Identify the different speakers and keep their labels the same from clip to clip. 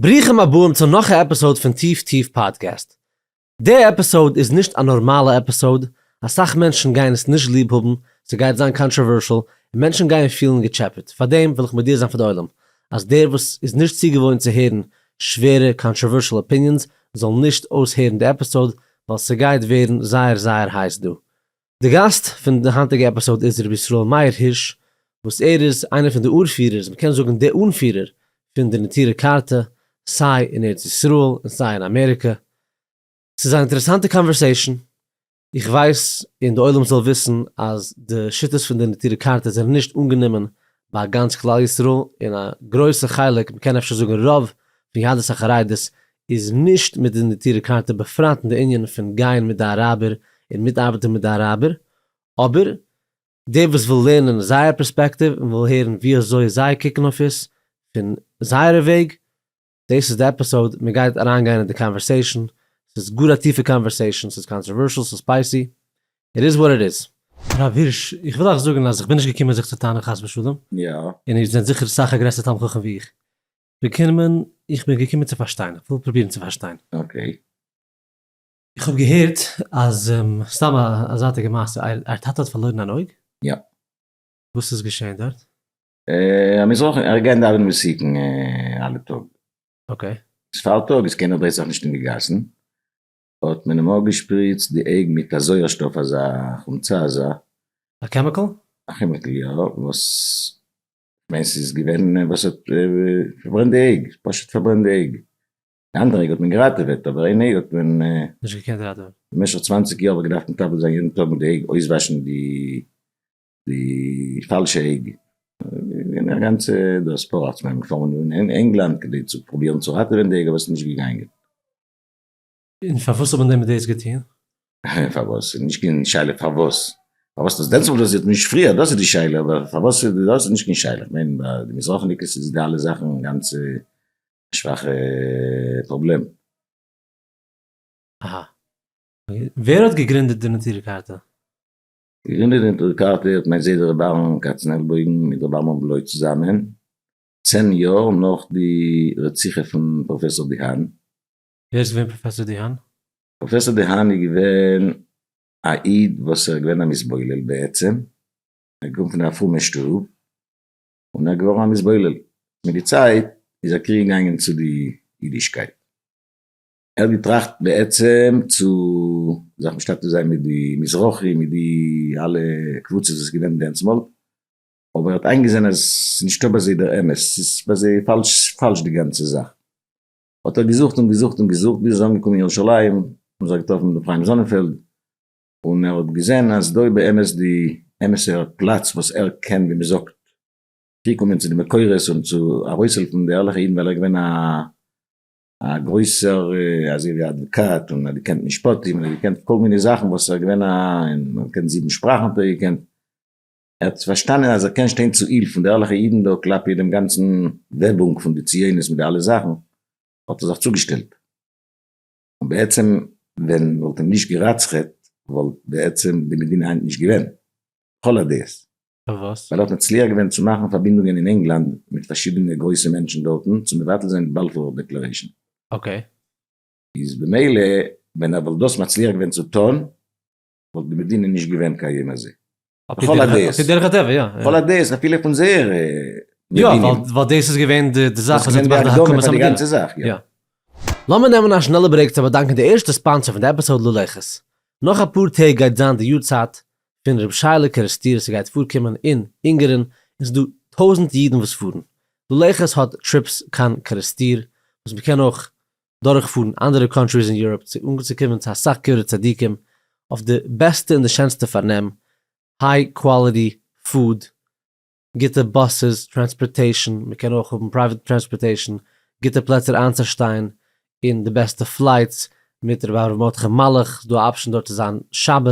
Speaker 1: ברוכים הבאים צו נאך א עפיסאוד פון טיף טיף פאדקעסט. די עפיסאוד איז נישט א נארמאלע עפיסאוד, אסאך מענטשן גייען עס נישט ליב האבן, ס'גייט זיין קאנטראווערשעל, און מענטשן גייען פילן געטשעפעט, פארדעם וויל איך מודיע זיין פאר די עולם, אז דער וואס איז נישט צוגעוואוינט צו הערן שווערע קאנטראווערשעל אפיניענס זאל נישט אויסהערן די עפיסאוד, ווייל ס'גייט ווערן זייער זייער הייס דא. די גאסט פון די היינטיגע עפיסאוד איז רבי ישראל מאיר הירש וואס ער איז איינער פון די אור פירערס מ'קען זאגן די אנפירער פון די נטורי קרתא סיי אין ארץ ישראל און סיי אין אמעריקע. ס'איז אן אינטערעסאנטע קאנווערסעישן. איך ווייס און די עולם זאל וויסן אז די שיטות פון די נטורי קרתא זענען נישט אנגענומען ביי גאנץ כלל ישראל און א גרויסע חלק מ'קען אפשר זאגן רוב פון יהדות החרדית איז נישט מיט די נטירה קרתא בפרט אין די ענין פון גייען מיט די אראבער און מיטארבעטען מיט די אראבער, אבער דער וואס וויל לערנען זייער פערספעקטיוו און וויל הערן ווי אזוי זיי קוקן אויף עס פון זייערע וועג, דאס איז די עפיסאוד, מען גייט אריינגיין אין די קאנווערסעישאן, ס'איז גאר א טיפע קאנווערסעישאן, ס'איז קאנטראווערשאל, ס'איז ספייסי, איט איז וואט איט איז. הרב הירש, איך וויל אייך זאגן אז איך בין נישט געקומען זיך צו טענה'ן חס ושלום, און איר זענט
Speaker 2: זיכער סאך א
Speaker 1: גרעסער תלמיד חכם ווי איך, געקומען, איך בין געקומען צו פארשטיין, איך וויל
Speaker 2: פרובירן צו פארשטיין.
Speaker 1: אקעי. איך האב געהערט אז, סתם א זייטיגע מעשה, אייער טאטע האט פארלוירן אן אויג? יא.
Speaker 2: וואס איז
Speaker 1: געשען דארט? א
Speaker 2: מזרחי, ער איז געגאנגען דאווענען מסוכן אלע טאג. אקעי.
Speaker 1: עס פארטאג איז
Speaker 2: קיינער בעסער נישט אין די גאסן, האט מען אים אפגעשפריצט די אויג מיט א זויערשטאף אזא חומצה אזא. א קעמיקל?
Speaker 1: א כעמיקל יא,
Speaker 2: וואס כ'מיין ס'איז געווען וואס האט פארברענט די עג, פשוט פארברענט די עג, די אנדערע עג האט מען געראטעוועט אבער איין עג האט מען נישט געקענט ראטעווען.
Speaker 1: במשך צוואנציג יאר האב איך
Speaker 2: געדארפט מטפל זיין יעדן טאג מיט די עג, אויסוואשן די די פאלשע עג, געווען א גאנצע דאס פארא, כ'מיין מיר פארן אין ענגלאנד כדי צו פרובירן צו ראטעווען די עג אבער ס'איז נישט געגאנגען.
Speaker 1: און פארוואס האט מען דען מיט דאס געטון? פארוואס?
Speaker 2: ס'איז נישט קיין שאלה פארוואס. פארוואס האט עס דענסמאל דאזירט און נישט פריער, דאס איז די שאלה, אבער פארוואס איז דאס איז נישט קיין שאלה. איך מיין ביי די מזרחניקעס איז די אלע זאכן גאנץ א שוואכע פראבלעם. אהא.
Speaker 1: ווער האט געגרינדעט די נטורי קרתא? געגרינדעט
Speaker 2: די נטורי קרתא האט מיין זיידע רבי אהרן קאצנעלבוים מיט רבי עמרם בלוי צוזאמען, צען יאר נאך די רציחה פון פראפעסאר דיהאן. ווער איז געווען
Speaker 1: פראפעסאר דיהאן? פראפעסאר דיהאן
Speaker 2: איז געווען א איד וואס ער איז געווען א מתבולל בעצם, ער איז געקומען פון א פרומע שטוב און ער איז געווארן א מתבולל, מיט די צייט איז ער קריגן געגאנגען צו די אידישקייט, ער האט געטראכט בעצם צו זיך משתתף זיין מיט די מזרחי מיט די אלע קבוצות וואס איז געווען דענסמאל, אבער ער האט איינגעזען אז ס'איז נישטא ביי זיי דער אמת, ס'איז ביי זיי פאלש די גאנצע זאך, האט ער געזוכט און געזוכט און געזוכט ביז ער איז אנגעקומען אין ירושלים און זיך געטראפן מיט ר' חיים זאנענפעלד און ער האט געזען אז דא איז באמת די אמת'ע פלאץ וואס ער קען ווי מען זאגט צוקומען צו די מקורות און צו ארויסהעלפן די ערליכע אידן ווייל ער איז געווען א גרויסער אזוי ווי א אדוואקאט און ער האט געקענט משפטים און ער האט געקענט כל מיני זאכן וואס ער איז געווען א און ער האט געקענט זיבן שפראכן האט ער געקענט. ער האט פארשטאנען אז ער קען שטיין צו היל פון די ערליכע אידן דא כלפי דעם גאנצן וועבונג פון די ציונות מיט די אלע זאכן, האט ער זיך צוגעשטעלט. און בעצם ווען מען וואלט אים נישט גע'רצח'עט וואלט בעצם די מדינה היינט נישט געווען. לכל הדעות. פארוואס? ווייל
Speaker 1: ער האט מצליח געווען צו
Speaker 2: מאכן פארבינדונגען אין ענגלאנד מיט פארשידענע גרויסע מענטשן דארטן צו מבטל זיין די באלפור דעקלערעישן. אקעי.
Speaker 1: איז
Speaker 2: במילא ווען ער וואלט דאס מצליח געווען צו טון וואלט די מדינה נישט געווען קיים אזוי. לכל הדעות. עפי דרך הטבע, יא. לכל
Speaker 1: הדעות, אפילו פון
Speaker 2: זייערע מבינים. יא, ווייל
Speaker 1: דאס איז געווען די זאך וואס האט געמאכט די הקמה פון די מדינה. דאס איז געווען די הקדמה פאר די גאנצע
Speaker 2: זאך,
Speaker 1: יא. לאמיר נעמען א שנעלע ברעיק צו באדאנקען די ערשטע ספאנסער פון די עפיסאוד ללכת. נאך אפאר טעג גייט זיין די יארצייט פון ר' שייעלע קערעסטיר עס גייט פארקומען אין אונגערין און ס'דא טויזענט אידן וואס פארן. ללכת האט טריפס קיין קערעסטיר וואס מ'קען אויך דורכפארן אנדערע קאנטריס אין יוראפ צו אנצוקומען צו אסאך קברי צדיקים אויף די בעסטע און די שענסטע פארנעם, היי קוואליטי פוד, גוטע באסעס, טרענספארטעישן, מען קען אויך האבן פרייוועט טרענספארטעישן, גוטע פלעצער איינצושטיין און די בעסטע פלייטס, מיט רבי אברהם מרדכי מלאך איז דא א אפשען דארט צו זיין שבת,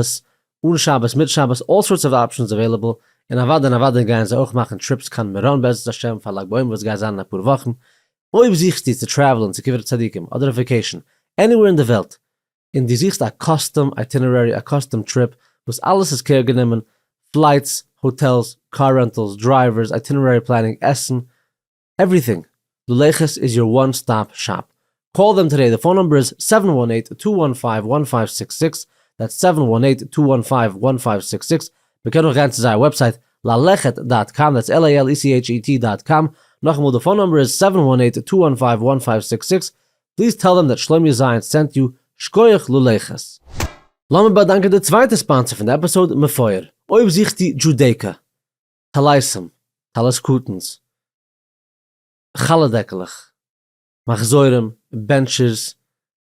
Speaker 1: אן שבת, מיט שבת, אלל סארטס אוו אפשענס עוועילעבל, און אוודאי און אוודאי גייען זיי אויך מאכן טריפס קיין מירון בעזרת השם פאר לג בעומר וואס גייט זיין אין אפאר וואכן, אויב זוכסטו צו טרעוולען צו קברי צדיקים אדער אויף וועקעישן עניווער אין די וועלט און דו זוכסט א קאסטום אייטינערערי א קאסטום טריפ וואס אלעס איז קעיר גענומען, פלייטס, האטעלס, קאר רענטעלס, דרייווערס, אייטינערערי פלענינג, עסן, עווריטינג, לולייכעס איז יור וואן סטאפ שאפ. קאל דעם טודעי, די פאון נומבער איז זיבן וואן עיט טו וואן פייוו וואן פייוו סיקס סיקס, דעטס זיבן וואן עיט טו וואן פייוו וואן פייוו סיקס סיקס, מען קען אויך גיין צו זייער וועבסייט ללכת דאט קאם דעטס על איי על אי סי עיטש אי טי דאט קאם, נאכאמאל די פאון נומבער איז סעווען וואן עיט טו וואן פייוו וואן פייוו סיקס סיקס, פליז טעל דעם דעט שלומי זיינס סענט יו, שקויעך ללכת. לאמיר באדאנקען די צווייטע ספאנסער פון די עפיסאוד מפואר, אויב זוכסטו דזשודעיקא, טלייסם, טלית קטן'ס, חלה דעקלעך, מחזורים, בענטשערס,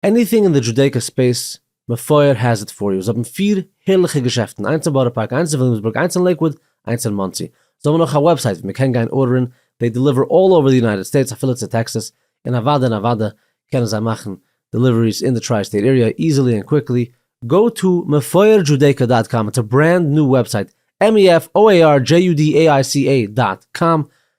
Speaker 1: עניטינג אין די דזשודעיקא ספעיס, מפואר העז איט פאר יו, זיי האבן פֿיר הערליכע געשעפטן, איינס אין בארא פארק, איינס אין וויליאמסבורג, איינס אין לעיקוואוד, איינס אין מאנסי, זיי האבן אויך א וועבסייט ווי מען קען גיין ארדערן, דעי דעליווער אלל אווער די יונייטעד סטעיטס אפילו צו טעקסעס, און אוואדע און אוואדע קענען זיי מאכן דעליוועריס אין די טריי סטעיט עריע איזילי ענד קוויקלי, גאו טו מפואר דזשודעיקא דאט קאם, איטס א ברענד ניו וועבסייט, MEFOARJUDAICA דאט קאם,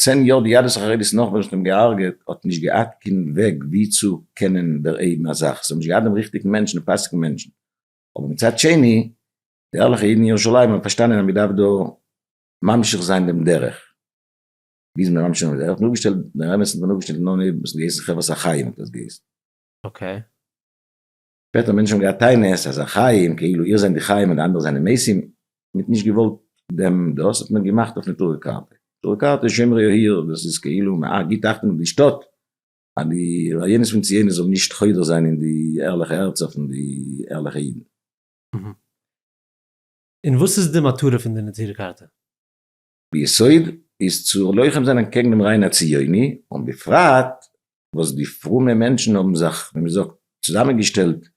Speaker 2: צען יאר די יהדות החרדית נאך ווען זיי האבן געהארגעט האט נישט געהאט קיין וועג ווי צו קענען דערהייבן א זאך זיי האבן נישט געהאט דעם ריכטיגן מענטשן און פאסיגן מענטשן אבער מצד שני די ערליכע אידן אין ירושלים האבן פארשטאנען אז מען דארף דא ממשיך זיין דעם דרך ווי איז מען ממשיך זיין דעם דרך מען האט אויפגעשטעלט דער אמת'ן מען האט אויפגעשטעלט נאר נעבן עס האט געהייסן חברת החיים האט עס געהייסן. אקעי. שפעטער האבן מענטשן געהאט טענות אז החיים, כאילו איר זענט די חיים און די אנדערע זענען מתים, מ'האט נישט געוואלט דעם דאס האט מען געמאכט אויף נטורי קרתא, נטורי קרתא איז שומרי העיר, דאס איז כאילו מען גיבט אכטונג אויף די שטאט אז די רעיונות פון ציונות זאל נישט חודר זיין אין די ערליכע הערצער פון די ערליכע אידן. און וואס איז
Speaker 1: די מטרה פון די נטורי קרתא?
Speaker 2: ביסוד איז צו לוחם זיין אנטקעגן דעם רעיון הציוני, און בפרט וואס די פרומע מענטשן האבן זיך, ווי מען זאגט, צוזאמענגעשטעלט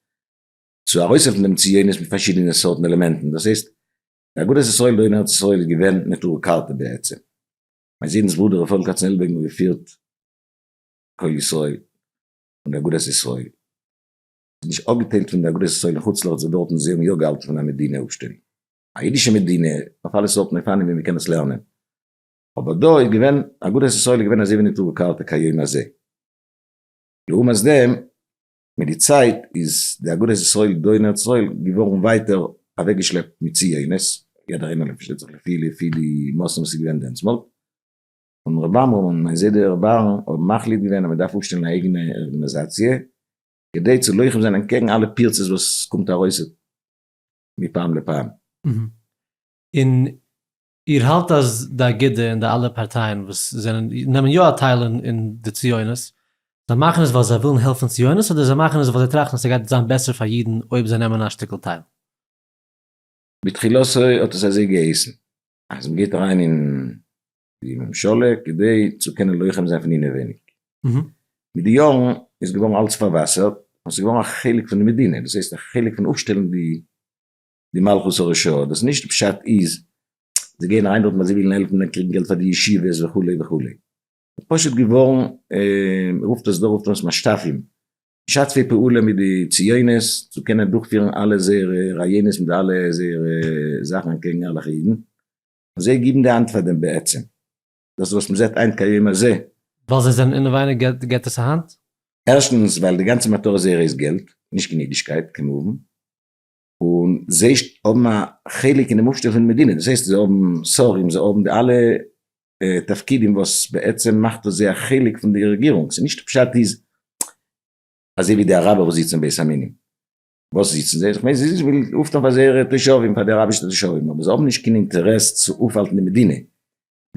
Speaker 2: צו ארויסהעלפן דעם ציונות מיט פארשידענע סארטן עלעמענטן, דאס הייסט, די אגודת ישראל דא אין ארץ ישראל איז געווען נטורי קרתא בעצם. מיין זונ'ס ברודער רפאל קאצנעלבערגן האט געפירט קול ישראל און די אגודת ישראל. ס'איז נישט אפגעטיילט פון די אגודת ישראל אין חוץ לארץ וואס דארטן זיי האבן יא געהאלטן פון א מדינה אפשטעל. א אידישע מדינה אויף אלע סארטן אופנים ווי מ'קען עס לערנען, אבער דא איז געווען, אגודת ישראל איז געווען אזוי ווי נטורי קרתא כהיום הזה. לעומת דעם, מיט די צייט איז די אגודת ישראל דא אין ארץ ישראל געווארן ווייטער אוועקגעשלעפט מיט ציונות, יעדער איינער פארשטייט זיך לפי לפי די מאסן וואס איז געווען דענסמאל, און ר' עמרם און מיין זיידע ר' אהרן האבן מחליט געווען אז מ'דארף אויפשטעלן א אייגענע ארגענעזאציע כדי צו לוחם זיין אנטקעגן אלע פירצות וואס קומט ארויס, מפעם לפעם.
Speaker 1: און איר האלט אז די אגודה און די אלע פארטייען וואס זענען נעמען יא א טייל אין די ציונות, זיי מאכן עס ווייל זיי ווילן העלפן ציונות אדער זיי מאכן עס ווייל זיי טראכטן אז ס'גייט זיין בעסער פאר אידן אויב זיי נעמען א שטיקל טייל? בתחילתו האט עס אזוי געהייסן אז מ'גייט אריין
Speaker 2: אין די ממשלה כדי צו קענען לוחם זיין פון אינעווייניג. מיט די יארן איז געווארן אלץ פארוואסערט און ס'איז געווארן א חלק פון די מדינה, דאס הייסט א חלק פון אפשטעלן די מלכות הרשעה, דאס נישט פשט איז זיי גייען אריין דארטן ווייל זיי ווילן העלפן און קריגן געלט פאר די ישיבות וכו' וכו', ס'איז פשוט געווארן, מ'רופט עס דא רופט מען עס משת"פים, משתפי פעולה מיט די ציונות צו קענען דורכפירן אלע זייערע רעיונות מיט אלע זייערע זאכן אנטקעגן ערליכע אידן, זיי גיבן די האנט פאר דעם בעצם, דאס וואס מען זעט היינט כיום הזה. ווייל זיי זענען
Speaker 1: אינעווייניג געט עס א האנט? ערשטנס ווייל
Speaker 2: די גאנצע מטרה זייערע איז געלט, נישט גענוג אידישקייט כמובן, און זיי האבן א חלק אינעם אויפשטעל פונעם מדינה, דאס הייסט זיי האבן שרים, זיי האבן די אלע תפקידים וואס בעצם מאכט אויס זיי א חלק פון די רעגירונג, ס'נישט פשט איז אזוי ווי די אראבער וואס זיצן אין בית המינים. וואס זיצן זיי? איך מיין זיי זיצן וויל אויפטון פאר זייערע תושבים פאר די אראבישע תושבים אבער זיי האבן נישט קיין אינטערעס צו אויפהאלטן די מדינה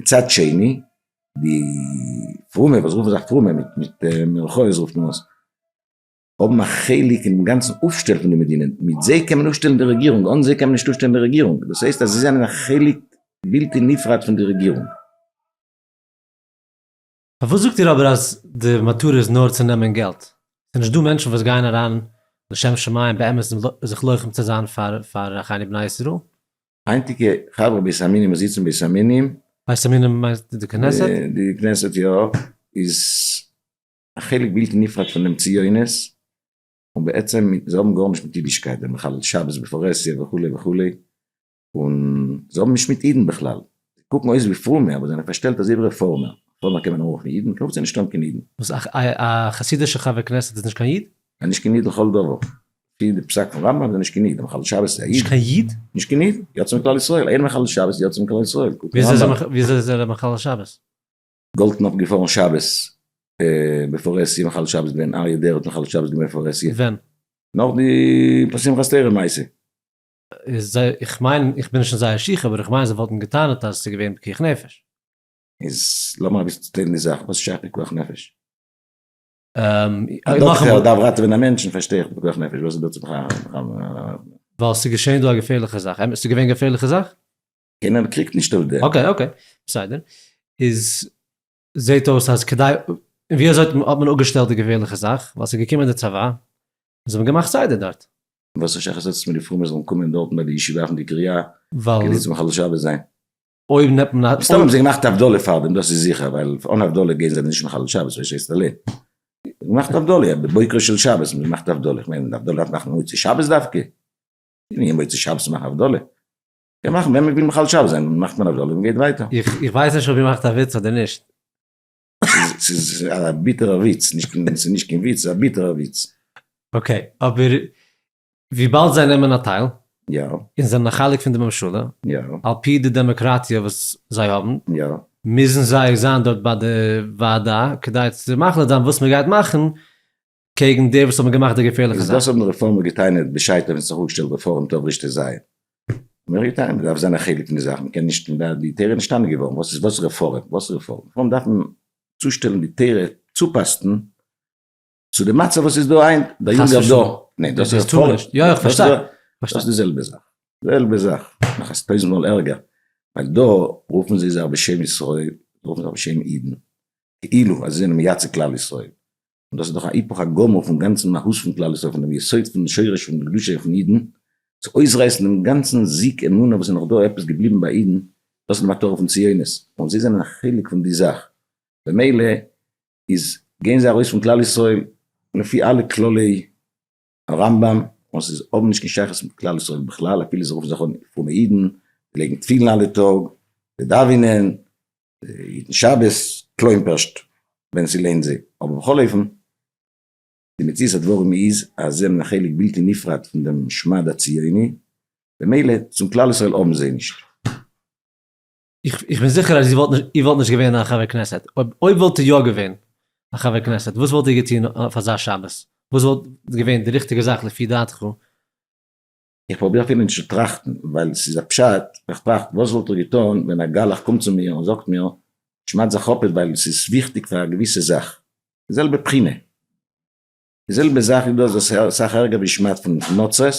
Speaker 2: מצד שני די פרומע וואס רופן זיך פרומע מיט מיט מירכאות רופט מען עס האבן א חלק אינעם גאנצן אויפשטעל פון די מדינה מיט זיי קען מען אויפשטעלן די רעגירונג אן זיי קען מען נישט אויפשטעלן די רעגירונג דאס הייסט אז זיי זענען א חלק בלתי נפרד פון די רעגירונג.
Speaker 1: פארוואס זאגט איר אבער אז די מטרה איז נאר צו נעמען געלט? ס'איז נישט דא מענטשן וואס גייען אריין לשם שמים באמת זיך לוחם צו זיין פאר פאר אחינו בני ישראל? היינטיגע
Speaker 2: חברה בית המינים וואס זיצן בית המינים. בית המינים מיינסט
Speaker 1: די כנסת? די כנסת יא,
Speaker 2: איז א חלק בלתי נפרד פון דעם ציונות, און בעצם זיי האבן גארנישט מיט אידישקייט, זיי מחלל שבת בפרהסיא וכו' וכו', און זיי האבן נישט מיט אידן בכלל. זיי קוקן אויס ווי פרומע, אבער זענען פארשטעלט אז איבער רעפארמער. רעפארמער קען מען אנרופן אידן? איך גלויב זיי נישט האבן קיין אידן. וואס, א
Speaker 1: חסידישע חבר כנסת איז נישט קיין איד? א נישט קיין איד לכל דבר.
Speaker 2: לפי די פסק פון רמבם איז ער נישט קיין איד. א מחלל שבת איז א איד? נישט קיין איד? נישט קיין
Speaker 1: איד. יצא
Speaker 2: מכלל ישראל. איין מחלל שבת יצא מכלל ישראל. קוק אין רמבם. וויאזוי איז
Speaker 1: ער א מחלל שבת? גאלדקנאפ איז
Speaker 2: געפארן שבת בעפאר ער סי מחלל שבת געווען. אריה דרער האט מחלל שבת געווען בעפאר ער סי. ווען? נאך
Speaker 1: די
Speaker 2: פאר שמחת תורה מעשה. איז זיי,
Speaker 1: איך מיין, איך בין נישט אין זייער שיך, אבער איך מיין זיי וואלטן געטענה'ט אז עס איז געווען פיקוח נפש. איז
Speaker 2: לאמער אביסל צוטיילן די זאך, וואס שייך פיקוח נפש? א דאקטער דארף ראטעווען א מענטש, פארשטיי איך פיקוח נפש, וואס איז דא צו פאר. ווייל עס איז געשען
Speaker 1: דא א געפערליכע זאך, אמת עס איז געווען געפערליכע זאך? קיינער קריגט
Speaker 2: נישט אויף דעם. אקעי אקעי בסדר,
Speaker 1: איז זעהט אויס אז כדי, און ווי אזוי האט מען אפגעשטעלט די געפערליכע זאך, ווייל ס'איז געקומען די צבא, און זיי האבן געמאכט סדר דארט. וואס א שייכות האט
Speaker 2: עס מיט די פרומע זאלן קומען דארטן ביי די ישיבה אויף די קריה כדי צו מחלל
Speaker 1: שבת זיין?
Speaker 2: אויב נעמט מען
Speaker 1: א. מסתמא האבן זיי געמאכט הבדלה
Speaker 2: פאר דעם דאס איז זיכער, ווייל אן הבדלה גייען זיי נישט מחלל שבת אזוי הייסט א ל. געמאכט הבדלה בבוקרו של שבת האבן זיי געמאכט הבדלה, איך מיין הבדלה דארף מאכן מוצאי שבת דווקא? ווי מוצאי שבת מאכן הבדלה? קען מאכן ווען מ'וויל מחלל שבת זיין מאכט מען א זאלי מ'גייט ווייטער. איך ווייס נישט אויב איר מאכט
Speaker 1: א וויץ אדער נישט. ס'איז א
Speaker 2: ביטערע וויץ, נישט קיין, ס'איז נישט קיין וויץ, ס'איז א ביטערע וויץ. אקעי,
Speaker 1: אבער וויבאלד זיי נעמען א טייל, יא. און זענען
Speaker 2: א חלק פון
Speaker 1: די ממשלה, יא. על פי די
Speaker 2: דעמאקראטיע
Speaker 1: וואס זיי האבן, יא. מוזן
Speaker 2: זיי
Speaker 1: זיין דארט ביי די ועדה כדי צו מחליט זיין וואס מ'גייט מאכן, קעגן די וואס האבן געמאכט די געפערליכע זאך. דאס האבן רעפארמער געטענה'ט
Speaker 2: בשעתו ווען ס'האט זיך אפגעשטעלט די פארענט אוו רישטער זייער. מ'האט געטענה'ט מ'דארף זיין א חלק פון די זאך, מ'קען נישט און די טעראר איז נישטאנען געווארן, וואס איז וואס רעפארם? וואס רעפארם? רעפארם דארף מען צושטעלן די טעראר צופאסטן צו די מצב וואס איז דא היינט, דער יונגער דור, ניין דאס איז רעפארם, יא איך פארשטיי,
Speaker 1: דאס איז די זעלבע
Speaker 2: זאך, די זעלבע זאך, נאך א טויזנט מאל ערגער, ווייל דא רופן זיי זיך בשם ישראל, רופן זיך בשם אידן, כאילו אז זיי זענען מייצג כלל ישראל, און דאס איז דאך א היפוך הגמור פון גאנצן מהות פון כלל ישראל, פון דעם יסוד פון שורש פון קדושה פון אידן, צו אויסרייסן דעם גאנצן זיק אמונה וואס איז נאך דא עפעס געבליבן ביי אידן, דאס איז די מטרה פון ציונות, און זיי זענען א חלק פון די זאך, במילא איז גייען זיי ארויס פון כלל ישראל לפי אלע כללי א רמבם און ס'איז האבן נישט קיין שייכות מיט כלל ישראל בכלל אפילו זיי רופן זיך אן פרומע אידן, זיי לייגן תפילין אלע טאג, זיי דאווענען, זיי היטן שבת, כלומר'שט ווען ס'לוינט זיי, אבער בכל אופן די מציאות הדברים איז אז זיי האבן א חלק בלתי נפרד פון דעם שמד הציוני, במילא צום כלל ישראל האבן זיי נישט.
Speaker 1: איך בין זיכער אז איר וואלט נישט געווען א חבר כנסת, אויב וואלט איר יא געווען א חבר כנסת, וואס וואלט איר געטון אויף אזא שבת? וואס וואלט געווען די ריכטיגע זאך לפי דעתך? איך
Speaker 2: פרוביר אפילו נישט צו טראכטן, ווייל ס'איז א פשט, איך טראכט וואס וואלט איך געטון ווען א גלח קומט צו מיר און זאגט מיר, שמד זיך אפ עס ווייל ס'איז וויכטיג פאר א געוויסע זאך. זעלבע בחינה. די זעלבע זאך איז דאס וואס איז אסאך ערגער ווי שמד פון נוצות,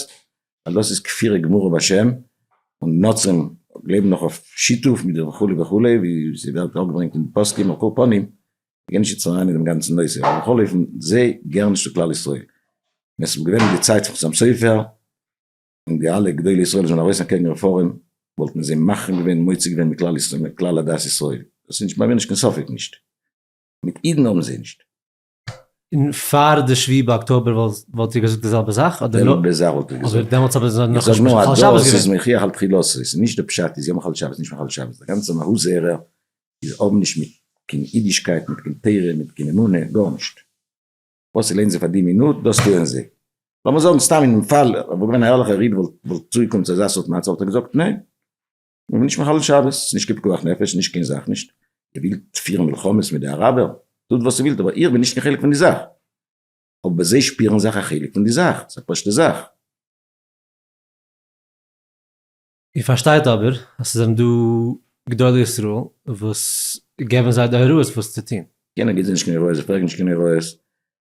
Speaker 2: ווייל דאס איז כפירה גמורה בשם, און נוצרים גלייבן נאך אויף שיתוף מיט די וכו' וכו' ווי ס'ווערט אראפגעברענגט אין די פוסקים על כל פנים, מ'גייט נישט יעצט אריין אין דעם גאנצן נושא, אבער בכל אופן זיי געהערן נישט צו כלל ישראל, ווען ס'וואלט געווען אין די צייט פון חתם סופר און די אלע גדולי ישראל וואס זענען ארויס אקעגן רעפארם וואלט מען זיי מחרים געווען מוציא געווען מכלל עדת ישראל, דאס איז נישט ביי מיר נישט קיין ספק נישט, מיט אידן האבן זיי נישט. און
Speaker 1: פאר די שביעי באקטאבער וואלט איר געזאגט די זעלבע זאך? די זעלבע זאך וואלט איך געזאגט.
Speaker 2: אבער דעמאלטס האט מען נאך נישט מחלל
Speaker 1: שבת געווען. איז
Speaker 2: מחי' על תחילתו, ס'איז נישט די פשט איז יא מחלל שבת נישט מחלל שבת, די גאנצע מהות זערער איז האבן נישט מיט קיין אידישקייט מיט קיין תורה מיט קיין אמונה גארנישט. וואס ס'לוינט זיי פאר די מינוט דאס טוען זיי. לאמיר זאגן סתם אינעם פאל וואלט געווען א ערליכער איד וואלט צוגעקומען צו אזא סארט מצב וואלט ער געזאגט ניין. מען וויל נישט מחלל שבת, ס'איז נישט קיין פיקוח נפש, ס'איז נישט קיין זאך נישט, איר ווילט פירן מלחמות מיט די אראבער, טוט וואס איר ווילט, אבער איך בין נישט קיין חלק פון די זאך, אבער זיי שפירן זיך א חלק פון די זאך, ס'איז א פשוט'ע זאך. איר
Speaker 1: פארשטייט אבער אז ס'זענען דא גדולי ישראל וואס געבן זיי די הוראות וואס צו טון. קיינער גיט זיי נישט קיין הוראות,
Speaker 2: זיי פרעגן נישט קיין הוראות,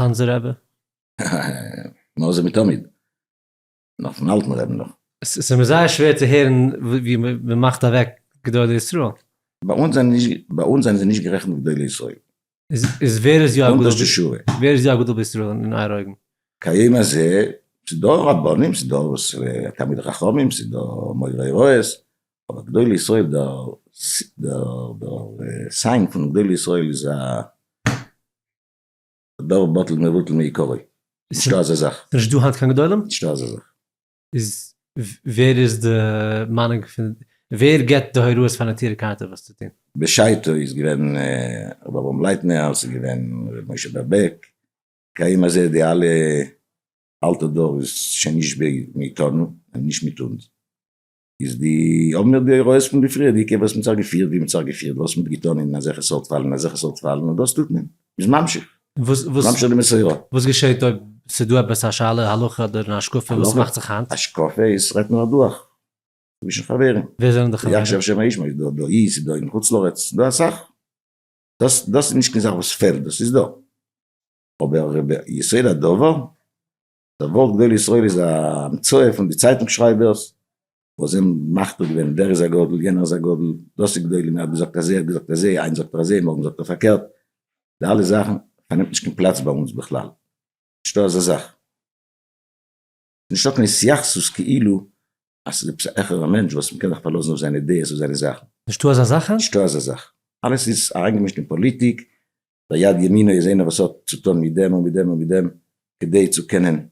Speaker 2: צאנזער רבי? מאז זה מתמיד. נאך פון אלטן רעבן נאך. עס איז
Speaker 1: מיר זייער שווער צו הערן ווי מען מאכט אוועק גדולי ישראל. ביי אונז זענען
Speaker 2: נישט ביי אונז זענען זיי נישט גערעכנט גדולי ישראל. איז
Speaker 1: ווער איז
Speaker 2: יא א גדול בישראל
Speaker 1: אין אייער אויגן? כהיום הזה
Speaker 2: ס'איז דא רבנים ס'איז דא וואס תלמידי חכמים ס'איז דא מורי הוראות אבער גדולי ישראל דער סיין פון גדולי ישראל איז א דבר בטל מבוטל מעיקרו. נישט דא אזא זאך. ס'נישט דא היינט קיין גדולים?
Speaker 1: נישט דא אזא זאך.
Speaker 2: איז
Speaker 1: ווער איז די מיינונג פון ווער געבט די הוראות פאר נטורי קרתא וואס צו טון? בשעתו איז געווען
Speaker 2: רבי אברהם לייטנער, ס'איז געווען רבי משה בער בעק, כהיום הזה די אלע אלטע דור איז שוין נישט מאיתנו, נישט מיט אונז. איז די האבן מיר די הוראות פון די פריערדיגע וואס מען האט זיך געפירט ווי מען האט זיך געפירט וואס מען האט געטון אין אזעלכע סארט פאלן אין אזעלכע סארט פאלן און דאס טוט מען איז ממשיך ממשיך די מסורה. וואס געשעט אויב
Speaker 1: ס'דא עפעס א שאלה הלכה אדער אן השקפה וואס מאכט זיך היינט? השקפה איז רעדט מען
Speaker 2: אדורך צווישן חברים. ווער זענען די חברים? יקשר
Speaker 1: שם האיש, מ'איז דא דא
Speaker 2: אי, ס'איז דא אין חוץ לארץ, ס'איז דא אסאך. דאס דאס איז נישט קיין זאך וואס פעלט, דאס איז דא. אבער ביסוד הדבר דער ווארט גדול ישראל איז א המצאה פון די צייטונג שרייבערס וואס זענען מחקה געווען ווער איז א גדול, יענער איז א גדול, דאס איז גדולים, ער האט געזאגט אזוי, ער האט געזאגט אזוי, היינט זאגט ער אזוי, מארגן זאגט ער פארקערט, די אלע זאכן פארנעמט נישט קיין פלאץ ביי אונז בכלל, נישטא אזא זאך, נישטא קיין התייחסות כאילו אז ס'איז עפעס א העכערע מענטש וואס מ'קען זיך פארלאזן אויף זיינע דעות און זיינע זאכן. נישטא אזא זאך? נישטא
Speaker 1: אזא זאך,
Speaker 2: אלעס איז אריינגעמישט אין פאליטיק, ויד ימינו איז איינער וואס האט צו טון מיט דעם און מיט דעם און מיט דעם כדי צו קענען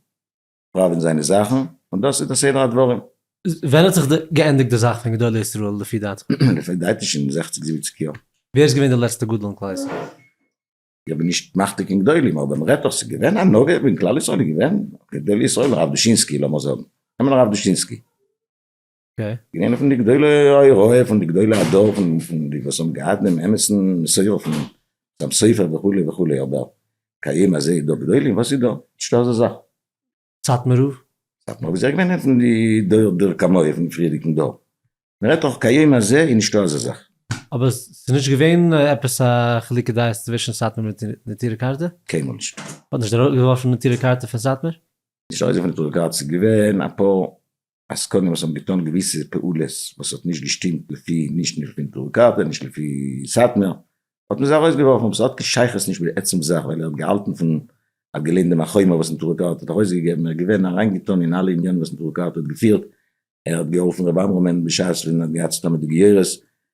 Speaker 2: פראווען זיינע זאכן, און דאס איז די סדר הדברים. ווען האט זיך
Speaker 1: געענדיגט די זאך פון גדולי ישראל לפי דעתך? לפי דעתי שוין
Speaker 2: זעכציג זיבעציג יאר. ווער איז געווען די לעצטע
Speaker 1: גדול אין כלל ישראל? איך
Speaker 2: בין נישט מתמחת אין גדולים אבער מ'רעדט דאך ס'איז געווען א נוגע אין כלל ישראל איז געווען גדולי ישראל הרב דושינסקי לאמיר זאגן נעמען הרב דושינסקי.
Speaker 1: געווען פון די
Speaker 2: גדולי הוראה, פון די גדולי הדור, פון די וואס האבן געהאט דעם אמת'ן מסורה פון דעם ספר וכו' וכו', אבער כהיום הזה דא גדולים? וואס איז דא? נישטא אזא זאך. סאטמאר
Speaker 1: רב? סאטמאר רב איז
Speaker 2: אויך געווען פון די דור דור כמוהו, פון פריערדיגן דור. מ'רעדט דאך כהיום הזה איז נישטא אזא זאך. אבער ס'איז
Speaker 1: נישט געווען עפעס א חילוקי דעות צווישן סאטמאר מיט נטורי קרתא? קיינמאל נישט.
Speaker 2: מ'האט נישט ארויסגעווארפן
Speaker 1: נטורי קרתא פון סאטמאר? נישט ארויסגעווארפן נטורי
Speaker 2: קרתא, ס'איז געווען אפאר עסקנים וואס האבן געטאן געוויסע פעולות וואס האט נישט געשטימט לפי נישט לפי טורי קרתא נישט לפי סאטמער האט מען זיי ארויסגעווארפן אבער ס'האט קיין שייכות נישט מיט די עצם זאך ווייל ער האט געהאלטן פון ער האט געליינט דעם החומר וואס נטורי קרתא האט ארויסגעגעבן ער איז געווען אריינגעטאן אין אלע עניינים וואס נטורי קרתא האט געפירט ער האט געהאלפן ר' עמרם בשעת ווען ער האט געהאט סדום מיט די גיורות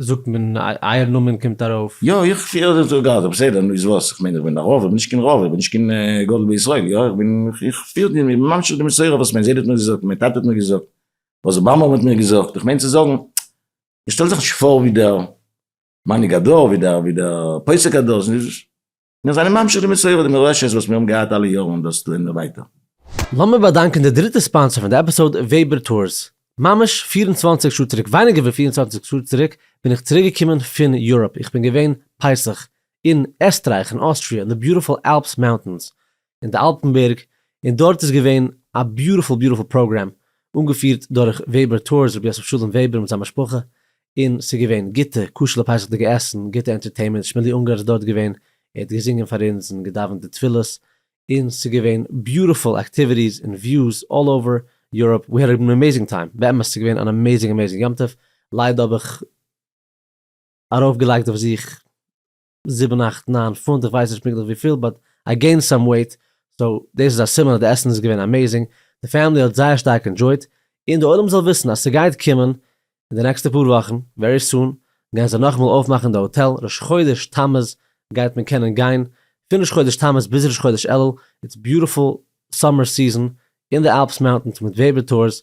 Speaker 1: זאגט מען אייער נאמען קומט ארויף. יא איך פיהר זיך דורך
Speaker 2: גאזא בסדר נו איז וואס איך מיין איך בין א רב איך בין נישט קיין רב איך בין נישט קיין גדול בישראל יא איך בין איך פיהר די איך בין ממשיך די מסורה וואס מיין זיידע האט מיר געזאגט מיין טאטע האט מיר געזאגט וואס אבאמא האט מיר געזאגט איך מיין צו זאגן איך שטעל זיך נישט פאר ווי דער מנהיג הדור ווי דער ווי דער פוסק הדור. מיר זענען ממשיך די מסורה די מורשת וואס מיר האבן געהאט אלע יארן און דאס טוען מיר ווייטער. לאמיר באדאנקען
Speaker 1: די דריטע ספאנסער פון די עפיסאוד וועבער טורס. ממש פֿיר און צוואַנציק שעה צוריק, ווייניגער ווי פֿיר און צוואַנציק שעה צוריק, בין איך צוריק געקומען פון יוראפ, איך בין געווען פסח אין עסטרייך און אוסטריא אין די ביוטיפול אלפס מאונטענס, אין די אלטענבערג, און דארט איז געווען א ביוטיפול ביוטיפול פראגרעם אנגעפירט דורך וועבער טורס רבי יוסף שלום וועבער מיט זיין משפחה, און ס'איז געווען גוטע כשר'ע פסח'דיגע עסן, גוטע ענטערטעינמענט, שמעלי אונגאר איז דארט געווען, ער האט געזינגען פאר אונז און געדאווענט די תפילות, און ס'איז געווען ביוטיפול עקטיוויטיס און וויוס אלל אווער יוראפ, ווי האד ען עמעיזינג טיים, באמת ס'איז געווען אן עמעיזינג עמעיזינג יום טוב, ליידער האב איך ארויפגעלייגט אויף זיך זיבן אכט ניין פונט איך ווייס נישט פונקטליך וויפיל באט איי געינד סאם וועיט סאו דאס איז א סימן אז די עסן איז געווען אמעזינג די פעמילי האט זייער שטארק ענדשויט און די עולם זאל וויסן אז סגייט קומען אין די נעקסטע פאר וואכן ווערי סון גייען זיי נאכאמאל אויפמאכן די האטעל ראש חודש תמוז גייט מען קענען גיין פון ראש חודש תמוז ביז ראש חודש אלול איטס ביוטיפול סאמער סיזען אין די אלפס מאונטענס מיט וועיווער טורס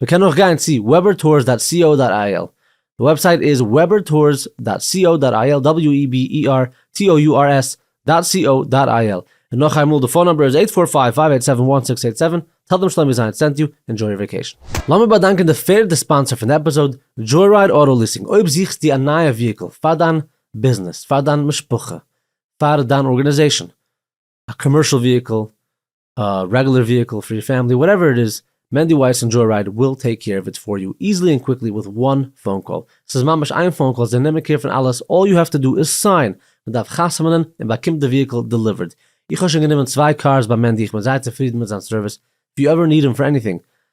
Speaker 1: מען קען אויך גיין צו weber tours דאט סי או דאט איי על, די וועבסייט איז weber tours דאט סי או דאט איי על, דאבעליו אי בי אי אר טי או יו אר עס דאט סי או דאט איי על, און נאך איינמאל די פאון נומבער איז אייט פאר פייוו פייוו אייט סעווען וואן סיקס אייט סעווען, טעל דעם שלומי זיין סענט יו, ענדזשוי יור וועקעישן. לאמיר באדאנקען די פערדע ספאנסער פון די עפיזאד, דזשויראיד אוטא ליסינג, אויב זוכסטו א נייע וויהיקל פאר דיין ביזנעס, פאר דיין משפחה, פאר דיין ארגענעזעישאן, א קאמערשאל וויהיקל, א רעגולער וויהיקל פאר יור פעמילי וואטעווער איט איז, מענדי ווייס און דזשוי רייד וויל טעיק קעיר אוו איט פאר יו איזלי און קוויקלי וויט וואן פאון קאל, סאיז ממש איין פאון קאל זיי נעמען קעיר פון אלעס אלל יו העוו טו דא איז סיין, מען דארף חתמנ'ן און באקומט די וויהיקל דעליווערד, איך האב שוין גענומען צוויי קארס ביי מענדי איך בין זייער צופרידן מיט זיין סערוויס, איף יו עווער ניד אים פאר עניטינג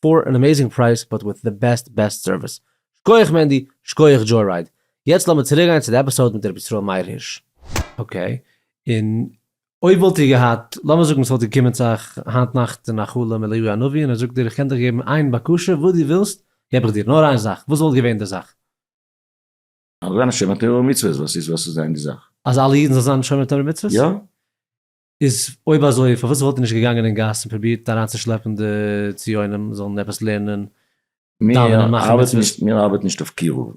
Speaker 1: פאר אן אמעזינג פרייז באט וויט די בעסט בעסט סערוויס. שקויעך מענדי, שקויעך דזשוי-רייד. יעצט לאמיר צוריקגיין צו די עפיסאוד מיט רבי ישראל מאיר הירש. אקעי, און אויב וואלט איר געהאט, לאמיר זאגן ס'וואלט געקומען צו אייך היינט נאכט אין א חלום אליהו הנביא און ער זאגט דיר איך קען דיך געבן איין בקשה וואס דו ווילסט געב איך דיר, נאר איין זאך, וואס וואלט געווען די זאך?
Speaker 2: אז זיין א שומר תורה ומצוות. וואס איז וואס איז זיין די זאך? אז אלע אידן זאלן זיין
Speaker 1: שומר תורה ומצוות? יא.
Speaker 2: איז
Speaker 1: אויב אזוי פארוואס וואלט ער נישט געגאנגען אין גאס און פרובירט אריינצושלעפן די ציונים זאלן עפעס לערנען דאווענען מאכן
Speaker 2: מצוות? מיר ארבעטן נישט אויף קירוב,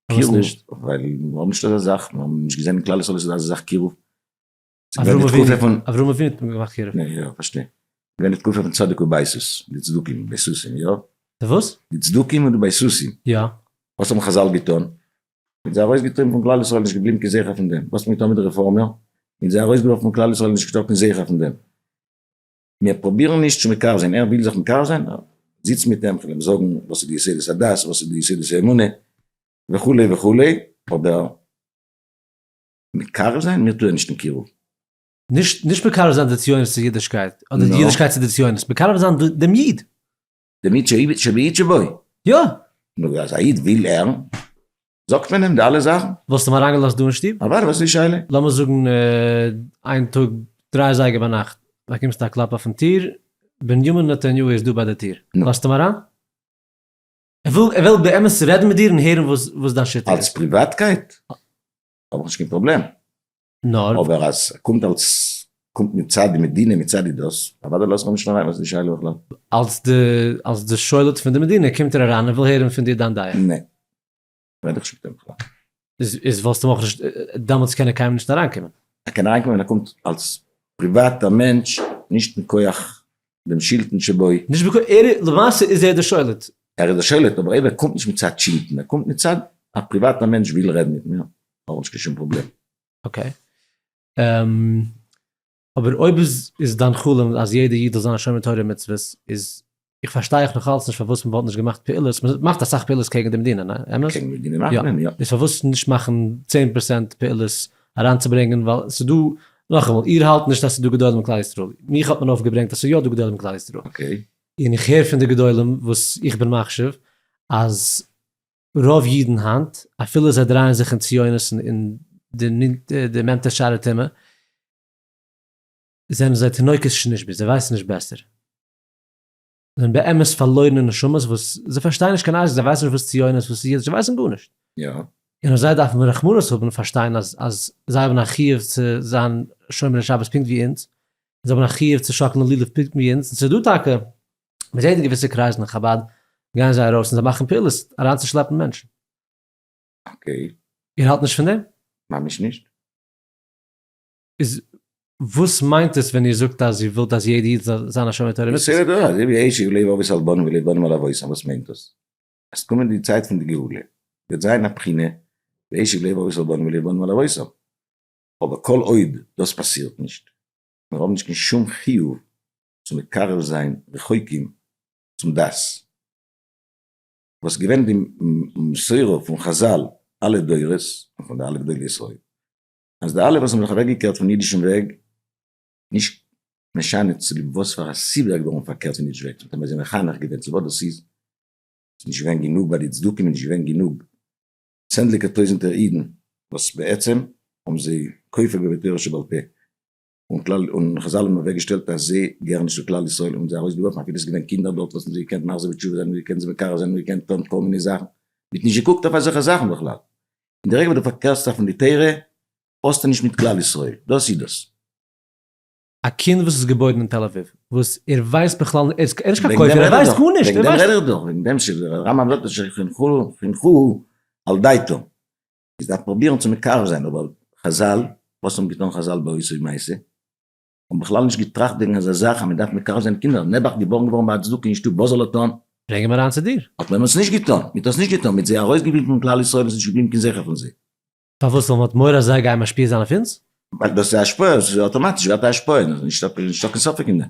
Speaker 2: פארוואס נישט? ווייל
Speaker 1: מיר האבן נישט אזא
Speaker 2: זאך, מיר האבן נישט געזען אין כלל ישראל אז ס'איז דא אזא זאך קירוב. אברהם
Speaker 1: אבינו האט געמאכט קירוב? ניין יא פארשטיי,
Speaker 2: געווען די תקופה פון צדק ובייסות, די צדוקים בייסוסים יא? די וואס? די
Speaker 1: צדוקים און די
Speaker 2: בייסוסים. יא. וואס האבן
Speaker 1: חזל
Speaker 2: געטון? מיט זיי ארויסגעטריבן פון כלל ישראל נישט געבליבן קיין זכר פון דעם, וואס האט מען געטון מיט די רעפארמער? מיט זיי ארויסגעווארפן פון כלל ישראל נישט געשטאט קיין זכר פון דעם. מיר פרובירן נישט צו מקרב זיין, ער וויל זיך מקרב זיין? זיץ מיט אים, כ'וועל אים זאגן וואס איז די יסודות הדת, וואס איז די יסודות האמונה, וכו' וכו', אבער מקרב זיין? מיר טוען נישט אין קירוב. נישט נישט
Speaker 1: מקרב זיין די ציונות צו אידישקייט, אדער די אידישקייט צו די ציונות, מקרב זיין דעם איד. דעם
Speaker 2: איד שבאיד שבוי? יא! נו
Speaker 1: אז א איד
Speaker 2: וויל ער זאגט מען אים די אלע זאכן. וואלסט אים אריינגעלאזט דא אין
Speaker 1: שטוב? אוודאי וואס איז די שאלה? לאמיר
Speaker 2: זאגן
Speaker 1: איין טאג דריי אזייגער ביינאכט באקומסטו א קלאפ אויפן טיר, בנימין נתניהו איז דא ביי די טיר, לאזטו אים אריין? ער וויל באמת רעדן מיט דיר און הערן וואס דיין שיטה איז. אלס פריוואטקייט
Speaker 2: האב איך נישט קיין פראבלעם. נאר.
Speaker 1: אבער אז ס'קומט
Speaker 2: אלס קומט מצד די מדינה מצד די דאס, אוודאי לאזט מען נישט אריין וואס איז די שאלה בכלל? אלס די
Speaker 1: אלס די שולט פון די מדינה קומט ער אריין און וויל הערן פון דיר דיין דעה? נע. ווער האט דיך געשיקט
Speaker 2: אהין בכלל? איז איז וואלסטו
Speaker 1: אויך נישט דעמאלטס קען ער קיינמאל נישט אריינקומען? ער קען אריינקומען ווען ער קומט
Speaker 2: אלס פריוואטע מענטש נישט מכח דעם שלטון שבוי. נישט מכח ער איז
Speaker 1: למעשה איז ער די שולט. ער איז די שולט אבער
Speaker 2: אויב ער קומט נישט מצד שלטון ער קומט מצד א פריוואטע מענטש וויל רעדן מיט מיר האב נישט קיין
Speaker 1: שום פראבלעם. אקעי. אבער אויב איז דיין חלום אז יעדער איד זאל זיין א שומר תורה ומצוות, איז איך פארשטיי איך נאך אלץ נישט פארוואס מען וואלט נישט געמאכט פעולות, מען מאכט אסאך פעולות קעגן די מדינה, ניין? אמת? קעגן די מדינה מאכט מען, יא.
Speaker 2: איז פארוואס נישט מאכן
Speaker 1: צען פראצענט פעולות אריינצוברענגען, ווייל ס'איז דא, נאכאמאל, איר האלט נישט אז ס'איז דא גדולים אין כלל ישראל, מיך האט מען אויפגעברענגט אז ס'איז יא דא גדולים אין כלל ישראל, און איך
Speaker 2: הער פון די
Speaker 1: גדולים וואס איך בין מחשיב אז רוב אידן היינט, אפילו זיי דרייען זיך אין ציונות און די נענטער שאר הטומאה, זענען זיי תינוקות שנשבו, זיי ווייסן נישט בעסער. זיי זענען באמת פארלוירענע נשמות וואס זיי פארשטייען נישט קיין אשכול, זיי ווייסן נישט וואס ציונות, וואס אידיש, זיי ווייסן גארנישט. און אויף זיי
Speaker 2: דארף מען
Speaker 1: רחמנות האבן און פארשטיין אז אז זיי האבן א חיוב צו זיין שומרי שבת פונקט ווי אונז, זיי האבן א חיוב צו שאקלן לולב פונקט ווי אונז, און ס'איז דא טאקע מען זעט אין געוויסע קרייזן אין חבד גייען זיי ארויס און זיי מאכן פעולות אריינצושלעפן מענטשן. אקעי.
Speaker 2: איר האלט נישט
Speaker 1: פון דעם? ממש נישט.
Speaker 2: איז
Speaker 1: וואס מיינט עס ווען איר זאגט אז איר ווילט אז יעדע איד זאל זיין א שומר תורה ומצוות? בסדר דא אזוי ווי
Speaker 2: עשיו לב אבות על בנים ולב בנים על אבותם וואס מיינט דאס? עס קומען די צייט פון די גאולה וועט זיין א בחינה ועשיו לב אבות על בנים ולב בנים על אבותם אבער כל עוד דאס פאסירט נישט מיר האבן נישט קיין שום חיוב צו מקרב זיין רחוקים צום דת, וואס געווען די מסורה פון חזל אלע דורות און פון די אלע גדולי ישראל, אז די אלע וואס האבן זיך אוועק געקערט פון אידישן וועג, נישט משנה צוליב וואס פאר א סיבה איז געווארן פארקערט פון אידיש וועג, זיי האבן זיי מחנך געווען צו וואס דאס איז, ס'איז נישט געווען גענוג ביי די צדוקים, נישט געווען גענוג צענדליגע טויזענטער אידן וואס בעצם האבן זיי כופר געווען תורה שבעל פה, און כלל און חזל האבן אוועק געשטעלט א זי געהערן נישט צו כלל ישראל און זיי ארויס געווארפן אפילו עס געווען קינדער דארט וואס האבן זיי געקענט מחזיר בתשובה זיין און געקענט זיי מקרב זיין און געקענט טון כל מיני זאכן מען האט נישט געקוקט אויף אזעלכע זאכן בכלל אין די רגע וואס די פארקערסט זיך פון די תורה האסטו נישט מיט כלל ישראל דאס איז דאס.
Speaker 1: א קינד וואס איז געבוירן אין תל אביב וואס ער ווייסט בכלל נישט ער איז נישט קיין כופר ער ווייסט גארנישט וועגן דעם רעד איך דאך וועגן דעם
Speaker 2: שרמב ם זאגט אז שחינכוהו על דעתו איז דארף פרובירן צו מקרב זיין אבער חזל, וואס האבן געטון חזל באותו מעשה? האבן בכלל נישט געטראכט וועגן אזא זאך אז מען דארף מקרב זיין קינדער, נעבעך געבארן געווארן ביי א צדוק אין שטוב, וואס זאל ער טון? ברענג אים אריין צו דיר.
Speaker 1: האט מען עס נישט געטון,
Speaker 2: מען האט עס נישט געטון, מען האט זיי ארויסגעוויזן פון כלל ישראל און עס איז נישט געבליבן קיין זכר פון זיי. פארוואס? ווייל מען האט
Speaker 1: מורא אז זיי גייען משפיע זיין אויף אונז? ווייל דאס איז א השפעה,
Speaker 2: עס איז אויטאמאטיש ווערט א השפעה, נישטא קיין ספק אין דעם.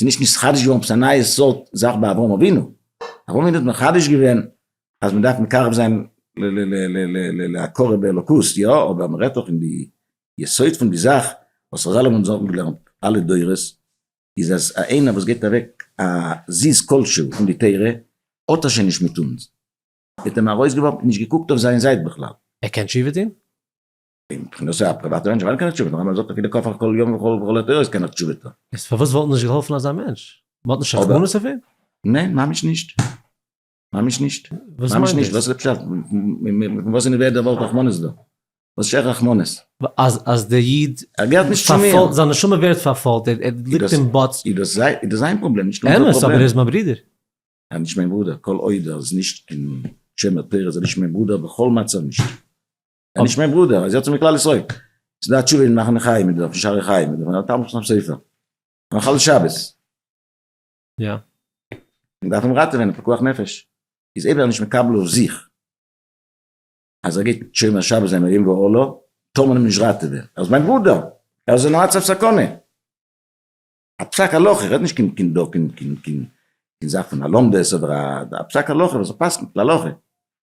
Speaker 2: ס'איז נישט נתחדש געווארן עפעס א נייע סארט זאך ביי אברהם אבינו. אברהם אבינו האט מחדש געווען אז מען דארף מקרב זיין להכרה באלוקות, יא, אבער מען רעדט דאך אין די יסוד פון די זאך וואס חזל האבן אונז אנגעלערנט אלע דורות, איז אז א איינער וואס געבט אוועק א זיז כלשהו פון די תורה, האט ער שוין נישט מיט אונז. מען האט אים ארויסגעווארפן, נישט געקוקט אויף זיין זייט בכלל. ער קען תשובה טון?
Speaker 1: אין
Speaker 2: כינוסי א פריוואטע מענטש ווייל קיין תשובה נאר אז מען זאגט אויף די קאפ על כל יום וכל וכל עת איז קיין תשובה טא. איז פארוואס וואלט נישט געהאלפן
Speaker 1: אזא מענטש? מען האט נישט רחמנות אויף אים? ניין ממש נישט.
Speaker 2: ממש נישט. וואס מיינט דאס?
Speaker 1: וואס איז די פשט?
Speaker 2: פון וואס אין די וועלט דערוואלט רחמנות דא? וואס שייך רחמנות? אז אז דער
Speaker 1: איד פארפאלט,
Speaker 2: זיין נשמה ווערט
Speaker 1: פארפאלט, ער ליגט אין באטס. איז דאס זיי, איז דאס זיין
Speaker 2: פראבלעם, נישט אונזער פראבלעם. אמת, אבער ער איז מיין ברודער.
Speaker 1: ער איז נישט מיין
Speaker 2: ברודער, כל עוד ער איז נישט אין שומר תורה איז ער נישט מיין ברודער בכל מצב נישט. ער נישט מיין ברודער, אז יצא מכלל ישראל. ס'איז דא א תשובה אין מחנה חיים, אין דער שערי חיים, אין דער תרמב ש'ס ספר. מחלל שבת.
Speaker 1: יא.
Speaker 2: מען דארף אים ראטעווען, פיקוח נפש. איז אויב ער איז נישט מקבל אויף זיך, אז ער גייט שומר שבת זיין עליו ועל לו, טאר מען אים נישט ראטעווען. ער איז מיין ברודער! ער איז אין א מצב סכנה! א פסק הלכה, איך רעד נישט קיין קיין דא קיין קיין קיין קיין זאך פון א לומדות אדער א פסק הלכה וואס ער פסק'נט להלכה.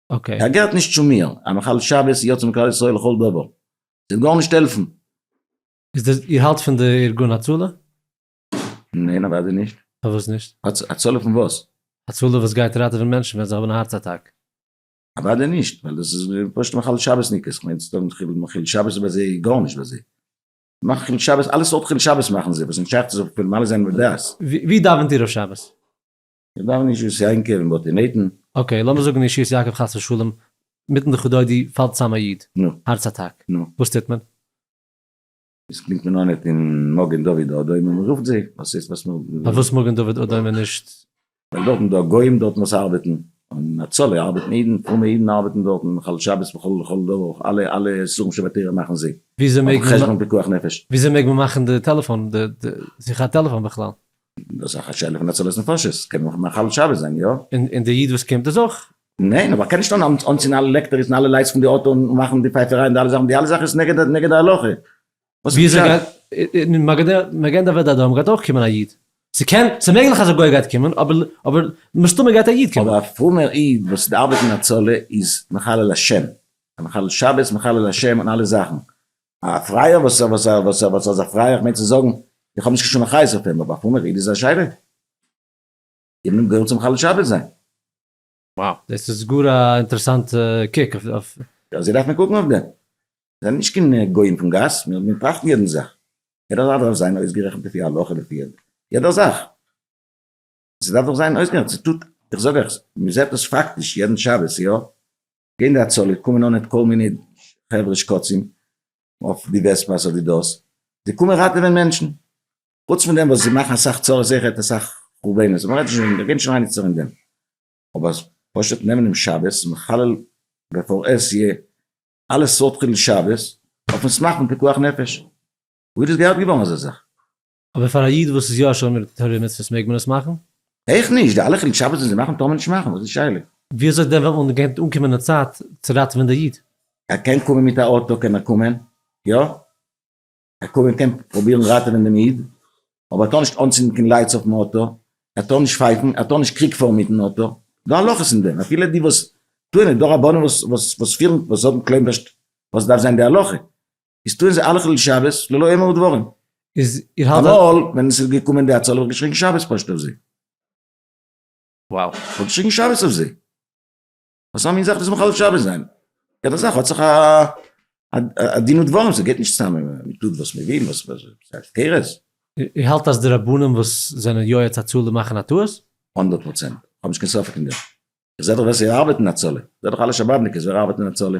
Speaker 2: אקעי. ער
Speaker 1: געהערט נישט צו מיר,
Speaker 2: א מחלל שבת יא צום כלל ישראל לכל דבר, ס'וועט גארנישט העלפן. איז דאס,
Speaker 1: איר האלט פון די ארגון הצלה?
Speaker 2: ניין אוודאי נישט. פארוואס נישט?
Speaker 1: הצלה פון וואס?
Speaker 2: הצלה וואס גייט
Speaker 1: ראטעווען מענטשן ווען זיי האבן א הארץ אטאק. אוודאי
Speaker 2: נישט, ווייל דאס איז פשוט מחלל שבת'ניקעס, כ'מיין צו זאגן חילול מחול שבת איז ביי זיי גארנישט ביי זיי, מאכן חילול שבת, אלע סארט חילול שבת מאכן זיי, וואס נישט שייך צו זיך מפעיל מעלה זיין מדעת. ווי דאווענט איר אויף
Speaker 1: שבת? איך דארף
Speaker 2: נישט ישועות יעקב און בתי נתן. אקעי, לאמיר זאגן ישועות
Speaker 1: יעקב חס ושלום, מיטן דכא דודי פאלט צאם א איד, נו. הארץ אטאק.
Speaker 2: נו.
Speaker 1: וואס טוט מען?
Speaker 2: עס קומט מען אן אט אין מגן דוד אדום און מען רופט זיי, וואס הייסט וואס מען רופט זיי? פארוואס מגן דוד אדום
Speaker 1: און נישט? ווייל דארטן דא
Speaker 2: גוים דארטן וואס ארבעטן, און הצלה ארבעטן אידן, פרומע אידן ארבעטן דארטן, מחלל שבת וכל לכל דבר, אויך אלע אלע איסורים שבתורה מאכן זיי, אויפן חשבון
Speaker 1: פיקוח נפש.
Speaker 2: וויאזוי מעג מען מאכן די
Speaker 1: טעלעפאן, די די זיכער טעלעפאן בכלל? דאס איז דאך א שאלה
Speaker 2: פון הצלת נפשות, קען מען מחלל שבת זיין, יא? און די איד וואס קומט
Speaker 1: איז אויך. ניין, אבער קען נישט אן
Speaker 2: אנצינדן אלע לעקטעריס און אלע לייטס פון די אויטא און מאכן די פייפעריי און די אלע זאכן, די אלע זאכן איז נגד נגד די הלכה. וואס איז די פשט? אין
Speaker 1: מגן דוד אדום גייט אויך קומען א איד, ס'קען, ס'איז מעגליך אז א גוי גייט קומען, אבער אבער מסתמא גייט א איד קומען. אבער א פרומער איד וואס
Speaker 2: ארבעט אין הצלה איז מחלל השם, מחלל שבת, מחלל השם און אלע זאכן, א פרייער וואס וואס וואס וואס זאל זיך פרייען כ'מיין צו זאגן איך האב נישט קיין שום אחריות אויף אים אבער א פרומער איד איז א זשעלע גיבן אים געהילף צו מחלל שבת זיין. Wow,
Speaker 1: דאס איז גאר א אינטערעסאנטע קוק אויף. אזוי דארף
Speaker 2: מען קוקן אויף דעם. מיר זענען נישט קיין גוים פון גאס, מיר באטראכטן יעדן זאך. יעדער זאך דארף זיין אויסגערעכנט לפי הלכה לפי יעדער זאך. ס'דארף דאך זיין אויסגעהאלטן, ס'טוט, איך זאג אייך, מ'זעט דאס פאקטיש יעדן שבת, יא, גייען די הצלה, קומען אן מיט כל מיני חברה שקצים אויף די וועספא'ס אדער דאס, זיי קומען ראטעווען מענטשן, חוץ פון דעם וואס זיי מאכן אסאך צרות איז זיכער אסאך חורבנות, אבער מ'רעדט נישט, מ'גייט נישט אריין יעצט אין דעם, אבער פשוט נעמען דעם שבת און מחלל בעפאר עס יהיה אלע סארט חילול שבת אויפן סמך פון פיקוח נפש, וואו איז דאס געהערט געווארן אזא זאך? אבער פאר א איד
Speaker 1: וואס איז יא שומר תורה ומצוות מעג מען עס מאכן? איך נישט, די אלע
Speaker 2: חילול שבת וואס זיי מאכן טאר מען נישט מאכן, וואס איז שאלה? ווי אזוי דען ווען אן
Speaker 1: גייט אנקומען א
Speaker 2: צייט
Speaker 1: צו ראטעווען
Speaker 2: די
Speaker 1: איד?
Speaker 2: ער קען
Speaker 1: קומען מיט
Speaker 2: א
Speaker 1: אוטא קען
Speaker 2: ער
Speaker 1: קומען
Speaker 2: יא ער קומען קען פראבירן ראטעווען דעם איד אבער ער טאר נישט אנצינדן קיין לייטס אויפן אוטא ער טאר נישט פייפן ער טאר נישט קריג פארן מיטן אוטא דא הלכות אין דעם אפילו די וואס טוען עס דא רבנים וואס וואס וואס פירן וואס האבן קלעם וואס דארף זיין די הלכה איז טוען זיי אלע חילול שבת ללא עמער ודברים. איז איר האלט אז.
Speaker 1: אמאל ווען עס איז געקומען
Speaker 2: די הצלה האב איך געשריגן שבת פשוט אויף זיי.
Speaker 1: וואו. איך האב געשריגן
Speaker 2: שבת אויף זיי. וואס א מין זאך דאס מחלל שבת זיין? יעדע זאך האט זיך א דין ודברים, ס'גייט נישט צוזאמען מען טוט וואס מען וויל, ס'איז הפקרות. איר האלט אז די
Speaker 1: רבנים וואס זענען יועץ הצלה מאכן א טעות? הונדערט פראצענט, איך
Speaker 2: האב נישט קיין ספק אין דעם. איך זע דאך ווער ס'ארבעט אין הצלה, איך זע דאך אלע שבאבניקעס ווער ארבעט אין הצלה.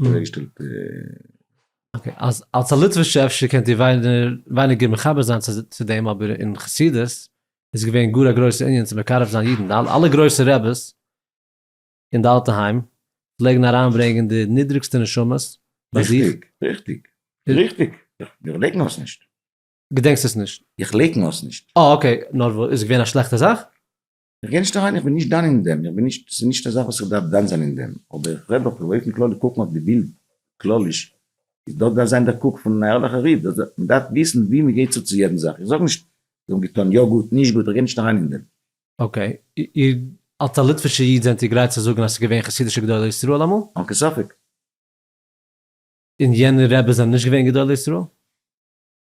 Speaker 1: אוועקגעשטעלט. אקעי, אז אלס א ליטווישע אפשר קענט איר ווייניגער מחבר זיין צו דעם, אבער אין חסידות איז געווען גאר א גרויסע ענין צו מקרב זיין אידן, אלע גרויסע רעבעס אין די אלטע היים פלעגן אריינברענגען די נידריגסטע נשמות ביי זיך. ריכטיג, ריכטיג,
Speaker 2: ריכטיג, איך לייקן עס נישט. געדענקסט עס
Speaker 1: נישט? איך לייקן עס נישט.
Speaker 2: אה אקעי, נאר וואס?
Speaker 1: איז געווען א שלעכטע זאך? איך גיי נישט אריין,
Speaker 2: איך בין נישט דן אין דעם, איך בין נישט, ס'איז נישט א זאך וואס איך דארף דן זיין אין דעם, אבער איך רעד דאך באופן כללי קוקן אויף די בילד כלליש, איז דאס דארף זיין דער קוק פון אן ערליכער איד, דאס דארף, מ'דארף וויסן ווי מ'גייט צו צו יעדן זאך, איך זאג נישט זיי האבן געטון יא גוט, נישט גוט, איך גיי נישט אריין אין דעם. אקעי,
Speaker 1: איר אלס א ליטווישער איד זענט איר גרייט צו זאגן אז ס'איז געווען חסידישע גדולי ישראל אמאל? אן קיין ספק. און יענע רעבעס זענען נישט געווען גדולי ישראל?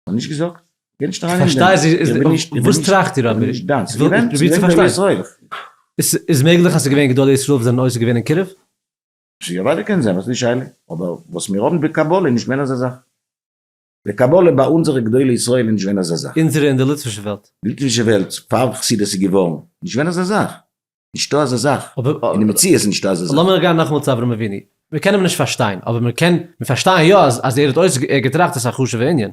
Speaker 1: האב
Speaker 2: נישט געזאגט. גיי נישט אריין אין דעם. וואס
Speaker 1: טראכט איר אבער? איך
Speaker 2: וויל
Speaker 1: פרובירן צו פארשטיין. איז מעגליך אז ס'איז געווען גדולי ישראל וואס זענען עוסק געווען אין קירוב? יא אוודאי
Speaker 2: קען זיין, וואס איז די שאלה? אבער וואס מיר האבן בקבלה איז נישט געווען אזא זאך. בקבלה ביי אונזערע גדולי ישראל איז נישט געווען אזא זאך. אונזערע אין די ליטווישע וועלט.
Speaker 1: ליטווישע וועלט,
Speaker 2: פאר חסידות איז געווארן, נישט געווען אזא זאך. נישטא אזא זאך, אין די מציאות איז נישטא
Speaker 1: אזא
Speaker 2: זאך. לאמיר גיין נאכאמאל צו אברהם אבינו,
Speaker 1: מיר קענען אים נישט פארשטיין, אבער מיר קען מיר פארשטייען יא אז אז ער האט אויס ער האט געטראכט עס איז א חשובע ענין.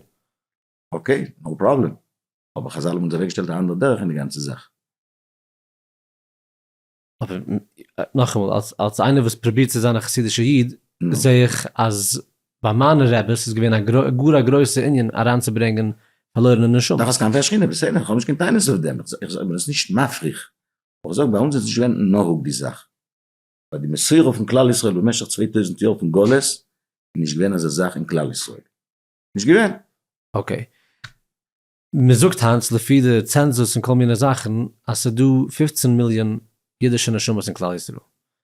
Speaker 1: אקעי,
Speaker 2: נאו פראבלעם, אבער חזל האבן אונז אוועק געשטעלט א אנדערע דרך אין די גאנצע זאך.
Speaker 1: אבער נאכאמאל, אלס אלס איינער וואס פרובירט צו זיין א חסידישע איד, זעה איך אז ביי מיינע רעבעס איז געווען א גאר א גרויסע ענין אריין צו ברענגען פארלוירענע נשמות. דאך אז כנפי השכינה, בסדר,
Speaker 2: איך האב נישט קיין טענות אויף דעם, איך זאג נאר עס איז נישט מפריך אבער זאג, ביי אונז איז נישט געווען נהוג די זאך? ביי די מסורה פון כלל ישראל במשך צוויי טויזנט יאר פון גלות איז נישט געווען אזא זאך אין כלל ישראל. נישט געווען. אקעי.
Speaker 1: מען זאגט היינט לפי די צענזוס און כל מיני זאכן אז ס'איז דא פֿופֿצן מיליאן אידישע נשמות אין כלל ישראל.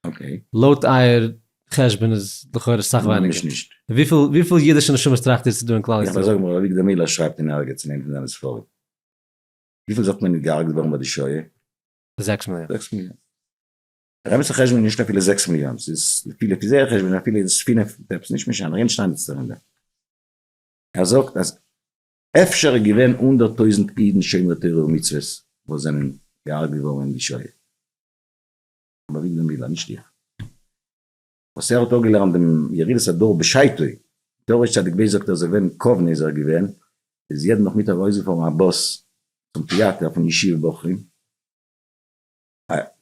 Speaker 1: אקעי. לויט
Speaker 2: אייער
Speaker 1: חשבון איז לכאורה סאך ווייניגער. ממש נישט. וויפיל
Speaker 2: אידישע
Speaker 1: נשמות טראכט איר ס'איז דא אין כלל ישראל? יא אבער זאג מיר, אבי ג דמילא
Speaker 2: שרייבט אין ערגעץ אין איינע פון זיינע ספרים. וויפיל זאגט מען איז געהארגט געווארן ביי די שואה? זעקס
Speaker 1: מיליאן.
Speaker 2: זעקס מיליאן. רעבעצע חשבון איז נישט אפילו זעקס מיליאן, ס'איז לפי לפי זייער חשבון איז אפילו איז פינף מיט עפעס, נישט משנה, רענט שטייניצער אין דעם. ער זאגט אז אפשר איז געווען הונדערט טויזנט אידן שומרי תורה ומצוות וואס זענען געהארגט געווארן אין די שואה. אבער אביגדור מילער, נישט איך. וואס ער האט אפגעלערנט דעם ירידת הדור בשעתו, דער ר' צדיק בעש ט זאגט ער איז ווען קאוונע איז ער געווען, איז יעדן נאכמיטאג ארויסגעפארן א באס צום טיאטער פון ישיבה בחורים,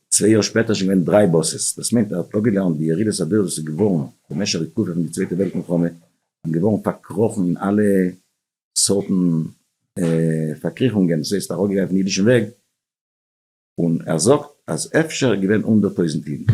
Speaker 2: צוויי יאר שפעטער איז שוין געווען דריי באסעס, דאס מיינט ער האט אפגעלערנט די ירידת הדור וואס איז געווארן במשך די תקופה פון די צווייטע וועלט מלחמה, און געווארן פארקראכן אין אלע סארטן פארקריכונגען, דאס הייסט אראפגעגאנגען פון אידישן וועג, און ער זאגט אז אפשר איז געווען הונדערט טויזנט אידן.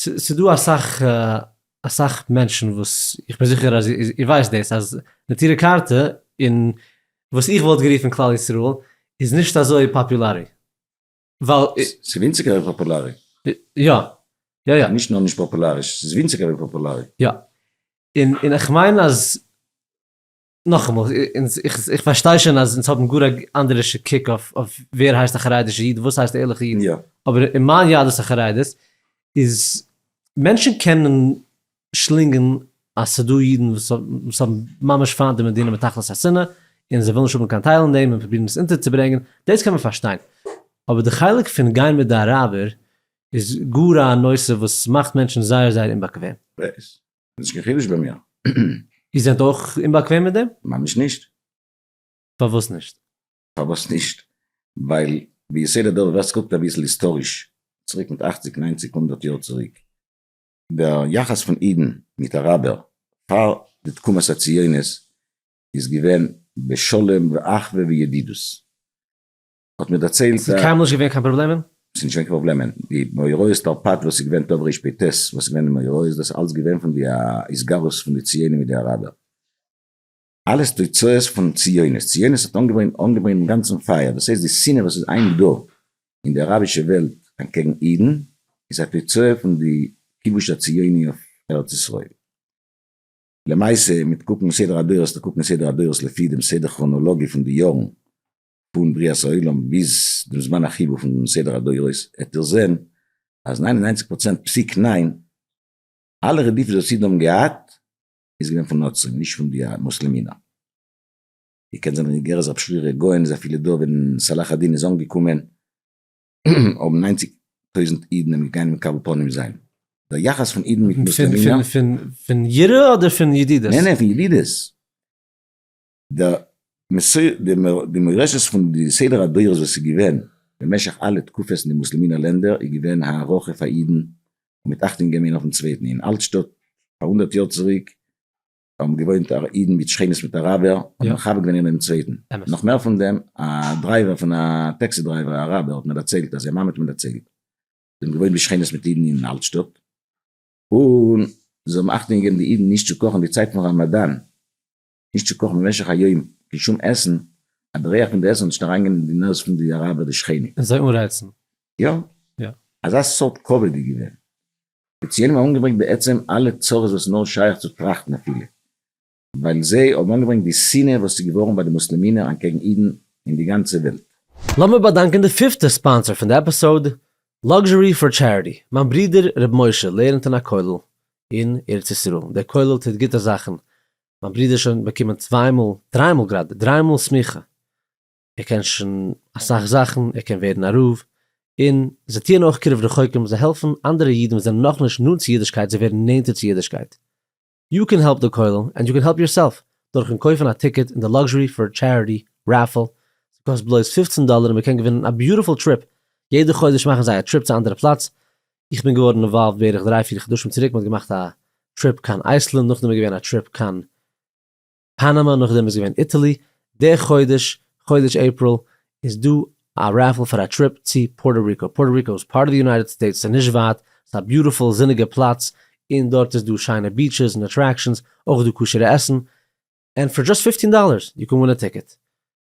Speaker 1: ס'איז דא אסאך אסאך מענטשן וואס איך בין זיכער אז איר ווייסט דאס אז נטורי קרתא און וואס איך וואלט גערופן כלל ישראל איז נישט אזוי פאפולארי ווייל. ס'איז ווינציגער
Speaker 2: ווי פאפולארי. יא
Speaker 1: יא יא. נישט נאר
Speaker 2: נישט פאפולאריש, ס'איז ווינציגער ווי פאפולארי. יא.
Speaker 1: און איך מיין אז נאכאמאל, איך פארשטיי שוין אז אונז האבן גאר א אנדערישע קוק אויף ווער הייסט א חרדישע איד, וואס הייסט א ערליכע איד, אבער אין מיין יהדות החרדית איז מענטשן קענען שלינגען אז ס'איז דא אידן וואס האבן ממש פיינט די מדינה מתכלית השנאה, און זיי ווילן נישט האבן קיין טייל אין דעם און פרובירן עס אונטערצוברענגען, דאס קען מען פארשטיין. אבער די חלק פון גיין מיט די אראבער איז גאר א נושא וואס מאכט מענטשן זייער זייער אומבאקוועם.
Speaker 2: נישט קיין חידוש ביי מיר. איר זענט
Speaker 1: אויך אומבאקוועם מיט דעם? ממש נישט.
Speaker 2: פארוואס
Speaker 1: נישט? פארוואס נישט?
Speaker 2: ווייל ביסוד הדבר ווער סקוקט אביסל היסטאריש צוריק מיט אכציג ניינציג הונדערט יאר צוריק דער יחס פון אידן מיט אראבער פאר די תקומת הציונות איז געווען בשלום ואחווה וידידות האט מיר דערציילט. ס'איז קיינמאל נישט געווען קיין
Speaker 1: פראבלעמען? ס'איז נישט געווען קיין פראבלעמען,
Speaker 2: די מאורעות תרפד וואס איז געווען תר ר פ ט וואס איז געווען די מאורעות דאס איז אלץ געווען פון די התגרות פון די ציונים מיט די אראבער, אלעס תוצאות פון ציונות, ציונות האט אנגעברענט אנגעברענט דעם גאנצן פייער, דאס הייסט די שנאה וואס איז היינט דא אין די אראבישע וועלט אנטקעגן אידן איז א תוצאה פון די כיבוש הציוני אויף ארץ ישראל. למעשה מיט קוקן סדר הדורות, צו קוקן סדר הדורות לפי דעם סדר כראנאלאגי פון די יארן, פון בריאת העולם ביז דעם זמן החיבור פון סדר הדורות, העט איר זען אז ניין און ניינציג פראצענט פסיק ניין, אלע רדיפות וואס אידן האבן געהאט, איז געווען פון נוצרים, נישט פון די מוסלעמינער. איר קענט זיין גערעכט רב שרירא גאון איז אפילו דא ווען צלאח א-דין איז אנגעקומען האבן ניינציג טויזנט אידן אים געגאנגען מקבל פנים זיין. דער יחס פון אידן מיט מוסלעמינער. פון יראה
Speaker 1: אדער פון ידידות? נענען פון ידידות.
Speaker 2: די מורשת פון די סדר הדורות וואס איז געווען במשך אלע תקופות אין די מוסלמינער לענדער איז געווען הערכה פאר אידן און מיט אכטונג געבן איינער אויפן צווייטן, אין אלט שטאט פאר הונדערט יאר צוריק האבן געוואוינט אידן מיט שכנות מיט אראבער און האבן מכבד געווען איינער דעם צווייטן, נאך מער פון דעם א דרייווער פון א טעקסי דרייווער א אראבער האט מיר דערציילט אז זיין מאמע האט מיר דערציילט זיי האבן געוואוינט בשכנות מיט אידן אין אלט שטאט און זיי האבן אכטונג געגעבן די אידן נישט צו קאכן די צייט פון ראמאדאן. נישט צו קאכן במשך א יום קיין שום עסן אז די ריח פון די עסן זאל נישט אריינגיין אין די נאז פון די אראבער די שכנים. און זיי אנרייצן.
Speaker 1: יא.
Speaker 2: יא. אזא סארט כבוד איז געווען. די ציונים האבן אנגעברענגט בעצם אלע צרות וואס נאר שייך צו טראכטן אפילו ווייל זיי האבן אנגעברענגט די שנאה וואס איז געווארן ביי די מוסלעמינער אנטקעגן אידן אין די גאנצע וועלט. לאמיר באדאנקען
Speaker 1: די פיפטע ספאנסער פון די עפיסאוד, Luxury for Charity, מיין ברודער ר' משה לערנט אין א כולל אין ארץ ישראל, דער כולל טוט גוטע זאכן מיין ברודער איז שוין באקומען צוויי מאל, דריי מאל גראדע, דריי מאל סמיכה, ער קען שוין אסאך זאכן, ער קען ווערן א רב, און זיי טוען אויך קירוב רחוקים, זיי העלפן אנדערע אידן וואס זענען נאכנישט נאנט צו אידישקייט זיך ווערן נענטער צו אידישקייט. יו קען העלפ די כולל ענד יו קען העלפ יורסעלף דורכן קויפן א טיקעט אין די לאקזשערי פאר טשעריטי רעפעל, ס'קאסט בלויז פֿופֿצן דאלער און מ'קען געווינען א ביוטיפול טריפ, יעדע חודש מאכן זיי א טריפ צו א אנדערע פלאץ, איך בין געווארן אינוואלווד בערך דריי פיר חדשים צוריק, מען האט געמאכט א טריפ קיין אייסלענד, נאכדעם איז געווען א טריפ קיין פאנאמא, נאכדעם איז געווען איטעלי, די חודש, חודש אפריל, איז דא א רעפעל פאר א טריפ צו פארטא ריקא, פארטא ריקא איז פארט אוו די יונייטעד סטעיטס, ס'איז נישט ווייט, ס'איז א ביוטיפול זוניגע פלאץ, און דארט איז דא שיינע ביעטשעס און אטרעקשאנס, אויך איז דא כשר'ע עסן, ענד פאר דזשאסט פיפטין דאללערס יו קען ווין א טיקעט,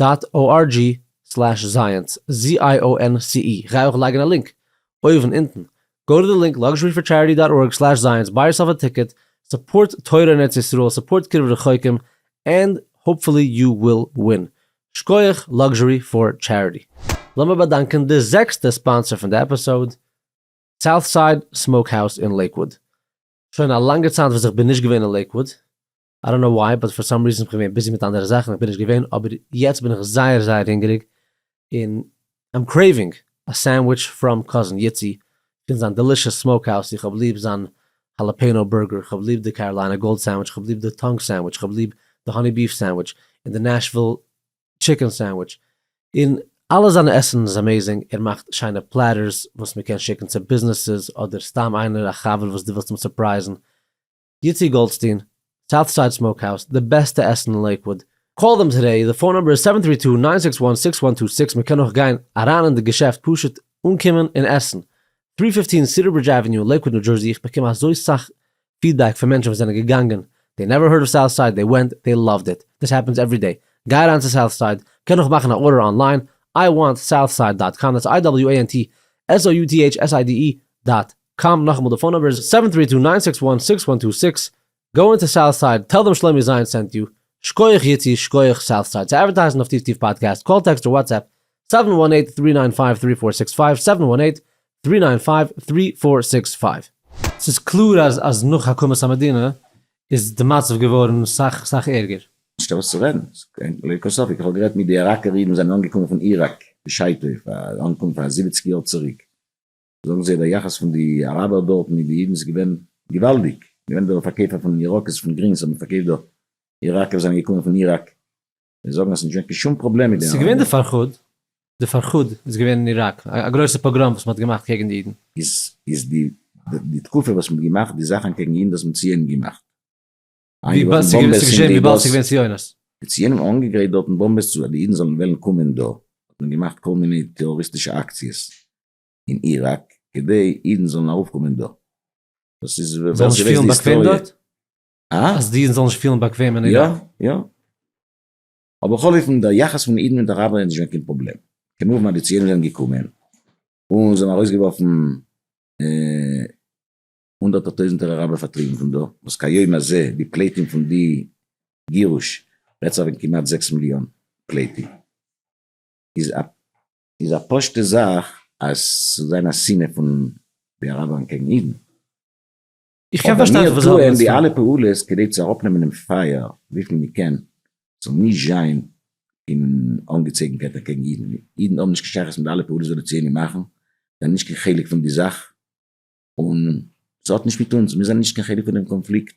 Speaker 1: דאט או אר דזשי סלעש זייענס, ZIONCE, גיי אויך לייגן א לינק, אויבן אונטן, גאו טו דע לינק, לאקזשרי פאר טשעריטי דאט ארג סלעש זייענס, ביי יורסעלף א טיקעט, סופארט תורה אין ארץ ישראל, סופארט קירוב רחוקים, ענד האופפולי יו וויל ווין. שקויעך, לאקזשרי פאר טשעריטי. לאמיר באדאנקען די זעקסטע ספאנסער פון די עפיסאוד, סאוטסייד סמאוק האוז אין לעיקוואוד. שוין א לאנגע צייט וואס איך בין נישט געווען אין לעיקוואוד, איי דאנט קנאו וויי באט פאר סאם ריזען כ'בין געווען ביזי מיט אנדערע זאכן כ'בין נישט געווען אבער יעצט בין איך זייער זייער הונגעריג און איים קרעיווינג א סענדוויטש פראם קאזין איצי פון זיין דעלישעס סמאוק האוז איך האב ליב זיין האלאפעינאו בורגער כ'האב ליב די קאראליינע גאלד סענדוויטש כ'האב ליב די טאנג סענדוויטש כ'האב ליב די האני ביף סענדוויטש און די נעשוויל טשיקען סענדוויטש און אלע זיינע עסן איז אמעיזינג ער מאכט שיינע פלעטערס וואס מ'קען שיקן צו ביזנעסעס אדער סתם איינער א חבר וואס דו ווילסט אים סורפרייזן יצי גאלדסטין, סאוט סייד סמאוק האוז, די בעסטע עסן אין לעיקוואוד. קאל דעם טודעי, די פאון נומבער איז סעווען טרי טו, ניין סיקס וואן, סיקס וואן טו סיקס, מען קען אויך גיין אריין אין די געשעפט פשוט אנקומען און עסן. טרי פיפטין סידער ברידזש עוועניו, לעיקוואד ניו דזשערסי, איך באקום אזוי סאך פידבעק פון מענטשן וואס זענען געגאנגען, דעי נעווער הערד אוו סאוט סייד, דעי ווענט, דעי לאווד איט, דיס העפענס עווערי דעי, גיי אריין צו סאוט סייד, קען אויך מאכן א ארדער אנליין, איי וואנט סאוט סייד דאט קאם, דעטס איי דאבעליו עי ען טי עס או יו טי עיטש עס איי די אי דאט קאם נאכאמאל די פאון נומבער איז סעווען טרי טו ניין סיקס וואן סיקס וואן טו סיקס גאו אינטו סאוט סייד טעל דעם שלומי זיין סענט יו שקויעך יצי שקויעך סאוט סייד צו אדווערטייזן אויף טיף טיף פאדקעסט קאל טעקסט אר וואטסעפפ סעווען וואן עיט טרי ניין פייוו טרי פאר סיקס פייוו סעווען וואן עיט טרי ניין פייוו טרי פאר סיקס פייוו. ס'איז קלאר אז אז נאך הקמת המדינה איז די מצב געווארן סאך סאך ערגער. נישטא וואס צו רעדן,
Speaker 2: ס'איז קיין לויט קיין ספק, איך האב גערעדט מיט די איראקער אידן וואס זענען אנגעקומען פון איראק בשעתו, פאר אנקום פאר זיבעציג יאר צוריק, זאגן זיי דער יחס פון די אראבער דארט מיט די אידן איז געווען געוואלדיג, געווען דא פארקעיפער פון ירקות פון גרינס האבן פארקעיפט דא, איראקער זענען געקומען פון איראק, זיי זאגן אז ס'נישט געווען קיין שום פראבלעם מיט די ס'איז געווען די אראבער. פארכאד,
Speaker 1: די פארכאד איז געווען אין איראק, א גרויסע פאגראם וואס מ'האט געמאכט קעגן די אידן. איז איז די
Speaker 2: די תקופה וואס מ'האט געמאכט די זאכן קעגן אידן דאס מיט ציונים געמאכט, איינגעווארפן
Speaker 1: באמבעס אין די באס, די ציונים האבן אנגעגרייט
Speaker 2: דארטן באמבעס צו אז די אידן זאלן וועלן קומען דא, האט מען געמאכט כל מיני טעראריסטישע אקציעס, אין איראק כדי אידן זאלן ארויפקומען דא. דאס איז ווער ס'ווייסט די היסטאריע. זאלן נישט פילן
Speaker 1: באקוועם דארט? אה? אז די
Speaker 2: אידן זאלן נישט פילן
Speaker 1: באקוועם אין איראק?
Speaker 2: יא, יא. אבער בכל אופן דער יחס פון אידן מיט אראבער איז נישט געווען קיין פראבלעם. כמובן אז די ציונים זענען געקומען און זיי האבן ארויסגעווארפן הונדערטער טויזנטער אראבער פארטריבן פון דא, וואס כהיום הזה די פליטים פון די גירוש רעדט זיך וועגן כמעט זעקס מיליאן פליטים, איז א איז א פשוטע זאך אז ס'זאל זיין א שנאה פון די אראבערן קעגן אידן.
Speaker 1: איך קען פארשטיין וואס זיי האבן עס פון. אבער מיר טוען די אלע פעולות
Speaker 2: כדי צו אראפנעמען דעם פייער וויפיל מיר קען, ס'זאל נישט זיין קיין אנגעצויגנקייט אקעגן אידן. אידן האבן נישט קיין שייכות מיט די אלע פעולות וואס די ציונים מאכן, זיי זענען נישט קיין חלק פון די זאך, און ס'האט נישט מיט אונז, מיר זענען נישט קיין חלק פון דעם קאנפליקט.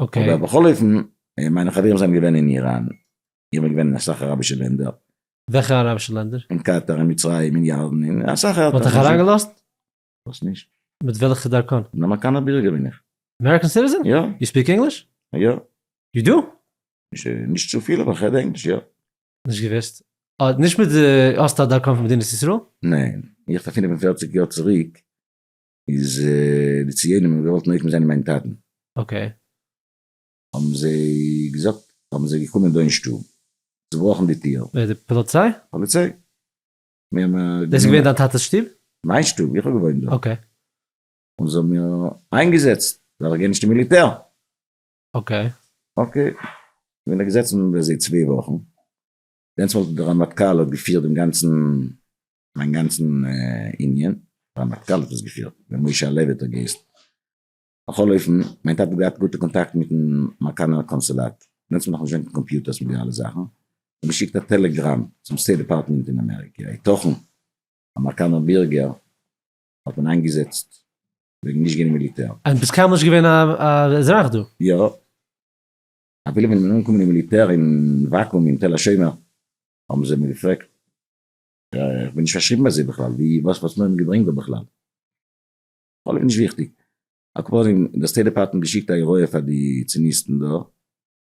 Speaker 2: אבער
Speaker 1: בכל אופן,
Speaker 2: מיינע חברים זענען געווען אין איראן, איך בין געווען אין אסאך אראבישע לענדער. וועלכע אראבישע
Speaker 1: לענדער? אין קאטאר, אין מצרים,
Speaker 2: אין ירדן, אין אסאך ערטער. מ'האט דיך אריינגעלאזט?
Speaker 1: וואס נישט?
Speaker 2: מיט וועלכע דרכון?
Speaker 1: אן אמערקאנער בירגער בין
Speaker 2: איך. אמעריקען סיטיזען? יא.
Speaker 1: יו ספיק ענגליש? יא.
Speaker 2: יו דו?
Speaker 1: נישט
Speaker 2: צופיל אבער כ'רעד ענגליש, יא. נישט געוואוסט.
Speaker 1: נישט מיט די, האסט א דרכון פון מדינת ישראל? ניין. איך האב פון
Speaker 2: פֿינף און פֿערציק יאר צוריק איז די ציונים האבן געוואלט נוקם זיין מיין טאטן. אקעי. האבן זיי געזאגט, האבן זיי געקומען דא אין שטוב, צובראכן די טיר. ווער די פאליציי?
Speaker 1: פאליציי.
Speaker 2: מיר
Speaker 1: האבן גענומען. דאס איז געווען דיין טאטע'ס שטוב? מיין שטוב, איך האב
Speaker 2: געוואוינט דארט. אקעי.
Speaker 1: און זיי האבן
Speaker 2: מיר איינגעזעצט, ווייל איך גיי נישט אין מיליטער. אקעי.
Speaker 1: אקעי.
Speaker 2: כ'בין דא געזעצן ביי זיי צוויי וואכן. דענסמאל האט דער רמטכ"ל האט געפירט דעם גאנצן מיין גאנצן יוניאן פאר מטכ"ל האט עס געפירט ווען משה הלוי האט עס געהייסן. בכל אופן, מיין טאטע האט געהאט גוטע קאנטאקטן מיטן מארקאנער קאנסולאט, דעמאלטס האט מען נאך נישט געהאט קיין קאמפיוטערס מיט די אלע זאכן, האט געשיקט א טעלעגראם צום סטעיט דעפארטמענט אין אמעריקע, היתכן א מארקאנער בירגער האט מען איינגעזעצט וועגן נישט גיין אין מיליטער. אז ביסט קיינמאל נישט געווען
Speaker 1: א אזרח דא? יא.
Speaker 2: אפילו ווען איך בין אנגעקומען אין מיליטער אין וואקום אין תל השומר האבן זיי מיר געפרעגט איך בין נישט פארשריבן ביי זיי בכלל, ווי וואס וואס מיר האבן געברענגט דא בכלל. בכל אופן נישט וויכטיג. על כל פנים די סטעיט דעפארטמענט געשיקט א הוראה פאר די ציניסטן דא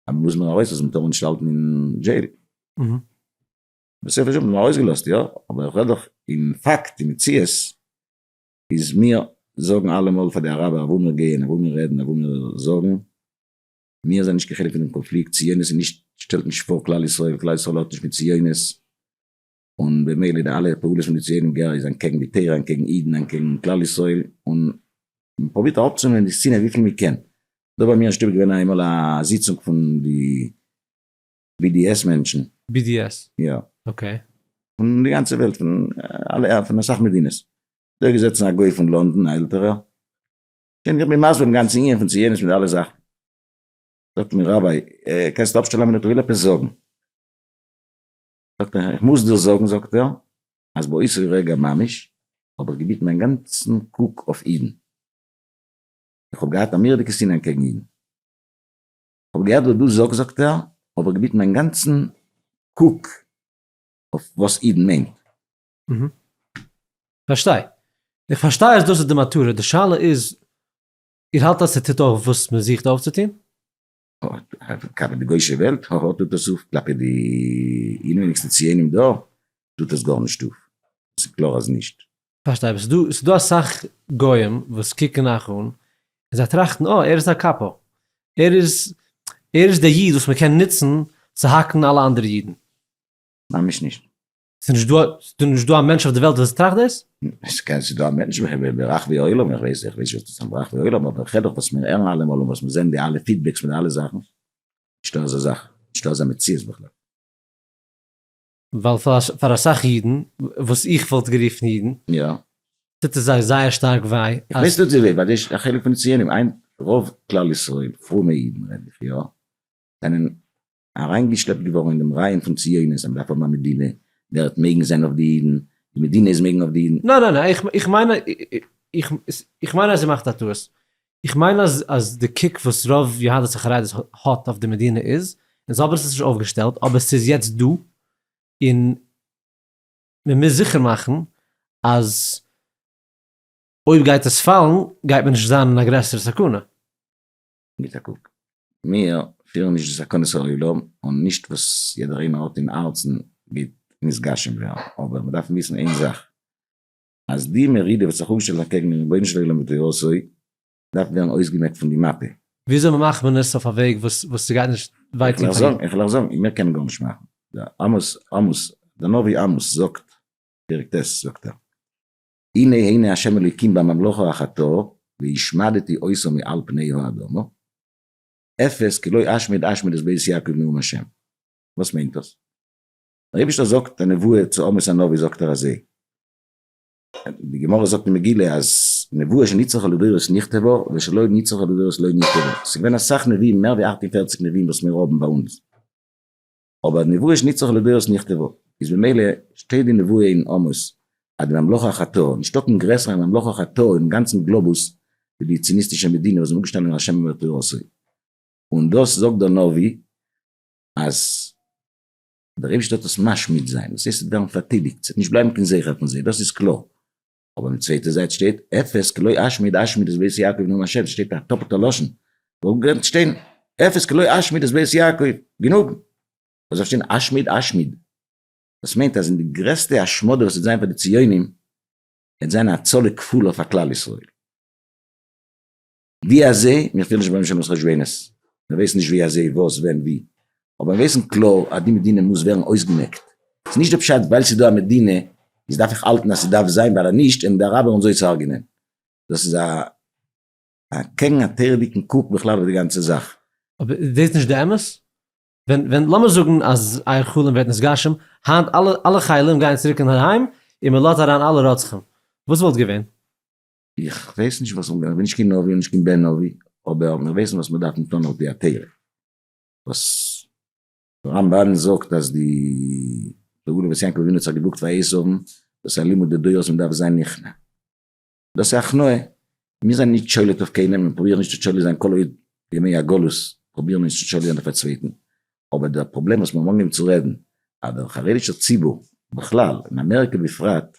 Speaker 2: אז מ'מוז מיר ארויס לאז מ'טאר מיר נישט האלטן אין דזשעיל. בסופו של דבר האט מען מיר ארויס געלאזט יא, אבער איך רעד דאך אין פאקט אין מציאות איז מיר זאגן אלעמאל פאר די אראבער אוואו מיר גייען אוואו מיר רעדן אוואו מיר זאגן. מיר זענען נישט קיין חלק פון דעם קאנפליקט, ציונות איז נישט, שטעלט נישט פאר כלל ישראל, כלל ישראל האט נישט מיט ציונות, און במילא די אלע פעולות פון די ציונים גער איז אנקעגן די תורה, אנקעגן אידן, אנקעגן כלל ישראל, און מען פרובירט אראפצונעמען די שנאה וויפיל מען קען. דא ביי מיר אין שטוב איז געווען איינמאל א זיצונג פון די BDS מענטשן. BDS?
Speaker 1: יא. אקעי.
Speaker 2: פון
Speaker 1: די גאנצע
Speaker 2: וועלט, פון אלע, פון אסאך מדינות. דא איז געזעצן א גוי פון לאנדאן, א עלטערער, קען איך מיר מסביר דעם גאנצן ענין פון ציונות מיט אלע זאכן? זאגט מיר ראביי, קענסט אפשטעלן א מינוט איך וויל עפעס זאגן. זאגט ער, איך מוז דיר זאגן זאגט ער, אז באותו רגע ממש האב איך געביטן מיין גאנצן קוק אויף אידן, איך האב געהאט א מורא'דיגע שנאה אנטקעגן אידן, איך האב געהערט וואס דו זאגסט זאגט ער, האב איך געביטן מיין גאנצן קוק אויף וואס אידן מיינט,
Speaker 1: פארשטיי. איך פארשטיי אז דאס איז די מטרה, די שאלה איז, איר האלט אז ס'טוט אויף וואס מ'זוכט אויפצוטון?
Speaker 2: כלפי די גוי'שע וועלט טוט עס אויף, כלפי די אינעוויניגסטע ציונים דא טוט עס גארנישט אויף, ס'איז קלאר אז נישט. פארשטיי, אבער
Speaker 1: ס'איז דא אסאך גוים וואס קוקן אייך אן און זיי טראכטן, אה, ער איז א קאפא, ער איז ער איז דער איד וואס מ'קען נוצן צו האקן אלע אנדערע אידן. ממש
Speaker 2: נישט. ס'איז נישט דא,
Speaker 1: ס'איז נישט דא א מענטש אויף די וועלט וואס טראכט דאס? ס'קען, ס'איז דא א
Speaker 2: מענטש ברחבי העולם, איך ווייס, איך ווייס נישט ברחבי העולם, אבער כ'רעד דאך וואס מיר הערן אלעמאל און וואס מיר זעהן די אלע פידבעקס פון די אלע זאכן, נישטא אזא זאך, נישטא אזא מציאות בכלל. ווייל
Speaker 1: פאר אסאך אידן, וואס איך וואלט גערופן אידן,
Speaker 2: טוט עס זיי
Speaker 1: זייער שטארק וויי אז. איך ווייס טוט זיי וויי, ווייל דאס
Speaker 2: איז א חלק פון די ציונים, רוב כלל ישראל, פרומע אידן רעד איך, יא, זענען אריינגעשלעפט געווארן אין דעם רעיון פון ציונות, אז מ'דארף האבן א מדינה, דער עט מעגן זיין אויף די אידן, די מדינה איז מעגן אויף די אידן. ניין ניין איך איך מיין
Speaker 1: איך מיין אז איר מאכט א טעות, איך מיין אז אז די קוק וואס רוב יהדות החרדית האט אויף די מדינה איז, און זיי האבן עס נישט אויפגעשטעלט אבער עס איז יעצט דא, און מ'מוז זיכער מאכן אז אויב גייט עס פאלן גייט מען נישט זיין אין א גרעסערע סכנה. גיט
Speaker 2: א קוק, מיר פירן נישט די סכנות העולם און נישט וואס יעדער איינער האט אין הארצן גייט נתגשם ווערן, אבער מיר דארפן וויסן איין זאך, אז די מרידה וואס האט זיך אויפגעשטעלט אקעגן דעם רבונו של עולם ותורתו דארף ווערן אויסגעמעקט פון די מאפע. וויאזוי מ'מאכט מען
Speaker 1: עס אויף א וועג וואס ס'גייט נישט וויי טון פאר אידן? איך וועל אייך זאגן,
Speaker 2: מיר קענען גארנישט מאכן, דער עמוס, דער נביא עמוס זאגט, פרק ט' זאגט ער, הנה הנה השם אלוקים בממלכו החטא והשמדתי עושו מעל פני האדמה, אפס כי לא אשמיד אשמיד את בית יעקב נאום השם. וואס מיינט דאס? דער אייבישטער זאגט א נבואה צו עמוס הנביא זאגט ער אזוי, די גמרא זאגט אין מגילה אז נבואה שנצרכה לדורות נכתבה ושלא נצרכה לדורות לא נכתבה, ס'איז געווען אסאך נביאים מער ווי אַכט און פֿערציק נביאים וואס מיר האבן ביי אונז, אבער נבואה איז נצרך לדורות נכתבו, איז במילא שטייט די נבואה אין עמוס אז די ממלכה אחתו, נישטא קיין גרעסערע ממלכה אחתו אויפן גאנצן גלאבוס ווי די ציוניסטישע מדינה וואס איז אנגעשטאנען אין השם אמר תורתו, און דאס זאגט דער נביא אז דער אייבערשטער האט עס משמיד זיין, דאס הייסט עס וועט ווערן פארטיליגט, ס'וועט נישט בלייבן קיין זכר פון זיי, דאס איז קלאר, אבער אויפן צווייטע זייט שטייט אפס כלא אשמיד אשמיד איז בית יעקב נאם השם ס'שטייט א טאפלטע לשון זאל גענט שטיין אפס כלא אשמיד איז בית יעקב גענוג וואס זאל שטיין אשמיד אשמיד דאס מיינט אז אין די גרעסטע השמדה וואס וועט זיין פאר די ציונים וועט זיין א הצלה כפולה פאר כלל ישראל. ווי אזי, מיר פילן נישט ביים שלמות חשבונות, מיר ווייסן נישט ווי אזי, וואס, ווען, ווי, אבער מיר ווייסן קלאר אז די מדינה מוז ווערן אויסגעמעקט, ס'איז נישט די פשט ווייל ס'איז דא א מדינה איז דארף איך האלטן אז ס'דארף זיין ווייל אז נישט העלן די אראבער אונז אויסהרג'ענען, דאס איז א א קעגן א תורה'דיגן קוק בכלל אויף די גאנצע זאך. אבער איז דאס נישט
Speaker 1: די אמת? ווען ווען לאמיר זאגן אז אייער חלום ווערט נתגשם, היינט אלע אלע חיילים גייען צוריק אינדערהיים און מ'לאזט אריין אלע רוצחים, וואס וואלט געווען? איך
Speaker 2: ווייס נישט וואס, איך בין נישט קיין נביא און נישט קיין בן נביא, אבער מיר ווייסן וואס מיר דארפן טון על פי התורה, וואס דער רמב ן זאגט אז די תגובות וואס יעקב אבינו האט זיך געדרוקט פאר עשו, דאס איז א לימוד לדורות מען דארף זיין נכנע, דאס איז הכנעה, מיר זענען נישט שולט אויף קיינעם, מיר פרובירן נישט צו שולט זיין כל עוד בימי הגלות פרובירן מיר נישט צו שולט זיין אויף א צווייטן, אבער דער פראבלעם וואס מיר האבן אנגעהויבן צו רעדן אז דער חרדישער ציבור בכלל און אמעריקע בפרט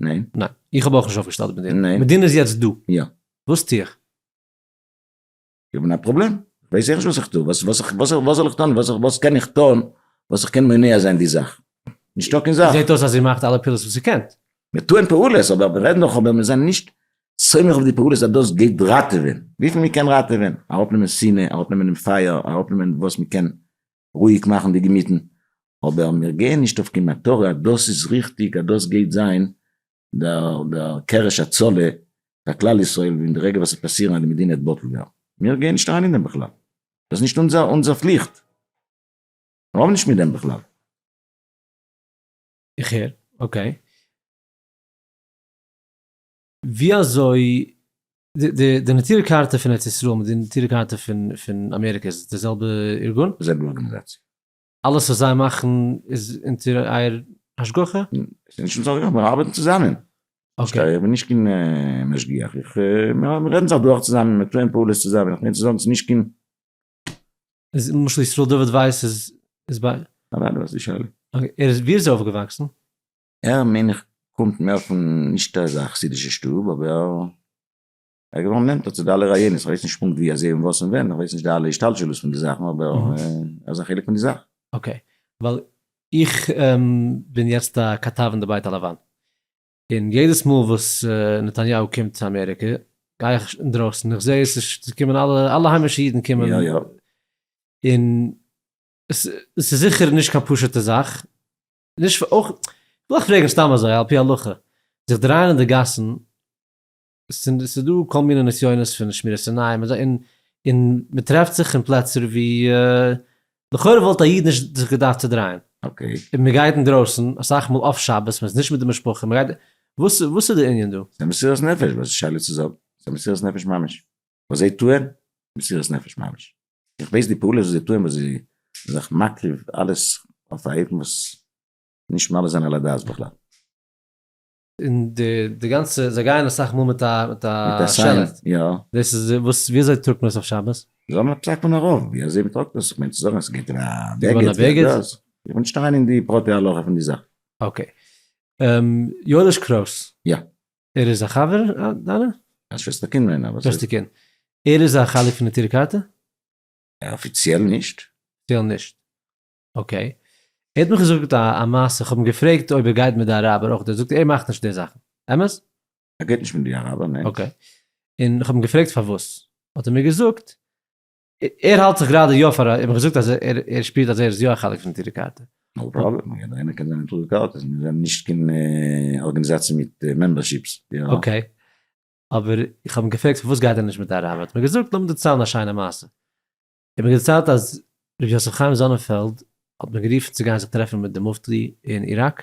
Speaker 1: ניין? ניין,
Speaker 2: איך האב אויך נישט
Speaker 1: אויפגעשטעלט מיט דיר. ניין. מיט דינער איז יעצט דא.
Speaker 2: יא.
Speaker 1: וואס טו איך?
Speaker 2: איך בין א פראבלעם? איך ווייס עכט נישט וואס איך טו, וואס וואס איך וואס איך וואס זאל איך טון וואס איך וואס קען איך טון וואס איך קען מונע זיין די זאך? נישטא קיין זאך. זעט אויס אז איר מאכט אלע פעולות
Speaker 1: וואס איר קענט. מיר טוען פעולות
Speaker 2: אבער מיר רעדן דאך אבער מיר זענען נישט סומך אויף די פעולות אז דאס גייט ראטעווען, וויפיל מען קען ראטעווען, אראפנעמען שנאה, אראפנעמען דעם פייער, אראפנעמען וואס מען קען, רואיג מאכן די געמיטן, אבער מיר גייען נישט אויף קיין מטרה אז דאס איז ריכטיג אז דאס גייט זיין דער קרש הצלה פאר כלל ישראל ווען די רגע וואס עס וועט פאסירן אז די מדינה וועט בטל ווערן, מיר גייען נישט אריין אין דעם בכלל, דאס איז נישט אונזער פליכט, מיר האבן נישט מיט דעם בכלל. איך הער,
Speaker 1: אקעי. ווי אזוי די נטורי קרתא פון ארץ ישראל מיט די נטורי קרתא פון אמעריקע איז די זעלבע ארגון? די זעלבע ארגאניזאציע. אלעס וואס זיי מאכן איז אונטער אייער השגחה? ס'איז נישט אונטער השגחה,
Speaker 2: מיר ארבעטן צוזאמען. פארשטיי, איך בין
Speaker 1: נישט קיין
Speaker 2: משגיח, מיר רעדן זיך דורך צוזאמען, מיר טוען פעולות צוזאמען, איך מיין צו זאגן ס'איז נישט קיין.
Speaker 1: איז למשל ישראל דוד ווייס איז ביי. אוודאי דו האסט די שאלה.
Speaker 2: אוקיי, ער איז, ווי איז ער
Speaker 1: אויפגעוואקסן? ער מיין
Speaker 2: איך קומט מער פון נישט אזא חסידישע שטוב אבער ער איז געווארן נענטער צו די אלע רעיונות, איך ווייס נישט פונקט ווי אזוי און וואס און ווען, איך ווייס נישט די אלע השתלשלות פון די זאכן אבער ער איז א חלק פון די זאך. אקעי, ווייל
Speaker 1: איך בין יעצט א כתב אין די בית הלבן, און יעדעס מאל וואס נתניהו קומט צו אמעריקע גיי איך אינדרויסן איך זע עס איז קומען אלע אלע היימישע אידן קומען, יא יא,
Speaker 2: און
Speaker 1: עס איז זיכער נישט קיין פשוטע זאך, נישט פאר אויך, כ'וויל אויך פרעגן סתם אזוי על פי הלכה, זיך דרייען אין די גאסן, ס'איז דא כל מיני נסיונות פון שמירת עיניים און אזוי, און מ'טרעפט זיך אין פלעצער ווי לכאורה וואלט א איד נישט זיך געדארפט צודרייען, און מ'גייט
Speaker 2: אינדרויסן
Speaker 1: אסאך מאל אויף שבת, מ'איז נישט מיט די משפחה, מ'גייט, וואס איז די ענין דא? ס'איז א מסירת נפש, וואס איז
Speaker 2: שאלה צו זאגן? ס'איז א מסירת נפש ממש. וואס זיי טוען, מסירות נפש ממש. איך ווייס די פעולות וואס זיי טוען, וואס זיי זענען זיך מקריב אלעס אויף א אופן וואס נישט מעלה זיין על הדעת בכלל. און
Speaker 1: די די גאנצע, זיי גייען אסאך מאל מיט א מיט א שעלעט,
Speaker 2: דאס איז
Speaker 1: וואס
Speaker 2: ווי
Speaker 1: אזוי טראגט מען עס אויף שבת? זאל מען טראגט מען א רוב,
Speaker 2: ווי אזוי מען טראגט עס, איך מיין צו זאגן עס גייט אין א בעגעט, איך
Speaker 1: וויל נישט אריין אין
Speaker 2: די פרטי הלכה פון די זאך. אקעי,
Speaker 1: יואליש קרויס. יא. ער
Speaker 2: איז א חבר
Speaker 1: דיינע? א שוועסטערקינד
Speaker 2: מיינע אבער. שוועסטערקינד.
Speaker 1: ער איז א חלק פון נטורי קרתא? אפיציעל
Speaker 2: נישט. אפיציעל נישט.
Speaker 1: אקעי. ער האט מיך געזאגט א מעשה, איך האב אים געפרעגט אויב ער גייט מיט די אראבער אויך, ער זאגט ער מאכט נישט די זאכן. אמת? ער גייט נישט מיט די
Speaker 2: אראבער, ניין. אקעי. און
Speaker 1: איך האב אים געפרעגט פארוואס, האט ער מיר געזאגט ער האלט זיך גראדע יא פאר א, האב איך געזאגט אז ער שפירט אז ער איז יא א חלק פון נטורי קרתא. נאו פראבלעם, יעדער
Speaker 2: קען זיין נטורי קרתא, מיר זענען נישט קיין ארגענעזאציע מיט מעמבערשיפס. אקעי,
Speaker 1: אבער איך האב אים געפרעגט פארוואס גייט ער נישט מיט די אראבער, האט מיר געזאגט, לאמיר דערציילן א שיינע מעשה, ער האט מיר דערציילט אז ר' יוסף חיים זאנענפעלד האט מיר גערופן צו גיין זיך טרעפן מיט די מופתי אין איראק,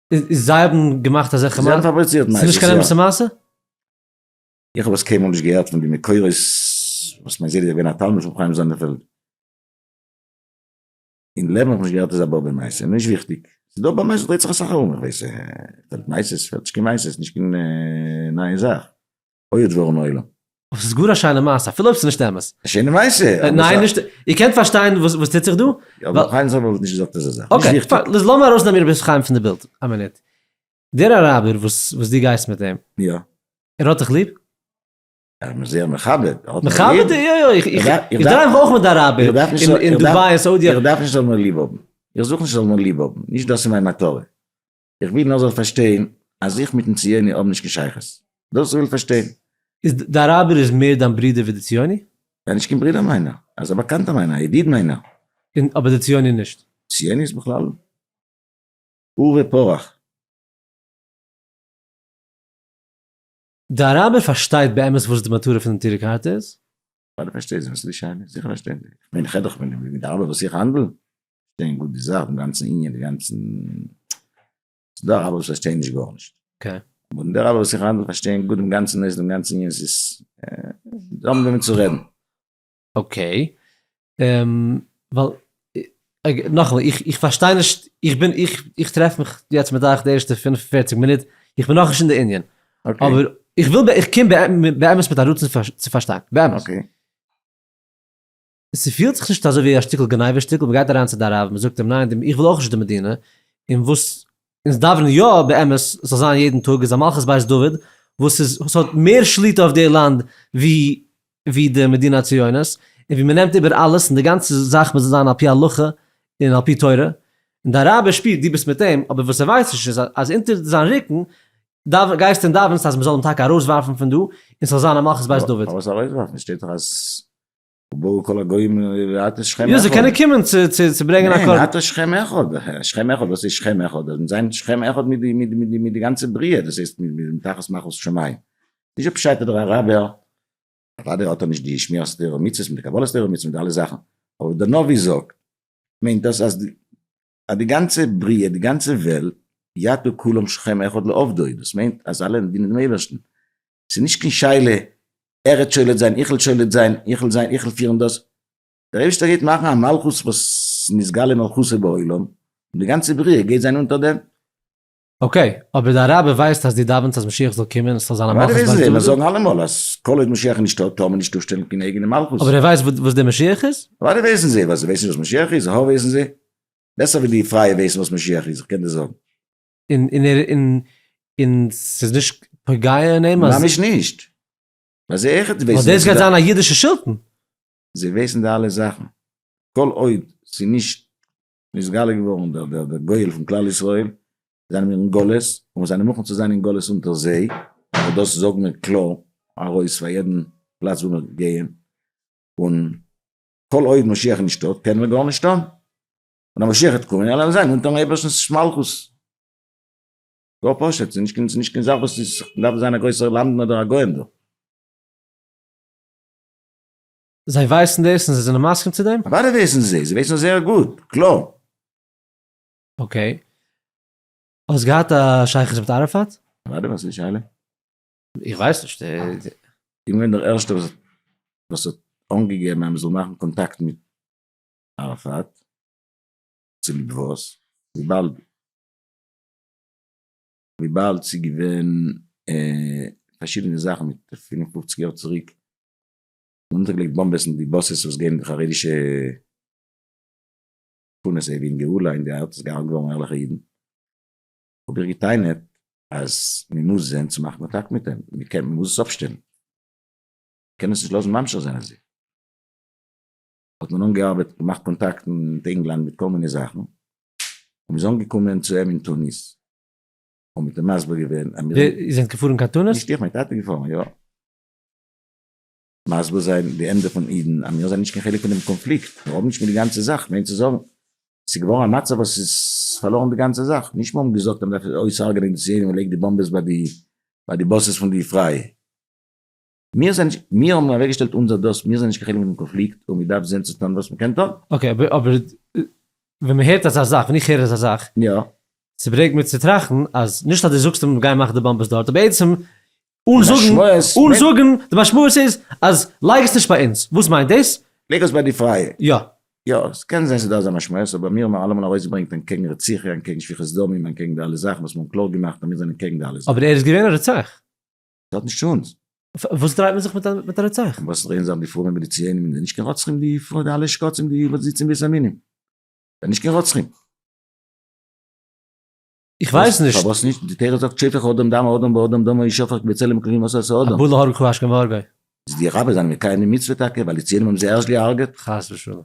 Speaker 1: איז זיי האבן געמאכט אזעלכע זיי האבן פאבריצירט
Speaker 2: נייעס.
Speaker 1: ס'איז נישט קיין אמת'ע מעשה?
Speaker 2: איך האב עס קיינמאל נישט געהערט פון די מקורות וואס מיין זיידע איז געווען א תלמיד פון חיים זאנערפעלד. אין לעבן האב איך נישט געהערט אזא באבע מעשה, נישט וויכטיג. ס'איז דא באבע מעשות דרייט זיך אסאך ארום, איך ווייס, מערסטנס קיין מעשות, נישט קיין נייע זאך. אוי האט ווערן עולם. אבער ס'איז גאר א שיינע
Speaker 1: מעשה אפילו אויב ס'איז נישט אמת. א שיינע מעשה?
Speaker 2: ניין נישט, איר קענט
Speaker 1: פארשטיין וואס וואס טוט זיך דא? יא אבער ר' חיים זאב האט
Speaker 2: נישט געזאגט אזא זאך. נישט וויכטיג. אקעי, פאר,
Speaker 1: לאמיר ארויסנעמען ר' חיים פון די בילד א מינוט. דער אראבער וואס וואס דו גייסט מיט אים. יא. ער
Speaker 2: האט דיך ליב?
Speaker 1: ער האט מיר
Speaker 2: זייער מכבד. ער האט מיר ליב. מכבד? יא יא,
Speaker 1: איך דרייוו אויך מיט די אראבער אין דובאי און סאודיע. איך דארף נישט ער זאל מיר ליב האבן.
Speaker 2: איך זוך נישט ער זאל מיר ליב האבן. נישט דאס איז מיין מטרה. איך וויל נאר זאל פארשטיין אז איך מיטן ציוני האב נישט קיין שייכות. דאס איך וויל פארשטיין. איז די אראבער
Speaker 1: איז מער דיין ברודער ווי די ציוני? ער איז נישט קיין ברודער
Speaker 2: מיינער. ער איז א באקאנטער מיינער, א ידיד מיינער. און אבער די ציוני
Speaker 1: נישט? ציוני איז בכלל
Speaker 2: עורבא פרח. די אראבער פארשטייט
Speaker 1: באמת וואס די מטרה פונעם טורק הארט איז? ווייל דו פארשטייסט וואס
Speaker 2: איז די שיינע, זיכער פארשטייען זיי, איך מיין כ'רעד דאך פון די ארבעט וואס איך האנדל, פארשטייען גוט די זאך, דעם גאנצן ענין, די גאנצן, ס'דא ארבעט וואס פארשטייען נישט גארנישט, אבער די ארבעט
Speaker 1: וואס איך
Speaker 2: האנדל פארשטייען גוט דעם גאנצן נושא, דעם גאנצן ענין, ס'איז, זיי האבן וועמען צו רעדן. אקעי,
Speaker 1: ווייל נאכאמאל, איך פארשטיי נישט, איך בין, איך טרעף מיך יעצט מיט אייך די ערשטע פֿינף און פֿערציק מינוט, איך בין נאכנישט אין די ענין, אבער איך
Speaker 2: וויל,
Speaker 1: איך קום באמת מיט א רצון צו פארשטיין, באמת. ס'פילט זיך נישט אזוי ווי א שטיקל גניבה שטיקל, מ'גייט אריין צו די רב, מ'זאגט אים ניין, איך וויל אויך נישט די מדינה, און וואס אונז דאווענען יא באמת ס'זאל זיין יעדן טאג איז א מלכות בית דוד וואס איז וואס האט מער שליטה אויף די לאנד ווי ווי די מדינה הציונית און ווי מען נעמט איבער אלעס און די גאנצע זאך מוז זיין על פי הלכה און על פי תורה און דיין רבי שפירט דו ביסט מיט אים אבער וואס ער ווייסט נישט איז אז אונטער זיין רוקן דאוו גייסטו און דאווענסט אז מען זאל אים טאקע ארויסווארפן פון דא און ס'זאל זיין א מלכות בית דוד. פארוואס ארויסווארפן?
Speaker 2: ס'שטייט דאך אז. ובאו כל הגוים לראות את שכם אחד. יא, זיי קענען קומען
Speaker 1: צו ברענגען א קרבן. ניין, לראות שכם
Speaker 2: אחד. שכם אחד, וואס איז שכם אחד? דאס מיט זיין שכם אחד מיט די גאנצע בריאה, דאס הייסט מיט תחת מלכות שמים. נישט פשט דער אראבער, אוודאי האט ער נישט די שמירת תורה ומצוות מיט די קבלת תורה ומצוות מיט די אלע זאכן, אבער דער נביא זאגט, מיינט דאס אז אז די גאנצע בריאה, די גאנצע וועלט, יטו כולם שכם אחד לעובדו, דאס מיינט אז אלע דינען דעם אייבערשטן, ס'איז נישט קיין שאלה ער וועט שולט זיין, איך וועל שולט זיין, איך וועל זיין, איך וועל פירן דאס, דער אייבערשטער גייט מאכן א מלכות וואס נתגלה מלכותו בעולם, און די גאנצע בריאה גייט זיין אונטער דעם. אקעי,
Speaker 1: אבער דיין רבי ווייסט אז דו דאווענסט אז משיח זאל קומען און ס'זאל זיין א מלכות בית דוד? ביידע וויסן דאס, זאגן אלעמאל
Speaker 2: אז
Speaker 1: כל
Speaker 2: עוד משיח איז נישט דא טאר מען נישט אויפשטעלן קיין אייגענע מלכות. אבער ער ווייסט וואס דער
Speaker 1: משיח איז? ביידע וויסן זיי וואס זיי ווייסן
Speaker 2: נישט וואס משיח איז, ע ה וויסן זיי בעסער ווי די פרייע וויסן וואס משיח איז, איך קען דיר זאגן. און
Speaker 1: ס'איז נישט פוגע אין אים אז. ממש נישט.
Speaker 2: ביי זיי אויכעט ווייסן זיי. ווייל דאס גייט זיין א
Speaker 1: אידישע שלטון. זיי ווייסן
Speaker 2: די אלע זאכן. כל עוד ס'איז נישט נתגלה געווארן דער דער דער גואל פון כלל ישראל, זענען מיר אין גלות און מיר זענען מוכן צו זיין אין גלות אונטער זיי, אבער דאס זאגן מיר קלאר ארויס פאר יעדן פלאץ וואו מיר גייען, און כל עוד משיח איז נישטא קענען מיר גארנישט טון, און אז משיח וועט קומען וועלן מיר זיין אונטערן אייבערשטנ'ס מלכות. גאר פשוט, ס'איז נישט נישט קיין זאך וואס איז, מ'דארף זיין א גרויסער למדן אדער א גאון דא.
Speaker 1: זיי ווייסן דאס און זיי זענען מסכים צו דעם? אוודאי ווייסן זיי, זיי ווייסן עס
Speaker 2: זייער גוט, קלאר.
Speaker 1: אקעי. האסט געהאט א שייכות מיט אראפאט? אוודאי, וואס איז די שאלה?
Speaker 2: איך ווייס
Speaker 1: נישט. איך בין געווען
Speaker 2: דער ערשטער וואס וואס האט אנגעגעבן אז מען זאל מאכן קאנטאקט מיט אראפאט, צוליב וואס? וויבאלד וויבאלד ס'איז געווען פארשידענע זאכן מיט פֿינף און פֿופֿציק יאר צוריק נאכמיטאג ליגט באמבעס אין די באסעס וואס געבן די חרדישע שכונות עי' ווי גאולה אין די ארט איז געהארגט געווארן ערליכע אידן האב איך געטענה'ט אז מ'מוז זען צו מאכן א טאקט מיט דעם מ'קען מ'מוז עס אפשטעלן מ'קען עס נישט לאזן ממשיך זיין אזוי האט מען אנגעארבעט געמאכט קאנטאקטן מיט ענגלאנד מיט כל מיני זאכן און מ'איז אנגעקומען צו אים אין טוניס און מיט אים מסביר געווען אז מיר זענען איר זענט געפארן
Speaker 1: קיין טוניס? נישט איך, מיין טאטע איז געפארן,
Speaker 2: יא. מסביר זיין די עמדה פון אידן אז מיר זענען נישט קיין חלק פונעם קאנפליקט, מיר האבן נישט מיט די גאנצע זאך, מיינט צו זאגן ס'איז געווארן א מצב וואס איז פארלוירן די גאנצע זאך, נישט מיר האבן געזאגט אז מ'דארף אויס'הרג'ענען די ציונים און לייג די באמבעס ביי די ביי די באסעס פון די פריי מיר זענען נישט מיר האבן אוועקגעשטעלט אונזער דעות מיר זענען נישט קיין חלק פונעם קאנפליקט און מ'דארף זען צו טון וואס מ'קען טון. אקעי אבער אבער
Speaker 1: ווען מ'הערט אזא זאך ווען איך הער אזא זאך יא. ס'ברענגט
Speaker 2: מיר צו
Speaker 1: טראכטן אז נישט אז דו זאגסט אז מ'גייען מאכן די באמבעס דארט אבער עצם אן זאגן אן זאגן די משמעות איז אז לייג עס נישט ביי אונז, וואס מיינט דאס? לייג עס ביי די פרייע.
Speaker 2: יא. יא, עס
Speaker 1: קען זיין
Speaker 2: ס'איז דא אזא משמעות, אבער מיר האבן אלעמאל ארויסגעברענגט אנטקעגן רציחה, אנטקעגן שפיכות דמים, אנטקעגן די אלע זאכן וואס מיר האבן קלאר געמאכט אז מיר זענען קעגן די אלע זאכן. אבער ער איז געווען א רוצח.
Speaker 1: ס'האט נישט צו
Speaker 2: אונז. וואס דרייט מען
Speaker 1: זיך מיט א מיט א רוצח? און וואס דרייען זיך די פרויען מיט
Speaker 2: די ציונים און די נישט קיין רוצחים די פרוי די אלע שקצים די וואס זיצן בית עלמין? זיי נישט קיין רוצחים.
Speaker 1: איך ווייס נישט. פארוואס נישט? די תורה זאגט
Speaker 2: שפך אדם דמו אדם באדם דמו ישפך בצלם אלקים עשה עשה אדם. הבא להרוג הוא השכם והרגו.
Speaker 1: איז די רבי זיין
Speaker 2: מקיים די מצוה טאקע ווייל די ציונים האבן זיי ערשט געהארגעט? חס ושלום.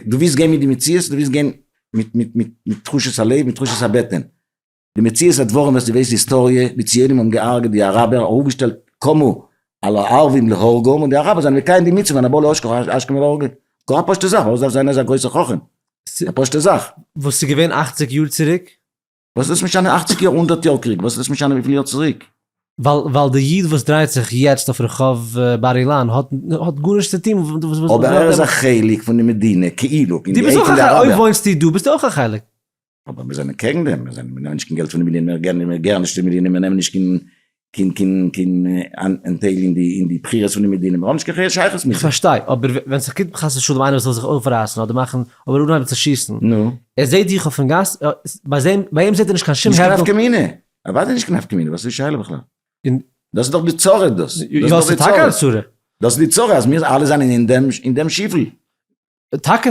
Speaker 1: דו ווילסט גיין מיט די
Speaker 2: מציאות? דו ווילסט גיין מיט מיט מיט מיט תחושות הלב? מיט תחושות הבטן? די מציאות הדברים וועסטו וויסן היסטאריע, די ציונים האבן געהארגעט די אראבער, ארויפגעשטעלט קמו על הערבים להורגום, און די אראבער זיינען מקיים די מצוה והבא להשכם והרגו. גאר א פשוטע זאך, פארוואס דארף זיין אזא גרויסע חכם? א פשוטע זאך. וואס איז געווען אכציג
Speaker 1: יאר צוריק? וואס איז עס משנה
Speaker 2: אכציג יאר? הונדערט יאר קריג? וואס איז עס משנה וויפיל יאר צוריק? ווייל ווייל די
Speaker 1: איד וואס דרייט זיך יעצט אויף רחוב בר אילן האט האט גארנישט צו טון מיט וואס אבער ער איז א
Speaker 2: חלק פון די מדינה כאילו פון די עדה פון די אראבער. אויב
Speaker 1: וואוינסטו דא ביסטו אויך א חלק. אבער מיר זענען
Speaker 2: קעגן דעם, מיר זענען מיר נעמען נישט קיין געלט פון די מדינה, מיר געבן נישט צו די מדינה, מיר נעמען נישט קיין קין קין קין אנטייל אין די אין די בחירות פון די מדינה, מיר האבן נישט קיין פריער שייכות מיט זיי. כ'פארשטיי, אבער
Speaker 1: ווען ס'איז קומט חס ושלום איינער וואס וויל זיך אויפרייסן אדער מאכן אדער אנהייבן צו שיסן, נו? ער זעט דיך
Speaker 2: אויפן גאס,
Speaker 1: ביי אים זעט ער נישט קיין שום הערדל. נישט קיין נפקא
Speaker 2: מינה, אוודאי נישט קיין נפקא מינה, וואס איז די שאלה בכלל? און. דאס איז דאך די צרה דאס. יא, ס'איז טאקע א צרה.
Speaker 1: דאס איז די צרה אז
Speaker 2: מיר אלע זענען אין דעם שיפל. טאקע.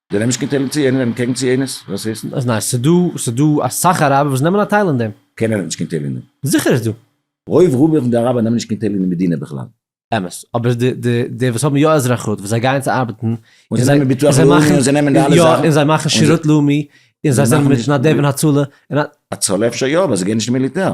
Speaker 1: זיי נעמען נישט קיין
Speaker 2: טייל צו יענער און קעגן צו יענערס? וואס הייסט? אז ניין, ס'דא, ס'דא
Speaker 1: אסאך אראבער וואס נעמען א טייל אין דעם. קיינער נעמט נישט קיין טייל אין דעם.
Speaker 2: זיכער איז דא.
Speaker 1: רוב רובם פון
Speaker 2: די אראבער נעמען נישט קיין טייל אין די מדינה בכלל. אמת, אבער די
Speaker 1: די די וואס האבן יא אזרחות וואס זיי גייען צו ארבעטן, און זיי נעמען ביטוח לאומי
Speaker 2: און זיי נעמען די אלע זאכן, און זיי מאכן
Speaker 1: שירות
Speaker 2: לאומי,
Speaker 1: און זיי זענען מתנדב אין הצלה, און א. הצלה אפשר
Speaker 2: יא, אבער זיי גייען נישט אין מיליטער.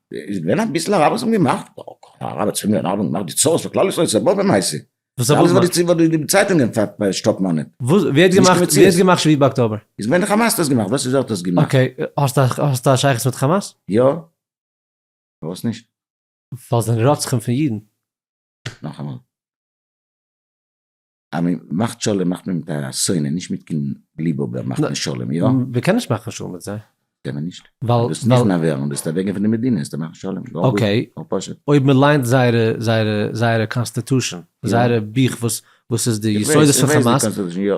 Speaker 1: איז געווען אביסל הרב
Speaker 2: וואס האבן געמאכט, הרב האט צוויי מאל געמאכט די צרות פאר כלל ישראל איז א באבע מעשה, וואס האט ער געמאכט? וואס
Speaker 1: האט די
Speaker 2: צייטונגען שטאפן אן אים? ווי האט געמאכט ווי האט
Speaker 1: געמאכט שביעי באקטאבער? איז געווען די כאמאס האט דאס געמאכט,
Speaker 2: וואס איז ווער האט דאס געמאכט? אקעי, האסט
Speaker 1: א שייכות מיט כאמאס? יא,
Speaker 2: פארוואס נישט? ווייל זיי זענען
Speaker 1: רוצחים פון אידן. נאכאמאל.
Speaker 2: אז מען מאכט שלום מאכט מען מיט א שונא נישט מיט קין גליבובער מאכט מען שלום יא? מען קען נישט מאכן שלום מיט
Speaker 1: זיי. קען מען נישט. ווייל
Speaker 2: דו ביסט נכנע ווערן
Speaker 1: דו ביסט
Speaker 2: אוועקגיין פון די מדינה איז דער מאכן שלום. אקעי
Speaker 1: אויב מען ליינט זייערע זייערע זייערע קאנסטעטושען זייערע בוך וואס וואס איז די יסודות פון חמאס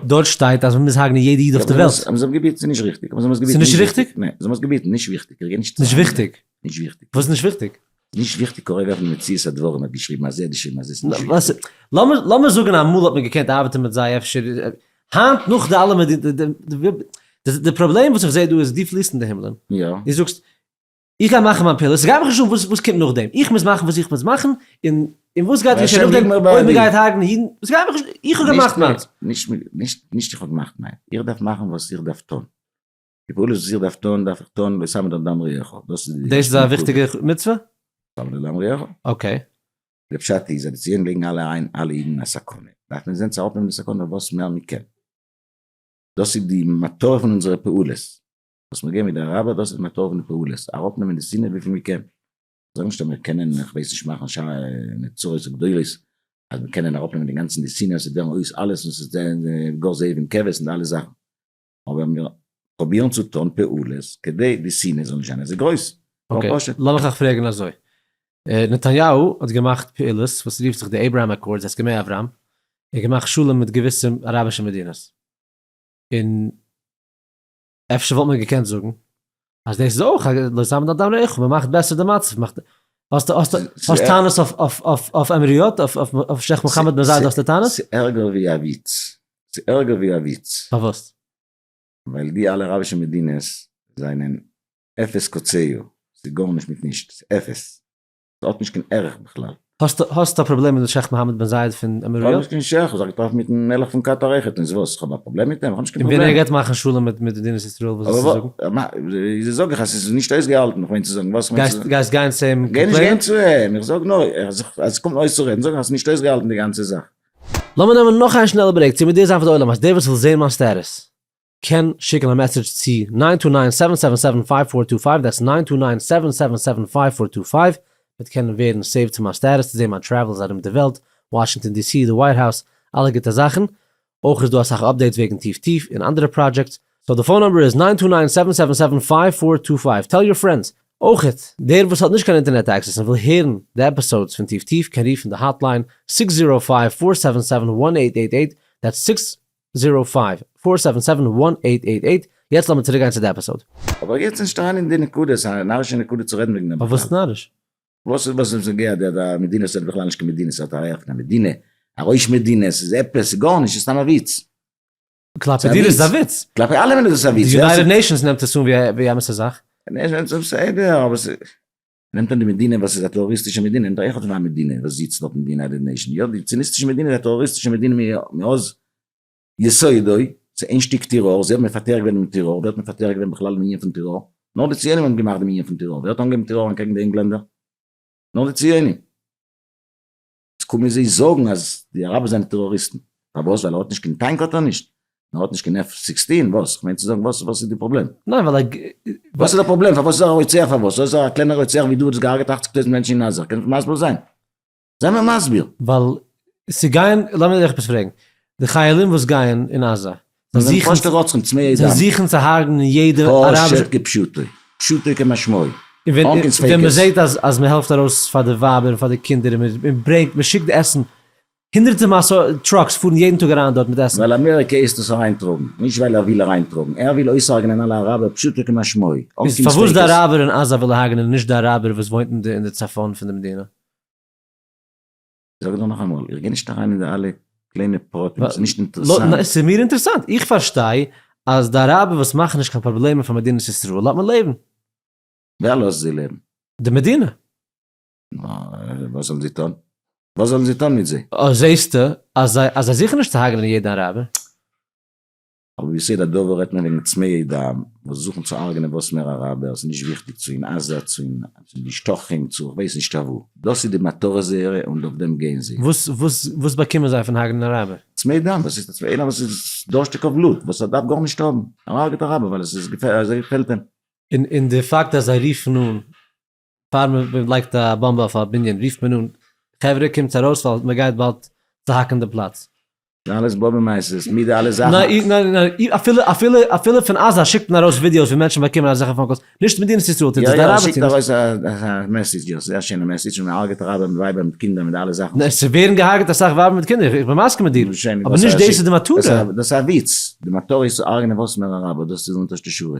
Speaker 1: דארט שטייט אז מען מוז הרגנען יעדע איד אויף די וועלט. יא אבער זיי האבן עס געביטן ס'איז נישט
Speaker 2: ריכטיג. ס'איז נישט ריכטיג?
Speaker 1: ניין זיי האבן עס געביטן נישט
Speaker 2: וויכטיג. נישט וויכטיג.
Speaker 1: נישט וויכטיג. וואס איז נישט
Speaker 2: וויכטיג?
Speaker 1: נישט וויכטיג קורא
Speaker 2: ווערט מציאות הדברים האט געשריבן אז ער האט געשריבן אז עס איז נישט וויכטיג. לאמיר זאגן אמאל
Speaker 1: האט מען געקענט ארבעטן מיט זיי אפשר היינט נאך די אלע די פראבלעם וואס איך זעה דא איז דו פליסט אין די הימלען דו זאגסט איך גיי מאכן מיין פעולות ס'גייט מיך נישט אן וואס קומט נאכדעם איך מוז מאכן וואס איך מוז מאכן און און וואס גייט געשען נאכדעם אויב מען גייט הרג'נען אידן ס'גייט מיך נישט איך האב געמאכט מיינס.
Speaker 2: נישט איך האב געמאכט מיינס איך דארף מאכן וואס איך דארף טון. די פעולות וואס איך דארף טון דארף איך טון ושם את הדם ריעך, דאס איז די דאס איז א וויכטיגע
Speaker 1: מצוה? שם את הדם ריעך.
Speaker 2: אקעי.
Speaker 1: די פשט
Speaker 2: איז אז די ציונים לייגן אלע איין אלע אידן אין א סכנה, דארף מען זען צו אראפנעמען די סכנה וואס מער מען קען, דאס איז די מטרה פון אונזערע פעולות, וואס מיר גייען מיט די רבי דאס איז די מטרה פון די פעולות, אראפנעמען די שנאה וויפיל מען קען, זאג נישט אז מיר קענען איך ווייס נישט מאכן ש א נצורות גדולות, אז מיר קענען אראפנעמען אינגאנצן די שנאה, עס איז דערמאנט אויס אלעס און עס איז גאר זאב און כבש און די אלע זאכן, אבער מיר פרובירן צו טון פעולות כדי די שנאה זאל נישט זיין אזוי גרויס. אקעי, לאמיך
Speaker 1: אייך פרעגן אזוי. נתניהו האט געמאכט פעולות וואס רופט זיך די אברהם אקארדס, הסכמי אברהם, ער האט געמאכט שלום מיט געוויסע אראבישע מדינות, און אפשר וואלט מען געקענט זאגן אז דאס איז אויך לא יזם אדם לאחיו, מען מאכט בעסער די מצב, מאכט, האסט האסט האסט טענות אויף אויף אויף אויף עמעריות, אויף אויף אויף שייח' מוחמד בן זייד האסטו טענות? ס'איז ערגער ווי א וויץ,
Speaker 2: ס'איז ערגער ווי א וויץ. פארוואס?
Speaker 1: ווייל
Speaker 2: די אלע אראבישע מדינות זענען אפס קצהו, ס'איז גארנישט מיט נישט, ס'איז אפס. האט נישט קיין ערך בכלל. האסט א פראבלעם
Speaker 1: מיט שייך מוחמד בן זייד פון עמיראט? איך האב נישט קיין שייך, איך
Speaker 2: האב זיך
Speaker 1: געטראפן
Speaker 2: מיטן מלך פון קאטאר אויכעט, און וואס? איך האב א פראבלעם מיט אים? איך האב נישט קיין פראבלעם. און ווען ער גייט מאכן שלום מיט
Speaker 1: מדינת ישראל וואס וועסטו זאגן? אבער זאג
Speaker 2: איך אז ס'איז נישט אויסגעהאלטן, איך מיין צו זאגן וואס מיינטס דאס? גייסט גיין צו אים קאמפלעינען?
Speaker 1: גיינישט גיין צו אים,
Speaker 2: איך זאג נאר אז עס קומט אויס צו רעדן זאג איך אז ס'איז נישט אויסגעהאלטן די גאנצע זאך. לאמיר נעמען
Speaker 1: נאך איין שנעלע ברעיק, צו מודיע זיין פאר די עולם אז דער וואס וויל זעהן מיין סטעטוס. קען שיקן א מעסעדזש צו נײַן טו נײַן סעווען סעווען סעווען פֿײַוו פֿאר טו פֿײַוו, דעטס נײַן טו נײַן סעווען סעווען סעווען פֿײַוו פֿאר טו פֿײַוו, וועט קענען ווערן סעיווד צו מיין סטעטוס צו זען מיין טרעוולס ארום די וועלט, וואשינגטאן די סי, די ווייט האוז, אלע גוטע זאכן. אויך איז דא אסאך אפדעיטס וועגן טיף טיף און אנדערע פראדזשעקטס. סאו די פאון נומבער איז נײַן טו נײַן סעווען סעווען סעווען פֿײַוו פֿאר טו פֿײַוו. טעל יור פרענדס. אויכעט, דער וואס האט נישט קיין אינטערנעט עקסעס און וויל הערן די עפיסאודס פון טיף טיף קען רופן די האטליין, סיקס זירא פֿײַוו פֿאר סעווען סעווען וואן עיט עיט עיט, דעטס סיקס זיראו פייוו פאר סעווען סעווען וואן עיט עיט עיט, יעצט לאמיר צוריק גיין צו די עפיסאוד. אבער איך גיי יעצט נישט אריין
Speaker 2: אין די נקודה, ס'איז א נארישע נקודה צו רעדן וועגן דעם בכלל. פארוואס איז נאריש?
Speaker 1: וואס איז וואס
Speaker 2: נוגע די די מדינה ס'איז בכלל נישט קיין מדינה ס'איז האט א רייכע מדינה א ראש מדינה ס'איז עפעס ס'איז גארנישט ס'איז סתם א וויץ. כלפי
Speaker 1: דיר איז עס א וויץ. כלפי אלעמען איז עס א וויץ. די
Speaker 2: יונייטעד נעישאנס נעמט עס
Speaker 1: אן ווי א אמת'ע זאך. נעישאנס איז בסדר
Speaker 2: אבער ס'איז. נעמט מען די מדינה וואס איז א טעראריסטישע מדינה און דאך האט מען א מדינה וואס זיצט דארט אין די יונייטעד נעישאן, יא די ציוניסטישע מדינה איז א טעראריסטישע מדינה מאז יסודו, ס'איז איין שטיק טעראר, זיי האבן מפתח געווען דעם טעראר, ווער האט מפתח געווען בכלל דעם ענין פון טעראר? נאר די ציונים האבן געמאכט דעם ענין פון טעראר, ווער האט אנגעהויבן טעראר אנטקעגן די ענגלענדער? נאר די ציונים. קומען זיי זאגן אז די אראבער זענען טעראריסטן, פארוואס ווייל ער האט נישט קיין טאנק האט ער נישט? ער האט נישט קיין עף סיקסטין וואס? כ'מיין צו זאגן וואס וואס איז די פראבלעם? ניין ווייל
Speaker 1: ער וואס איז די
Speaker 2: פראבלעם פארוואס איז ער א רוצח פארוואס איז ער א קלענער רוצח ווי דו וואס האסט געהארגעט אַכציק טויזנט מענטשן אין עזה קענסט מסביר זיין? זיי מיר מסביר. ווייל
Speaker 1: ס'גייען לאמיר דיך עפעס פרעגן די חיילים וואס גייען אין עזה זיי זענען פשוט'ע
Speaker 2: רוצחים צמאי דם.
Speaker 1: זיי זוכן צו הרג'נען יעדע אראבישע. פשוטו כפשוטו.
Speaker 2: פשוטו כמשמעו. אן קיין ספיקות.
Speaker 1: ווען מען זעט אז מען העלפט ארויס פאר די ווייבער און פאר די קינדער און מען ברענגט מען שיקט עסן, הונדערטע טראקס פארן יעדן טאג אריין דארט מיט עסן. ווייל אמעריקע הייסט עס
Speaker 2: אריינטראגן. נישט ווייל ער וויל אריינטראגן. ער וויל אויסהרג'נען אלע אראבער פשוטו כמשמעו. אן קיין ספיקות. פארוואס די אראבער
Speaker 1: אין עזה וויל ער הרג'נען און נישט די אראבער וואס וואוינט אין די צפון פון די מדינה?
Speaker 2: זאג דיר נאכאמאל, איך גיי נישט אריין אין די אלע קליינע פרטים, ס'איז נישט אינטערעסאנט. נו, ס'איז מיר אינטערעסאנט,
Speaker 1: איך פארשטיי אז די אראבער וואס מאכן נישט קיין פראבלעמען פאר מדינת ישראל לאט מען לעבן. ווער
Speaker 2: לאזט זיי לעבן? די מדינה.
Speaker 1: נו,
Speaker 2: וואס זאלן זיי טון? וואס זאלן זיי טון מיט זיי? זעסטו
Speaker 1: אז זיי זוכן נישט צו הרג'נען יעדן אראבער?
Speaker 2: אבער ביסוד הדבר רעדט מען וועגן צמאי דם וואס זוכן צו הרג'נען וואס מער אראבערס נישט וויכטיג צו אין עזה צו אין די שטחים צו כ'ווייס נישט אוואו. דאס איז די מטרה זייערע און אויף דעם גייען זיי. וואס וואס וואס באקומען זיי פון הארגענען אראבער? צמאי דם וואס איז איינער וואס איז דורשטיג אויף בלוט וואס ער דארף גארנישט האבן ער הארגעט אראבער ווייל עס איז געפעלט אים. און און די פאקט
Speaker 1: אז זיי רופן אן פאר מען לייגט א באמבע אויף א בנין רופט מען אן חברה קומטס ארויס ווייל מען גייט באלד צוהאקן די פלאץ. אלעס באבער
Speaker 2: מייסטערס מיט די אלע זאכן. ניין אפילו
Speaker 1: אפילו אפילו פון עזה שיקט מען ארויס ווידיאוס ווי מענטשן באקומען אזעלכע פאון קאלס, נישט מדינת ישראל טוט עס, די אראבער טוען עס. יא יא מ'שיקט
Speaker 2: ארויס א מעסעדזש, זייער שיינע מעסעדזש, און מ'הארגעט אראבער מיט ווייבער מיט קינדער מיט די אלע זאכן. ניין ס'ווערן געהארגעט אסאך
Speaker 1: ווייבער מיט קינדער, איך בין מסכים מיט דיר, אבער נישט דאס איז די מטרה. דאס איז א וויץ,
Speaker 2: די מטרה איז צו הרג'נען וואסמער אראבער, דאס איז אונטערשטע שורה.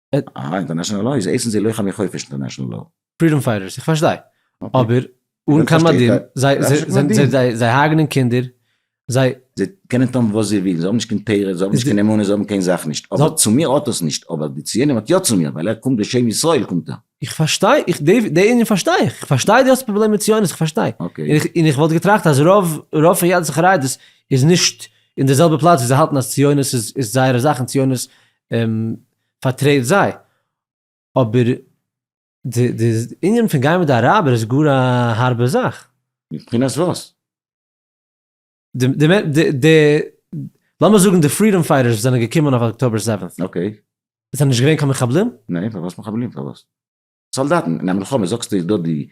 Speaker 1: אהא
Speaker 2: אינטערנעשענעל לאו איז עסן זיי לוחמי חופש אינטערנעשענעל לאו. פרידאם פייטערס איך פארשטיי
Speaker 1: אבער אן קיין מדים זיי זיי הרגנען קינדער זיי. זיי קענען טון
Speaker 2: וואס זיי ווילן זיי האבן נישט קיין תורה זיי האבן נישט קיין אמונה זיי האבן קיין זאך נישט אבער צו מיר האט עס נישט אבער די ציונים האט יא צו מיר ווייל ער קומט בשם ישראל קומט ער. איך פארשטיי איך
Speaker 1: די ענין פארשטיי איך איך פארשטיי די האסט פראבלעם מיט ציונות איך פארשטיי און איך וואלט
Speaker 2: געטראכט אז
Speaker 1: רוב רוב פון יהדות החרדית איז נישט אין די זעלבע פלאץ ווי זיי האלטן אז ציונות איז זייערע זאך און ציונות פארטרעט זיי, אבער די ענין פון גיין מיט די אראבער איז גאר א הארבע זאך. מבחינת וואס? די, לאמיר זאגן די פרידאם פייטערס וואס זענען געקומען אויף אקטאבער סעווענט'ס,
Speaker 2: זענען נישט געווען
Speaker 1: קיין מחבלים? ניין, פארוואס מחבלים?
Speaker 2: פארוואס? סאלדאטן אין א מלחמה, זאגסטו איז דא די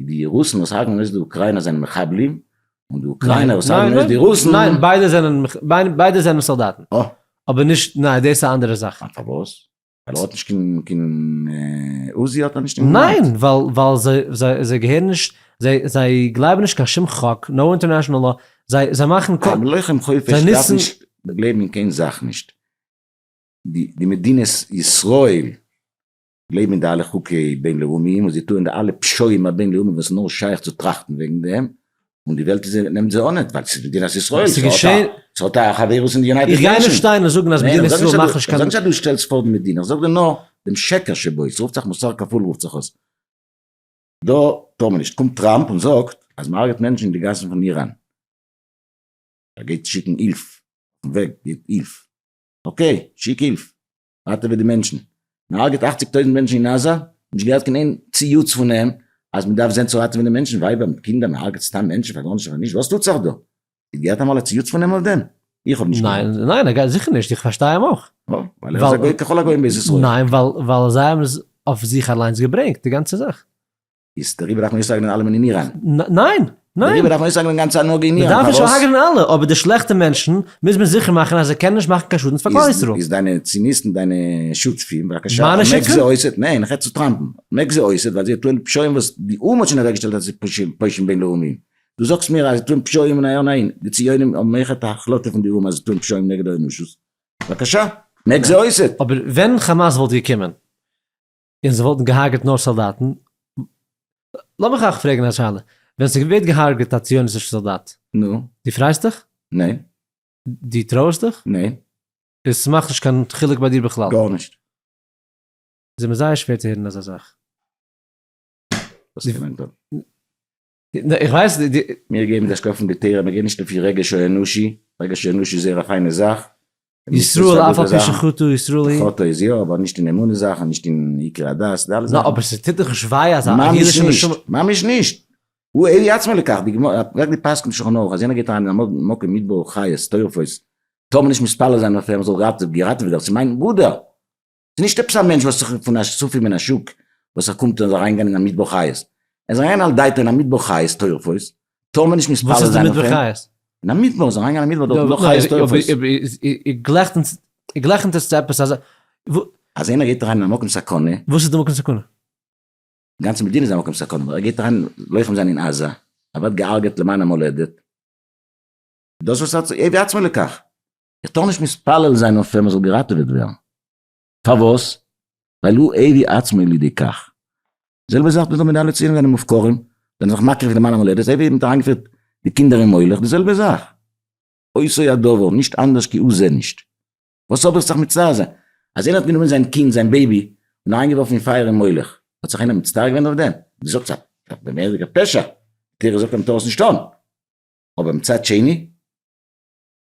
Speaker 2: די רוסן וואס הרגן אויס די אוקריינער זענען מחבלים, און די אוקריינער וואס הרגן אויס די רוסן. ניין
Speaker 1: ביידע זענען ביידע זענען סאלדאטן. אה. אבער נישט
Speaker 2: ניין
Speaker 1: דאס איז א אנדערע זאך. אה פארוואס? ווייל
Speaker 2: ער האט נישט קיין קיין עוזי האט ער נישט אין געוואנט? ניין ווייל ווייל
Speaker 1: זיי זיי געהערן נישט זיי זיי גלייבן נישט קיין שום חוק נאו אינטערנעשאנעל לאו זיי זיי מאכן א לוחם חופש
Speaker 2: דארף נישט גלייבן אין קיין זאך נישט די די מדינת ישראל לעבן אין די אלע חוקי בין לאומיים און זיי טוען די אלע פשעים הבין לאומיים וואס נאר שייך צו טראכטן וועגן דעם, און די וועלט איז נעמט זיי אנעט ווייל ס'איז מדינת ישראל, ס'האט א חברות אין די יונייטעד נעישאנס. איך גיי נישט שטיין און זאגן אז מדינת
Speaker 1: ישראל מאכט נישט קיין. איך זאג נישט אז דו שטעלסט פאר די
Speaker 2: מדינה, איך זאג דיר נאר דעם שקר שבו, ס'רופט זיך מוסר כפול רופט זיך עס, דא טאר מען נישט, קומט טראמפ און זאגט אז מ'הרג'עט מענטשן אין די גאסן פון איראן, ער גייט שיקן הילף, אויפן וועג געבט הילף, אקעי שיק הילף, ווייטער ווי די מענטשן. מען הרגעט אכציג טויזענט מענטשן אין עזה, נישט געהערט קיין איין ציוץ פון איהם אז מען דארף זעהן צו ראטעווען די מענטשן, ווייבער מיט קינדער, מען הרגעט סתם מענטשן פאר גארנישט און פאר נישט, וואס טוט זיך דא? איר געהערט אמאל א ציוץ פון איהם אויף דעם? איך האב נישט געהערט. ניין, ניין, א ג זיכער נישט,
Speaker 1: איך פארשטיי איהם אויך. נו, ווייל ער איז א גוי
Speaker 2: ככל הגוים בארץ ישראל. ניין, ווייל זיי
Speaker 1: האבן עס אויף זיך אליינס
Speaker 2: געברענגט,
Speaker 1: די
Speaker 2: גאנצע זאך. איז
Speaker 1: דעריבער
Speaker 2: דארף מען אויסהארגענען
Speaker 1: אלעמען
Speaker 2: אין איראן?
Speaker 1: ניין!
Speaker 2: ניין!
Speaker 1: דעריבער דארף מען אויסהארגענען גאנץ
Speaker 2: הנהגה אין איראן, פארוואס? מ'דארף נישט אויסהארגענען אלע,
Speaker 1: אבער די שלעכטע מענטשן מוז מען זיכער מאכן אז זיי קענען נישט מאכן קיין שאדנס פאר כלל ישראל. איז דיינע ציניסטן
Speaker 2: דיינע שותפים, בבקשה, מיינע שותפים? מעק זיי
Speaker 1: אויסעט,
Speaker 2: ניין,
Speaker 1: איך רעד צו
Speaker 2: טראמפ'ן, מעק זיי אויסעט ווייל זיי טוען פשעים וואס די או"ם האט שוין אוועקגעשטעלט אז ס'איז פשעים, פושעים בינלאומיים. דו זאגסט מיר אז זיי טוען פשעים און א יא ניין, די ציונים האבן אויכעט א החלטה פון די או"ם אז זיי טוען פשעים נגד האנושות, בבקשה, מעק זיי אויסעט! אבער ווען חאמאס
Speaker 1: וואלט געקומען און זיי וואלטן געהארגעט נאר סאלדאטן, לאמיך אייך פרעגן א שאלה, ווען ס'ווערט געהארגעט א ציוניסטישע סאלדאט, נו? דו פרייסט
Speaker 2: דיך?
Speaker 1: ניין.
Speaker 2: דו
Speaker 1: טרויערסט דיך? ניין.
Speaker 2: און ס'מאכט
Speaker 1: נישט קיין חילוק ביי דיר בכלל? גארנישט.
Speaker 2: ס'איז
Speaker 1: מיר זייער שווער צו הערן אזא זאך.
Speaker 2: וואס קען מען טון?
Speaker 1: איך ווייס די. מיר געבן די אשכול
Speaker 2: פון די תורה, מיר גייען נישט לפי רגש האנושי, רגש האנושי איז זייער א פיינע זאך. ישראל אף
Speaker 1: על פי שחטא ישראל היא. חטא איז יא, אבער נישט
Speaker 2: אין אמונה זאכן, נישט אין עיקרי הדת, די אלע זאכן. נא, אבער ס'טוט דאך נישט
Speaker 1: וויי אז א אידישע נשמה.
Speaker 2: ממש נישט. הוא עיני עצמו לכך, די גמרא, פרעג די פסק'ן אין שולחן ערוך, אז יענער גייט אריין אין א מקום מיט בו חיות, טורפות, טאר מען נישט מתפלל זיין אויף אים, ער זאל געראטעוועט ווערן, דאס איז מיין ברודער! ס'איז נישט עפעס א מענטש וואס איז פון א ספי מן השוק וואס ער קומט און איז אריינגעגאנגען אין א מדבר חיות, ער איז אריין על דעתו אין א מדבר חיות טורפות, טאר מען נישט מתפלל זיין אויף אים? וואס איז די מדבר חיות? אין א מדבר, איז אריינגעגאנגען אין א מדבר דארט איז נאר חיות
Speaker 1: טורפות. איר גלעכנט עס צו עפעס אזא וואס. אז איינער
Speaker 2: גייט אריין אין א מקום סכנה. וואס איז די מקום סכנה?
Speaker 1: די גאנצע
Speaker 2: מדינה איז א מקום סכנה, אבער ער גייט אריין לוחם זיין אין עזה, ער ווערט געהארגעט למען המולדת, דאס וואס ער האט, עי' בעצמו לקח. איך טאר נישט מתפלל זיין אויף ער מען זאל געראטעוועט ווערן. פארוואס? ווייל הוא הביא עצמו לידי כך. זעלבע זאך וויאזוי מנהלי ציונים זענען מופקרים, זענען זיך מקריב פון די מן המולדת, אזוי ווי מ'האט אריינגעפירט די קינדער אין מולך, די זעלבע זאך. אותו הדבר, נישט אנדערש כי הוא זה נישט. וואס האב איך זיך מצטער זיין? אז איינער האט גענומען זיין קינד, זיין בעיבי, און אריינגעווארפן אין פייער אין מולך, האט זיך איינער מצטער געווען אויף דעם? די זאגסט א מורא'דיגע פשע, די תורה זאגט אז מ'טאר עס נישט טון. אבער מצד שני?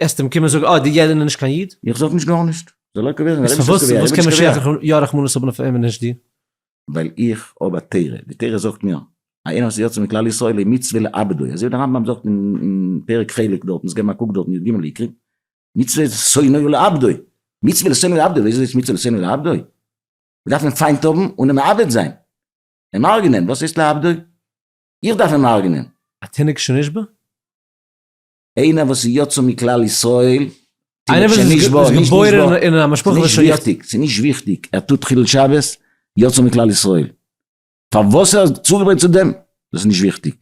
Speaker 1: עסט אים קום און זאג, אוי, די ידען איז נישט קיין איד. איך זאג נישט גארנישט.
Speaker 2: זאל ער קאפירן, איז פארוואס פארוואס קען משיח
Speaker 1: יא רחמנות האבן אויף אים און נישט דיר? ווייל איך
Speaker 2: האב א תורה, די תורה זאגט מיר, א ענין וואס יוצא מכלל ישראל איז מצוה לעבדו, אזוי ווי די רמב ם זאגט אין פרק חלק דארטן, זיי געבן א קוק דארט אין יג עיקרים, מצוה לשונאו לעבדו, מצוה לשונאו לעבדו, ווי אזוי איז מצוה לשונאו לעבדו? מען דארף אים פיינט האבן און אים מאבד זיין, אים הרג'נען, וואס הייסט לעבדו? איך דארף אים הרג'נען? א תינוק שנשבה? איינער וואס איז יצא מכלל ישראל, איינער וואס
Speaker 1: איז געבוירן אין א משפחה וואס איז נישט באר, ס'איז נישט וויכטיג,
Speaker 2: ער טוט חילול שבת, יצא מכלל ישראל, פארוואס ער האט צוגעברענגט צו דעם, דאס איז נישט וויכטיג,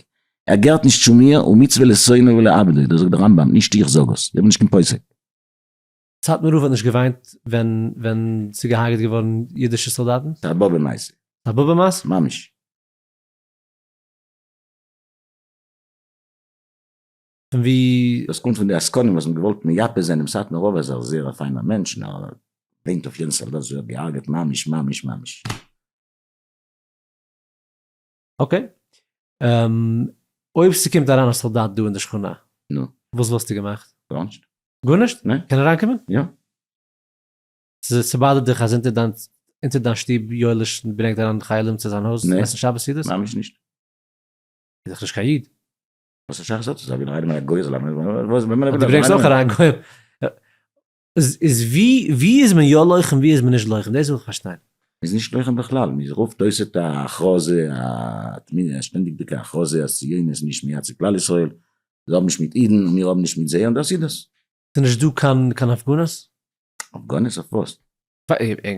Speaker 2: ער געהערט נישט צו מיר, ומצוה לשונאיו ולעבדיו, דאס זאגט דער רמב ם, נישט איך זאג עס, איך בין נישט קיין פוסק.
Speaker 1: סאטמאר רב האט נישט געוויינט ווען ווען ס'איז געהארגעט געווארן אידישע סאלדאטן? ס'איז א באבע מעשה.
Speaker 2: א באבע מעשה?
Speaker 1: ממש. און ווי. דאס קומט פון די עסקנים וואס
Speaker 2: האבן געוואלט מייפה זיין דעם סאטמאר רב אז ער איז זייער א פיינער מענטש און ער ליינט אויף יעדן סאלדאט ווי ער האט געהארגעט ממש ממש ממש.
Speaker 1: אקעי. אויב ס'קומט אריין א סאלדאט דא אין די שכונה. נו. וואס
Speaker 2: וואלסטו געמאכט?
Speaker 1: גארנישט.
Speaker 2: גארנישט? ניין. קען
Speaker 1: אריינקומען? יא. ס'באדערט דיך אז אונטער דיין אונטער דיין שטוב יואליש ברענגט אריין חיילים צו זיין הויז עסן שבת סעודות? ממש נישט.
Speaker 2: איז
Speaker 1: דאך נישט קיין איד. וואס אסאך זאגט
Speaker 2: אז אויב איינער א גוי זאל אריין וואס דו
Speaker 1: ברענגסט אויך אריין א גוי איז ווי ווי איז מען יא לוחם ווי איז מען נישט לוחם דאס וויל איך פארשטיין. מ'איז נישט לוחם
Speaker 2: בכלל, מ'רופט אויס את ההכרזה, א שטענדיגדיגע הכרזה אז ציונות איז נישט מייצג כלל ישראל, זיי האבן נישט מיט אידן און מיר האבן נישט מיט זיי און דאס איז דאס. ס'איז נישט דא קיין
Speaker 1: קיין הפגנות? הפגנות
Speaker 2: אויף וואס?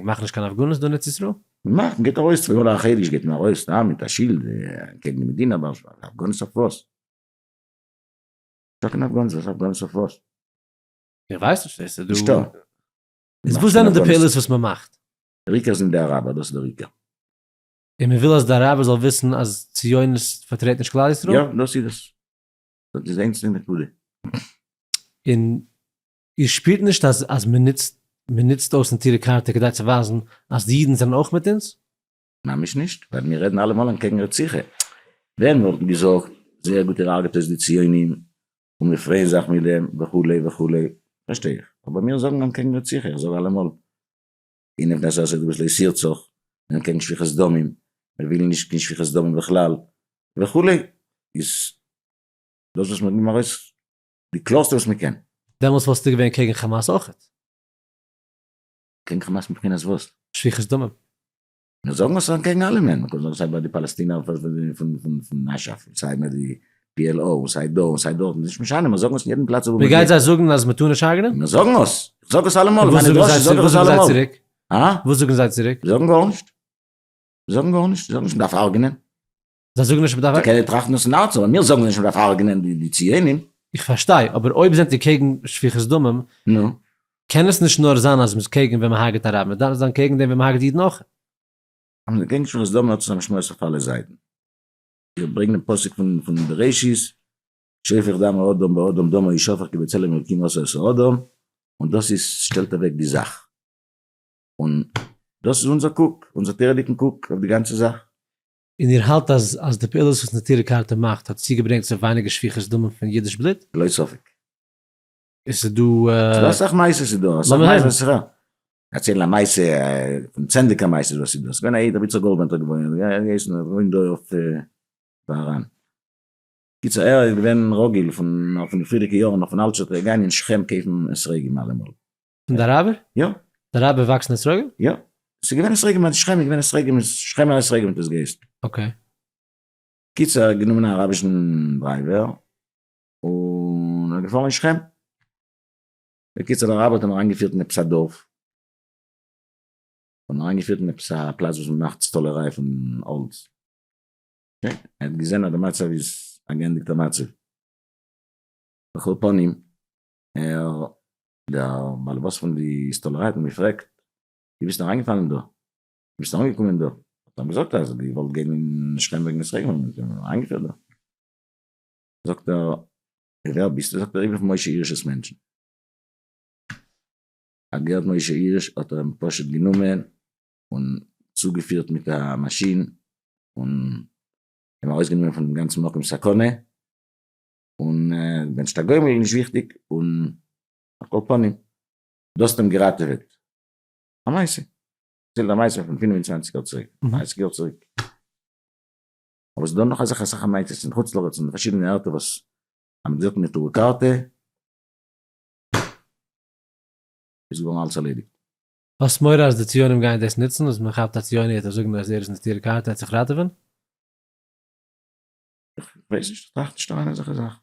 Speaker 2: מאכן
Speaker 1: נישט קיין הפגנות דא אין ארץ ישראל? מ'מאכט, מ'גייט ארויס
Speaker 2: צו כל החדש גייט מען ארויס סתם מיט א שילד קעגן די מדינה אבער הפגנות אויף וואס? נישטא קיין הפגנות, וואס הפגנות אויף וואס? איך ווייס
Speaker 1: נישט, עס איז דא. נישטא.
Speaker 2: איז וואס
Speaker 1: זענען די פעולות וואס מ'מאכט? דער עיקר זענען די
Speaker 2: אראבער, דאס איז דער עיקר. און
Speaker 1: מ'וויל אז די אראבער זאל וויסן אז ציונות פארטרעט נישט כלל ישראל? יא, דאס איז עס.
Speaker 2: דאס איז איינס פון נקודה. און איר
Speaker 1: שפירט נישט אז אז מען נוצט מען נוצט אויס נטירי קרתא כדי צו ווייזן אז די אידן זענען אויך מיט אונז? ממש
Speaker 2: נישט, ווייל מיר רעדן אלעמאל אנטקעגן רציחה. ווער נאך געזאגט זייער גוט איר הרג'ט אויס די ציונים און מיר פרייען זיך מיט דעם וכו' וכו', פארשטיי איך, אבער מיר זאגן אנטקעגן רציחה, איך זאג אלעמאל. און איך בין נישט אזוי גרויס לעת ירצוך, און קעגן שפיכת דמים, מיר ווילן נישט קיין שפיכת דמים בכלל, וכו', איז דאס וואס מ'האט געגעבן ארויס די קלארסטע וואס מ'קען. דעמאלס וואלסטו געווען
Speaker 1: קעגן חאמאס אויכעט?
Speaker 2: קעגן חאמאס מבחינת וואס? שפיכת דמים.
Speaker 1: מיר זאגן
Speaker 2: עס אקעגן אלעמען, מ'קען זאגן סיי ביי די פאלעסטינער פון אשף, סיי ביי די PLO, און סיי דא און סיי דארט, און נישט משנה, מיר זאגן עס אין יעדן פלאץ וואו מיר גייען. מיר גייט זיי זאגן אז
Speaker 1: מ'טאר נישט הרג'נען? מיר זאגן עס! איך
Speaker 2: זאג עס אלעמאל, מיינע דרשות זאג
Speaker 1: איך עס אלעמאל. אה? וואס זאגן זיי
Speaker 2: צוריק? זיי
Speaker 1: זאגן גארנישט.
Speaker 2: זיי זאגן גארנישט, זיי זאגן נישט מ'דארף הרג'נען. זיי זאגן נישט
Speaker 1: מ'דארף. זיי קענען טראכטן עס אין הארץ,
Speaker 2: אבער מיר זאגן נישט מ'דארף הרג'נען די ציונים. איך פארשטיי, אבער
Speaker 1: אויב זענט איר קעגן שפיכות דמים, נו?
Speaker 2: קען עס נישט נאר
Speaker 1: זיין אז מ'איז קעגן ווען מ'הרג'עט א רב, מ'דארף זיין קעגן דעם ווען מ'הרג'עט אידן אויך. אז מ'איז
Speaker 2: קעגן שפיכות דמים האט עס א משמעות אויף אלע זייטן. זיי ברענגן דעם פסוק פון בראשית, שופך דם האדם באדם דמו ישפך כי בצלם אלקים עשה את האדם, און דאס איז שטעלט אוועק די זאך, און דאס איז אונזער קוק, אונזער תורה'דיגן קוק אויף די גאנצע זאך. און איר האלט
Speaker 1: אז די פעולות וואס נטורי קרתא מאכט האט צוגעברענגט צו ווייניגער שפיכות דמים פון אידיש בלוט? ללא ספק. עס איז דא אסאך מעשות
Speaker 2: איז דא אסאך מעשות. אצל א מעשה פון צענדליגער מעשות וואס איז דא. עס איז געווען א איד רבי יצחק גאלדווענט האט געוואוינט ער האט געהייסן ער וואוינט דא אויף בארהאן. קיצור ער איז געווען רגיל פון פון די פריערדיגע יארן נאך פון אלטשעט גיין אין שכם קויפן אתרוגים אלעמאל. פון די אראבער?
Speaker 1: יא. די אראבער
Speaker 2: וואקסן
Speaker 1: אתרוגים? יא. עס איז געווען
Speaker 2: אתרוגים אין שכם איז געווען אתרוגים אין שכמער אתרוגים האט עס געהייסן. אקעי. קיצור ער האט גענומען א אראבישן דרייווער. און ער איז געפאלן אין שכם. בקיצור די ארבייטער האבן אריינגעפירט אין עפעס א דארף, האבן אריינגעפירט אין עפעס א פלאץ וואס מ'מאכט סטאלעריי פון האלץ, אקעי, ער האט געזען אז די מצב איז א געענדיגטע מצב, על כל פנים, ער, דער בעל הבית פון די סטאלעריי האט אים געפרעגט, ווי ביסטו אריינגעפאלן דא? ווי ביסטו אנגעקומען דא? האט ער אים געזאגט אז ער האט געוואלט גיין אין שכם וועגן עס רעגנען, און זיי האבן אים אריינגעפירט דא. זאגט ער, ווער ביסטו? זאגט ער, איך בין פון משה הירש'ס מענטשן. האט געהערט משה הירש האט ער אים פשוט גענומען און צוגעפירט מיט א מאשין און אים ארויסגענומען פונעם גאנצן מקום סכנה, און ווען נישט א גוי מיר נישט וויכטיג, און על כל פנים דו האסט אים געראטעוועט. א מעשה. ער דערציילט א מעשה פון פינף און צוואנציג יאר צוריק, דרייסיג יאר צוריק. אבער ס'דא נאך אזעלכע אסאך ענייתות אין חוץ לארץ און פארשידענע ערטער וואס אז מ'האט געזאגט נטורי קרתא איז געווארן אלעס ארלעדיגט. האסט מורא אז
Speaker 1: די ציונים גייען דאס נוצן אז מ'כאפט א ציוני וועט ער זאגן אז ער איז נטורי קרתא ער האט זיך ראטעווען? איך ווייס נישט איך טראכט נישט אריין
Speaker 2: אין אזעלכע זאכן.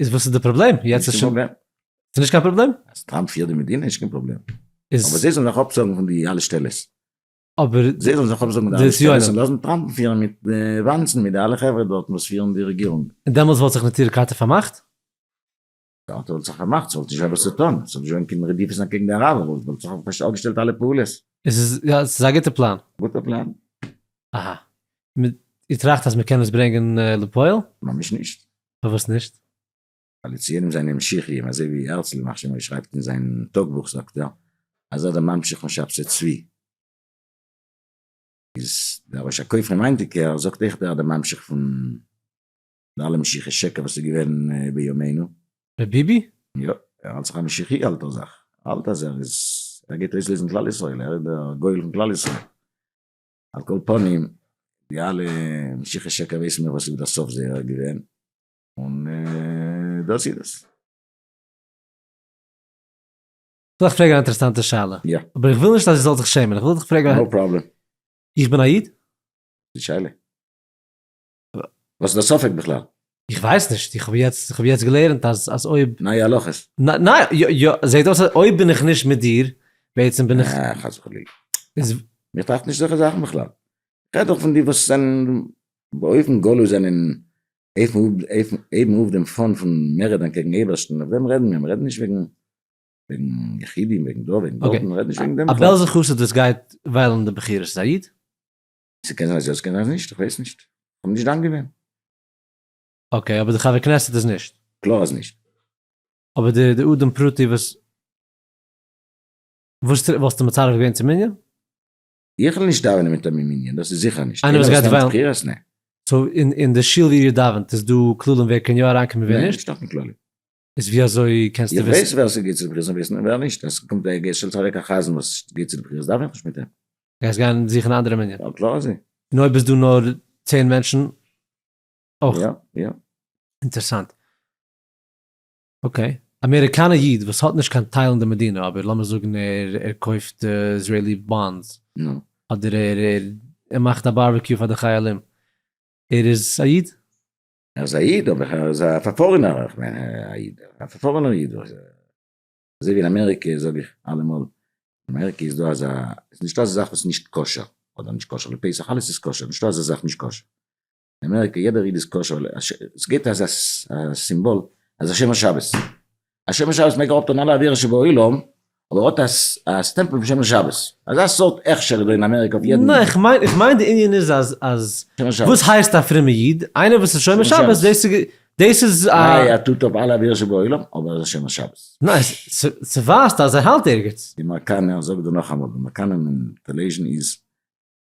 Speaker 2: איז וואס איז די
Speaker 1: פראבלעם? יעצט איז שוין פראבלעם. ס'איז נישט קיין פראבלעם? אז טראמפ פירט די מדינה
Speaker 2: איז נישט קיין פראבלעם. איז. אבער זיי זאלן זיך אפזאגן
Speaker 1: פון די
Speaker 2: אלע שטעלעס. אבער.
Speaker 1: זיי זאלן זיך אפזאגן
Speaker 2: פון די אלע שטעלעס און לאזן
Speaker 1: טראמפ'ן פירן מיט
Speaker 2: וואנצן מיט די אלע חברה דארטן וואס פירן די רעגירונג. און דעמאלטס וואלט זיך נטורי
Speaker 1: קרתא פארמאכט?
Speaker 2: קרתא וואלט זיך פארמאכט, ס'וואלט נישט געהאט וואס צו טון, ס'וואלט נישט געווען קיין רדיפות אנטקעגן די אראבער, וואלט וואלט זיך אפגעש אפגעשטעלט אלע פעולות. עס איז יא עס איז א
Speaker 1: גוטע פלאן. גוטע פלאן.
Speaker 2: אהא.
Speaker 1: מ איר טראכט אז מ'קען עס ברענגען לפועל? ממש נישט.
Speaker 2: פארוואס נישט?
Speaker 1: ווייל די ציונים
Speaker 2: זענען משיחיים, אזוי ווי הרצל ימח שמו שרייבט אין זיין טאג בוך זאגט ער אז ער דער ממשיך פון שבתי צבי, איז דער ראש הכופרים היינטיגער זאגט אויך ער דער ממשיך פון די אלע משיחי שקר וואס איז געווען בימינו. ר' ביבי?
Speaker 1: יא, ער האלט זיך
Speaker 2: א משיחי אלטער זאך, ער האלט אז ער איז ער גייט אויסלעזן כלל ישראל, ער איז דער גואל פון כלל ישראל. על כל פנים, די אלע משיחי שקר ווייסן מיר וואס איז דער סוף זייער געווען, און דאס איז עס.
Speaker 1: זאל איך פרעגן א אינטערעסאנטע שאלה? יא. אבער איך וויל נישט אז דו
Speaker 2: זאלסט זיך
Speaker 1: שעמען, איך וויל דיך פרעגן א. נאו פראבלעם.
Speaker 2: איך בין א איד?
Speaker 1: גוטע שאלה.
Speaker 2: וואס איז די ספק בכלל? איך ווייס נישט,
Speaker 1: איך האב יעצט, איך האב יעצט געלערנט אז אז אויב. נייע הלכות. ניין,
Speaker 2: יא
Speaker 1: יא, זעהט אויס אז אויב בין איך נישט מיט דיר, בעצם בין איך. אה, חס וחלילה.
Speaker 2: איז. מיר
Speaker 1: טראכט נישט אזעלכע
Speaker 2: זאכן בכלל. כ'רעד דאך פון די וואס זענען באופן גלוי זענען הייבן אויף דעם פאן פון מערעדען קעגן אייבערשטן, אויף דעם רעדן מיר, מיר רעדן נישט וועגן וועגן יחידים, וועגן דא, וועגן דארט, מיר רעדן נישט וועגן דעם בכלל. א
Speaker 1: בעלזער
Speaker 2: חסיד וואס גייט
Speaker 1: וויילן די בחירות, איז א איד? ס'קען זיין
Speaker 2: אז יא ס'קען זיין אז נישט, איך ווייס נישט, כ'בין נישט דן געווען.
Speaker 1: אקעי, אבער די חבר כנסת איז נישט. קלאר אז נישט.
Speaker 2: אבער די
Speaker 1: די אדם פרטי וואס וואס טרעפט וואלסטו מצרף געווען צום מנין? איך וועל
Speaker 2: נישט דאווענען מטעם די מנין, דאס איז זיכער נישט. איינער וואס גייט וועלן. בחירות? נע.
Speaker 1: סאו
Speaker 2: אין אין די
Speaker 1: שול ווי איר דאווענט איז דא כללים ווער קען יא אריינקומען ווער נישט? נישט דא קיין כללים.
Speaker 2: איז ווי אזוי
Speaker 1: קענסטו וויסן? איך ווייס ווער ס'גיט צו די בחירות
Speaker 2: און ווער
Speaker 1: ס'נישט,
Speaker 2: ווער נישט, עס קומט ווען געשטעלט אוועק א חזן וואס גיט צו די בחירות דארף איך נישט מיט אים. גייסט גיין זוכן
Speaker 1: א אנדערע מנין? יא קלאר אזוי. און
Speaker 2: אויב איז דא נאר
Speaker 1: צען מענטשן אויך? יא יא.
Speaker 2: אינטערסאנט.
Speaker 1: אקעי. אמעריקאנע איד וואס האט נישט קיין טייל אין די מדינה אבער לאמיר זאגן ער ער קויפט איזרעילי באנדס. נו. אדער
Speaker 2: ער ער
Speaker 1: ער מאכט א בארבעקיו פאר די חיילים. ער איז א איד? ער איז א איד
Speaker 2: אבער ער איז א פארפארענער איך מיין א איד א פארפארענער איד אזוי ווי אין אמעריקע זאג איך אלעמאל אין אמעריקע איז דא אזא איז נישטא אזא זאך וואס איז נישט כשר אדער נישט כשר לפסח אלעס איז כשר נישטא אזא זאך נישט כשר אין אמעריקע יעדער איד איז כשר ס'געבט אזא סימבאל אז השומר שבת. א שומר שבת מעג אראפטון אלע עבירות שבעולם, אבער האט א סטעמפל פון שומר שבת. אזא סארט הכשר איז דא אין אמעריקע אויף יעדן. נע, איך מיין, איך מיין
Speaker 1: די ענין איז אז, אז וואס
Speaker 2: הייסט א פרומע איד?
Speaker 1: איינער וואס איז שומר שבת, דאס איז, דאס איז א. איי ער טוט אפ
Speaker 2: אלע עבירות שבעולם, אבער ער איז א שומר שבת. נע, ס,
Speaker 1: ס'ווייזט אז ער האלט ערגעץ. די מקנא, איך זאג דיר
Speaker 2: נאכאמאל, די מקנא אין טעלעוויזשן איז,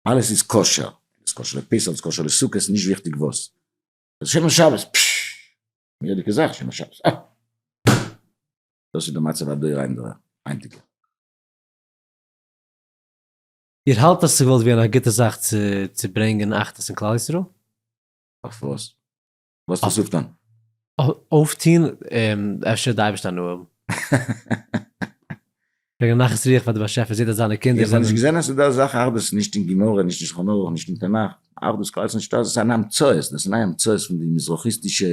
Speaker 2: אלעס איז כשר, ס'איז כשר לפסח, ס'איז כשר לסוכות, נישט וויכטיג וואס. ער איז שומר שבת, פששש. מורא'דיגע זאך שומר שבת, אה! דאס איז די מצב הדור אין
Speaker 1: דור היינטיגע. איר האלט אז ס'וואלט געווען א גוטע זאך צו צו ברענגען אחדות אין כלל ישראל? אויף
Speaker 2: וואס? וואס ווילסטו אויפטון? אויפטון,
Speaker 1: אפשר די אייבערשטער הנאה האבן. וועגן א נחת רוח פאר די באשעפער זעהט אז זיינע קינדער זענען. איך האב נישט געזען אז ס'איז דא
Speaker 2: אזאך אחדות נישט אין גמרא נישט אין שולחן ערוך נישט אין תנך, אחדות קלאר איז נישטא דאס איז אן המצאות דאס איז נייע המצאות פון די מזרחי'סטישע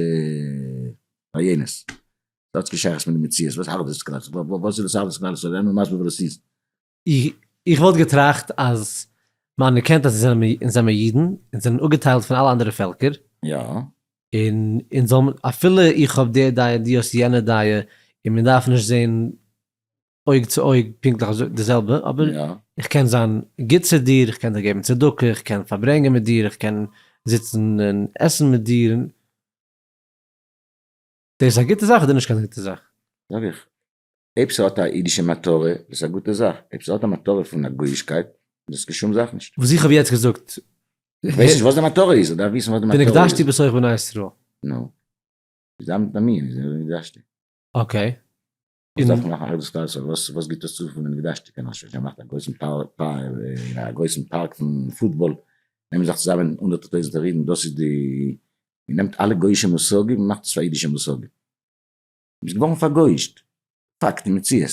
Speaker 2: רעיונות דאס האט קיין שייכות מיט די מציאות וואס אחדות קלאר איז וואס איז דאס אחדות קלאר איז זיי זענען מסביר וואס דאס איז. איך
Speaker 1: וואלט געטראכט אז מ'אנערקענט אז אונז זענען מיר אידן, אונז זענען אפגעטיילט פון אלע אנדערע פעלקער, און
Speaker 2: אונז
Speaker 1: זאל מען אפילו איך האב די דעה און דו האסט יענע דעה און מיר דארפן נישט זעהן אויג צו אויג פונקטליך אזוי די זעלבע, אבער יא. איך קען זיין גוט צו דיר, איך קען דיר געבן צדקה, איך קען פארברענגען מיט דיר, איך קען זיצן און עסן מיט דיר, און דאס איז א גוטע זאך אדער נישט קיין גוטע זאך? זאג איך,
Speaker 2: אויב ס'האט א אידישע מטרה איז עס א גוטע זאך, אויב ס'האט א מטרה פון א גויאישקייט איז עס קיין שום זאך נישט. וואס איך האב יעצט געזאגט.
Speaker 1: איך ווייס נישט וואס
Speaker 2: די מטרה איז, איך דארף וויסן וואס די מטרה איז. ונקדשתי בסך בני
Speaker 1: ישראל. נו.
Speaker 2: איז א מין, איז א ונקדשתי. אקעי.
Speaker 1: וואס דארף
Speaker 2: מען מאכן אויב עס קאסט אזוי וואס וואס גיבט עס צו פון די געדאשטע קען איך שוין שוין מאכט א גרויסן פארק א גרויסן פארק פון פוטבאל נעמען זיך צוזאמען הונדערטער טויזענטער אידן דאס איז די מען נעמט אלע גויאישע מושגים און מאכט עס פאר אידישע מושגים מ'איז געווארן פארגויאישט פאקט און מציאות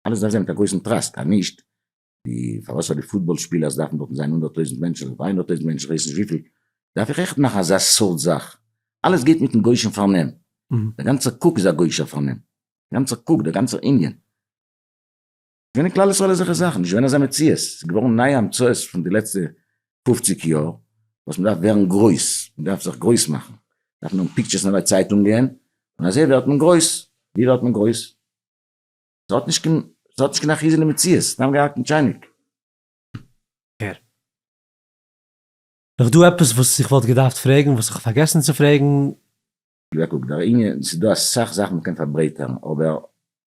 Speaker 2: אלעס דארף זיין מיט א גרויסן טראסק אז נישט די פארוואס פאר די פוטבאל שפילערס דארפן דארטן זיין הונדערט טויזנט מענטשן אדער דריי הונדערט טויזנט מענטשן כ'ווייס נישט וויפיל דארף איך עכט מאכן אזא סארט זאך? אלעס גייט מיטן גוי'שן פארנעם, דער גאנצער
Speaker 1: קוק איז א
Speaker 2: גוי'שער פארנעם, דער גאנצער קוק, דער גאנצער ענין. ס'געווען אין כלל ישראל אזעלכע זאכן, נישט געווען אזא מציאות, ס'איז געווארן נייע המצאות פון די לעצטע פופציג יאר וואס מ'דארף ווערן גרויס, מ'דארף זיך גרויס מאכן, מ'דארף נאכן פיקטשערס אין אלע צייטונגען און אזוי ווערט מען גרויס, ווי ווערט מען גרויס? ס'האט נישט קיין, ס'האט נישט קיין אחיזה אין די מציאות, סתם געהאקט אין טשייניק. הער
Speaker 1: איך דא עפעס וואס איך וואלט געדארפט פרעגן וואס כ'האב פארגעסן צו פרעגן? יא קוק,
Speaker 2: דער ענין, ס'איז דא אסאך זאכן מ'קען פארברייטערן, אבער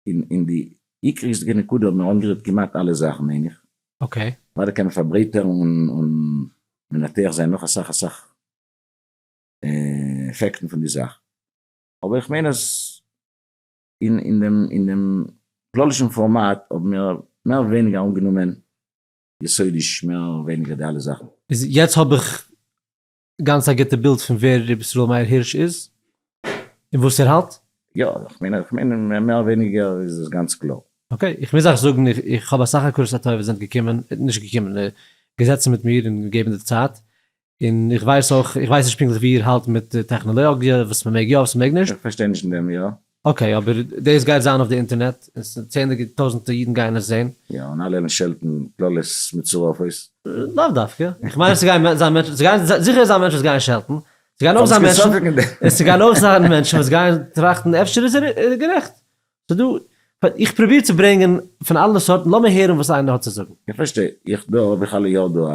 Speaker 2: אין די עיקריש'דיגע נקודה האבן מיר אנגערירט כמעט אלע זאכן מיין איך. אקעי. אוודאי קען
Speaker 1: מען
Speaker 2: פארברייטערן און מנתח זיין נאך אסאך אסאך עפעקטן פון די זאך, אבער איך מיין אז אין דעם אין דעם כללישן פארמאט האבן מיר מער ווייניגער אנגענומען יסודיש מער ווייניגער די אלע זאכן. איז יעצט האב איך
Speaker 1: גאנץ א גוטע בילד פון ווער ר' ישראל מאיר הירש איז און וואס ער האלט? יא, איך מיין איך
Speaker 2: מיין מער ווייניגער איז עס גאנץ קלאר. אקעי, איך מוז אייך זאגן
Speaker 1: איך האב אסאך הכרת הטוב וואס זענט געקומען, נישט געקומען, געזעצן מיט מיר און געגעבן די צייט, און איך ווייס אויך, איך ווייס נישט פונקטליך ווי איר האלט מיט די טעכנעלאגיע, וואס מען מעג יא, וואס מען מעג נישט. איך פארשטיי נישט אין דעם, יא.
Speaker 2: אקעי, אבער
Speaker 1: דאס גייט זיין אויף די אינטערנעט, און ס ה צענדליגע טויזענטע אידן גייען עס זען. יא, און אלע וועלן שעלטן
Speaker 2: קללות מצורפות. לאו דווקא, איך
Speaker 1: מיין עס גייען זיין מענטשן, עס גייען זיכער זיין מענטשן וואס גייען שעלטן, עס גייען אויך זיין מענטשן, און עס גייען אויך זיין מענטשן וואס גייען טראכטן אפשר איז ער גערעכט. ס'איז דא, איך פרוביר צו ברענגען פון אלע סארטן, לאמיר הערן וואס איינער האט צו זאגן. איך פארשטיי, איך
Speaker 2: דא האב איך אלע יאר דא א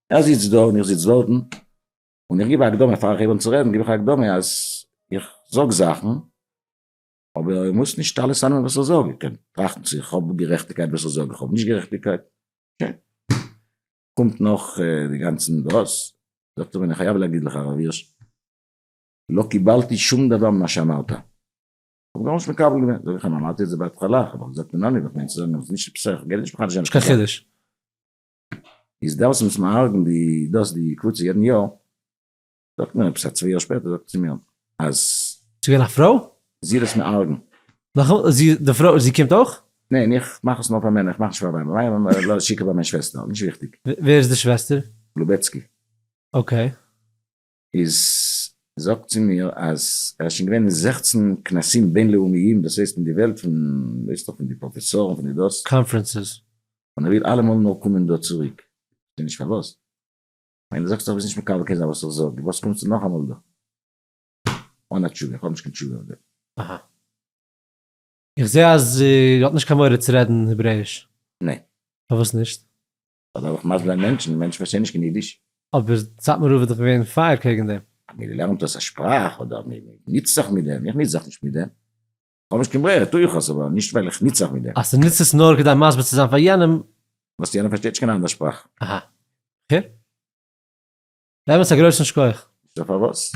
Speaker 2: ער זיצט דא און איך זיץ דארטן, און איך גיב א הקדמה, פאר איך הייב אן צו רעדן גיב איך א הקדמה אז איך זאג זאכן, אבער איך מוז נישט אלעס אננעמען וואס איך זאג, איך קען טראכטן צו איך האב גערעכטיגקייט וואס איך זאג, איך האב נישט גערעכטיגקייט, אקעי, קומט נאך די גאנצע דעות, זאגט ער מיר, אני חייב להגיד לך הרב הירש, לא קיבלתי שום דבר ממה שאמרת, איך האב גארנישט מקבל געווען, זאג איך אים, אמרתי את זה בהתחלה, איך האב דאך געזאגט אינני, וואס מיינסטו זאגן אז עס איז נישט עפעס א, איך גיי נישט מחדש זיין, נישט קיין חידוש. איז דאס וואס מען הארגענט די דאס די קבוצה יעדן יאר, זאגט מיר עפעס א צוויי יאר שפעטער זאגט ער צו מיר אז. ס'איז געווען א
Speaker 1: פרוי? זי האט עס מיר ארגענט.
Speaker 2: נאכאמאל, זי די
Speaker 1: פרוי זי קומט אויך? ניין איך מאך עס
Speaker 2: נאר פאר מענער איך מאך נישט פאר ווייבער, ווייבער לאז שיקער ביי מיין שוועסטער, נישט וויכטיג. ווער איז די שוועסטער?
Speaker 1: לובעצקי.
Speaker 2: אקעי.
Speaker 1: איז
Speaker 2: זאגט צו מיר אז ער איז שוין געווען אין זעכצן כנסים בינלאומיים דאס הייסט אין די וועלט פון ווייסט דאך פון די פראפעסארן פון די דאס. קאנפרענסעס.
Speaker 1: און ער וויל
Speaker 2: אלעמאל נאר קומען דא צוריק כ'זעה נישט פארוואס כ'מיין דו זאגסט אז דו ביסט נישט מקבל קיין זאך וואס איך זאג פארוואס קומסטו נאכאמאל דא אן א תשובה איך האב נישט קיין תשובה אויף דעם. אהא.
Speaker 1: איך זעה אז איר האט נישט קיין מורא צו רעדן העברעיש. ניין. פארוואס נישט? אויב דארף איך מסביר
Speaker 2: זיין מענטשן, מענטשן פארשטיין נישט קיין אידיש. אבער סאטמאר
Speaker 1: רב איז דאך געווען פייער קעגן דעם. אז מען לערנט אויס א
Speaker 2: שפראך אדער מען ניצט זיך מיט דעם, איך ניץ זיך נישט מיט דעם, כ'האב נישט קיין ברירה טו איך עס, אבער נישט ווייל איך ניץ זיך מיט דעם. אז דו ניצט עס נאר כדי
Speaker 1: מסביר צו זיין פאר יענעם. וואס יענער פארשטייט
Speaker 2: נישט קיין אנדער שפראך. אהא. אקעי.
Speaker 1: באמת א גרויסן שכח. נישטא פארוואס.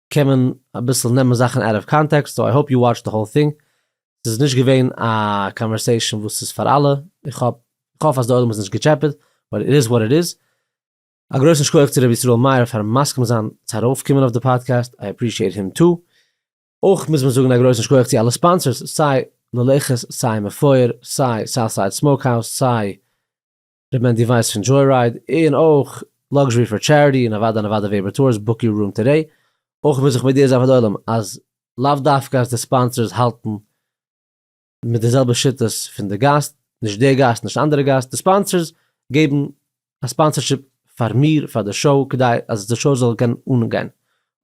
Speaker 1: קען מען אביסל נעמען זאכן אוט אוו קאנטעקסט, סאו איי האופ יו וואטשד די האול טינג, ס'איז נישט געווען א קאנווערסעישאן וואס איז פאר אלע, איך האף איך האף אז די עולם איז נישט געטשעפעט, באט איט איז וואט איט איז. א גרויסן שכח צו ר' ישראל מאיר פארן מסכים זיין צו ארויף קומען אויף די פאדקעסט, איי עפרישיעט הים טו. אויך מוז מען זאגן א גרויסן שכח צו אלע ספאנסערס, סיי ללכת, סיי מפואר, סיי סאוטסייד סמאוק האוז, סיי ר' מענדי ווייס פון דזשוירייד און אויך לאקזשערי פאר טשעריטי און אוואדע און אוואדע וועבער טורס בוק יור רום טודעי. אויך וויל זיך מודיע זיין פאר די עולם אז לאו דווקא אז די ספאנסערס האלטן מיט די זעלבע שיטות פון די גאסט, נישט דער גאסט נישט אנדערע גאסט, די ספאנסערס געבן א ספאנסערשיפ פאר מיר פאר די שאו כדי אז די שאו זאל קענען אנגיין.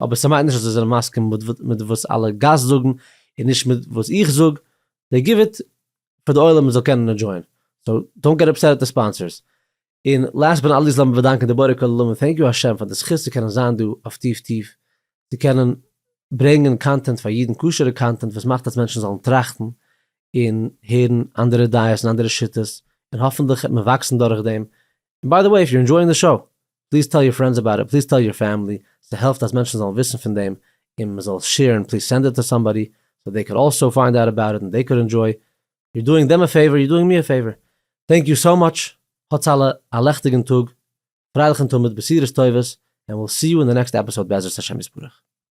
Speaker 1: אבער ס'מיינט נישט אז זיי זענען מסכים מיט וואס אלע גאסט זאגן און נישט מיט וואס איך זאג, דעי גיוו איט פאר די עולם זאל קענען ענדשויען, סאו דאנט געט אפסעט אויף די ספאנסערס. און לאסט באט נאט ליסט לאמיר באדאנקען די בורא כל עולמים טענק יו השם פאר די זכות צו קענען זיין דא אויף טיף טיף צו קענען ברענגען קאנטענט פאר אידן כשר'ע קאנטענט וואס מאכט אז מענטשן זאלן טראכטן און הערן אנדערע דעות און אנדערע שיטות און האפענטליך וועט מען וואקסן דורכדעם ביי די וועי איף יור ענדשויאינג די שאו, פליז טעל יור פרענדס אבאוט איט, פליז טעל יור פעמילי, ס'העלפט אז מענטשן זאלן וויסן פון דעם, און מ'זאל עס שעירן, פליז סענד איט טו סאמבאדי, סאו דעי קען אלסאו פיינד אוט אבאוט איט און דעי קען ענדשויי, יור דואינג דעם א פעיווער, יור דואינג מי א פעיווער, טענק יור סאו מאטש, האטס אלע א לעכטיגן טאג, פרייליכן תמיד, בשורות טובות, ענד וויל סי יו אין די נעקסט עפיסאוד בעזרת השם יתברך.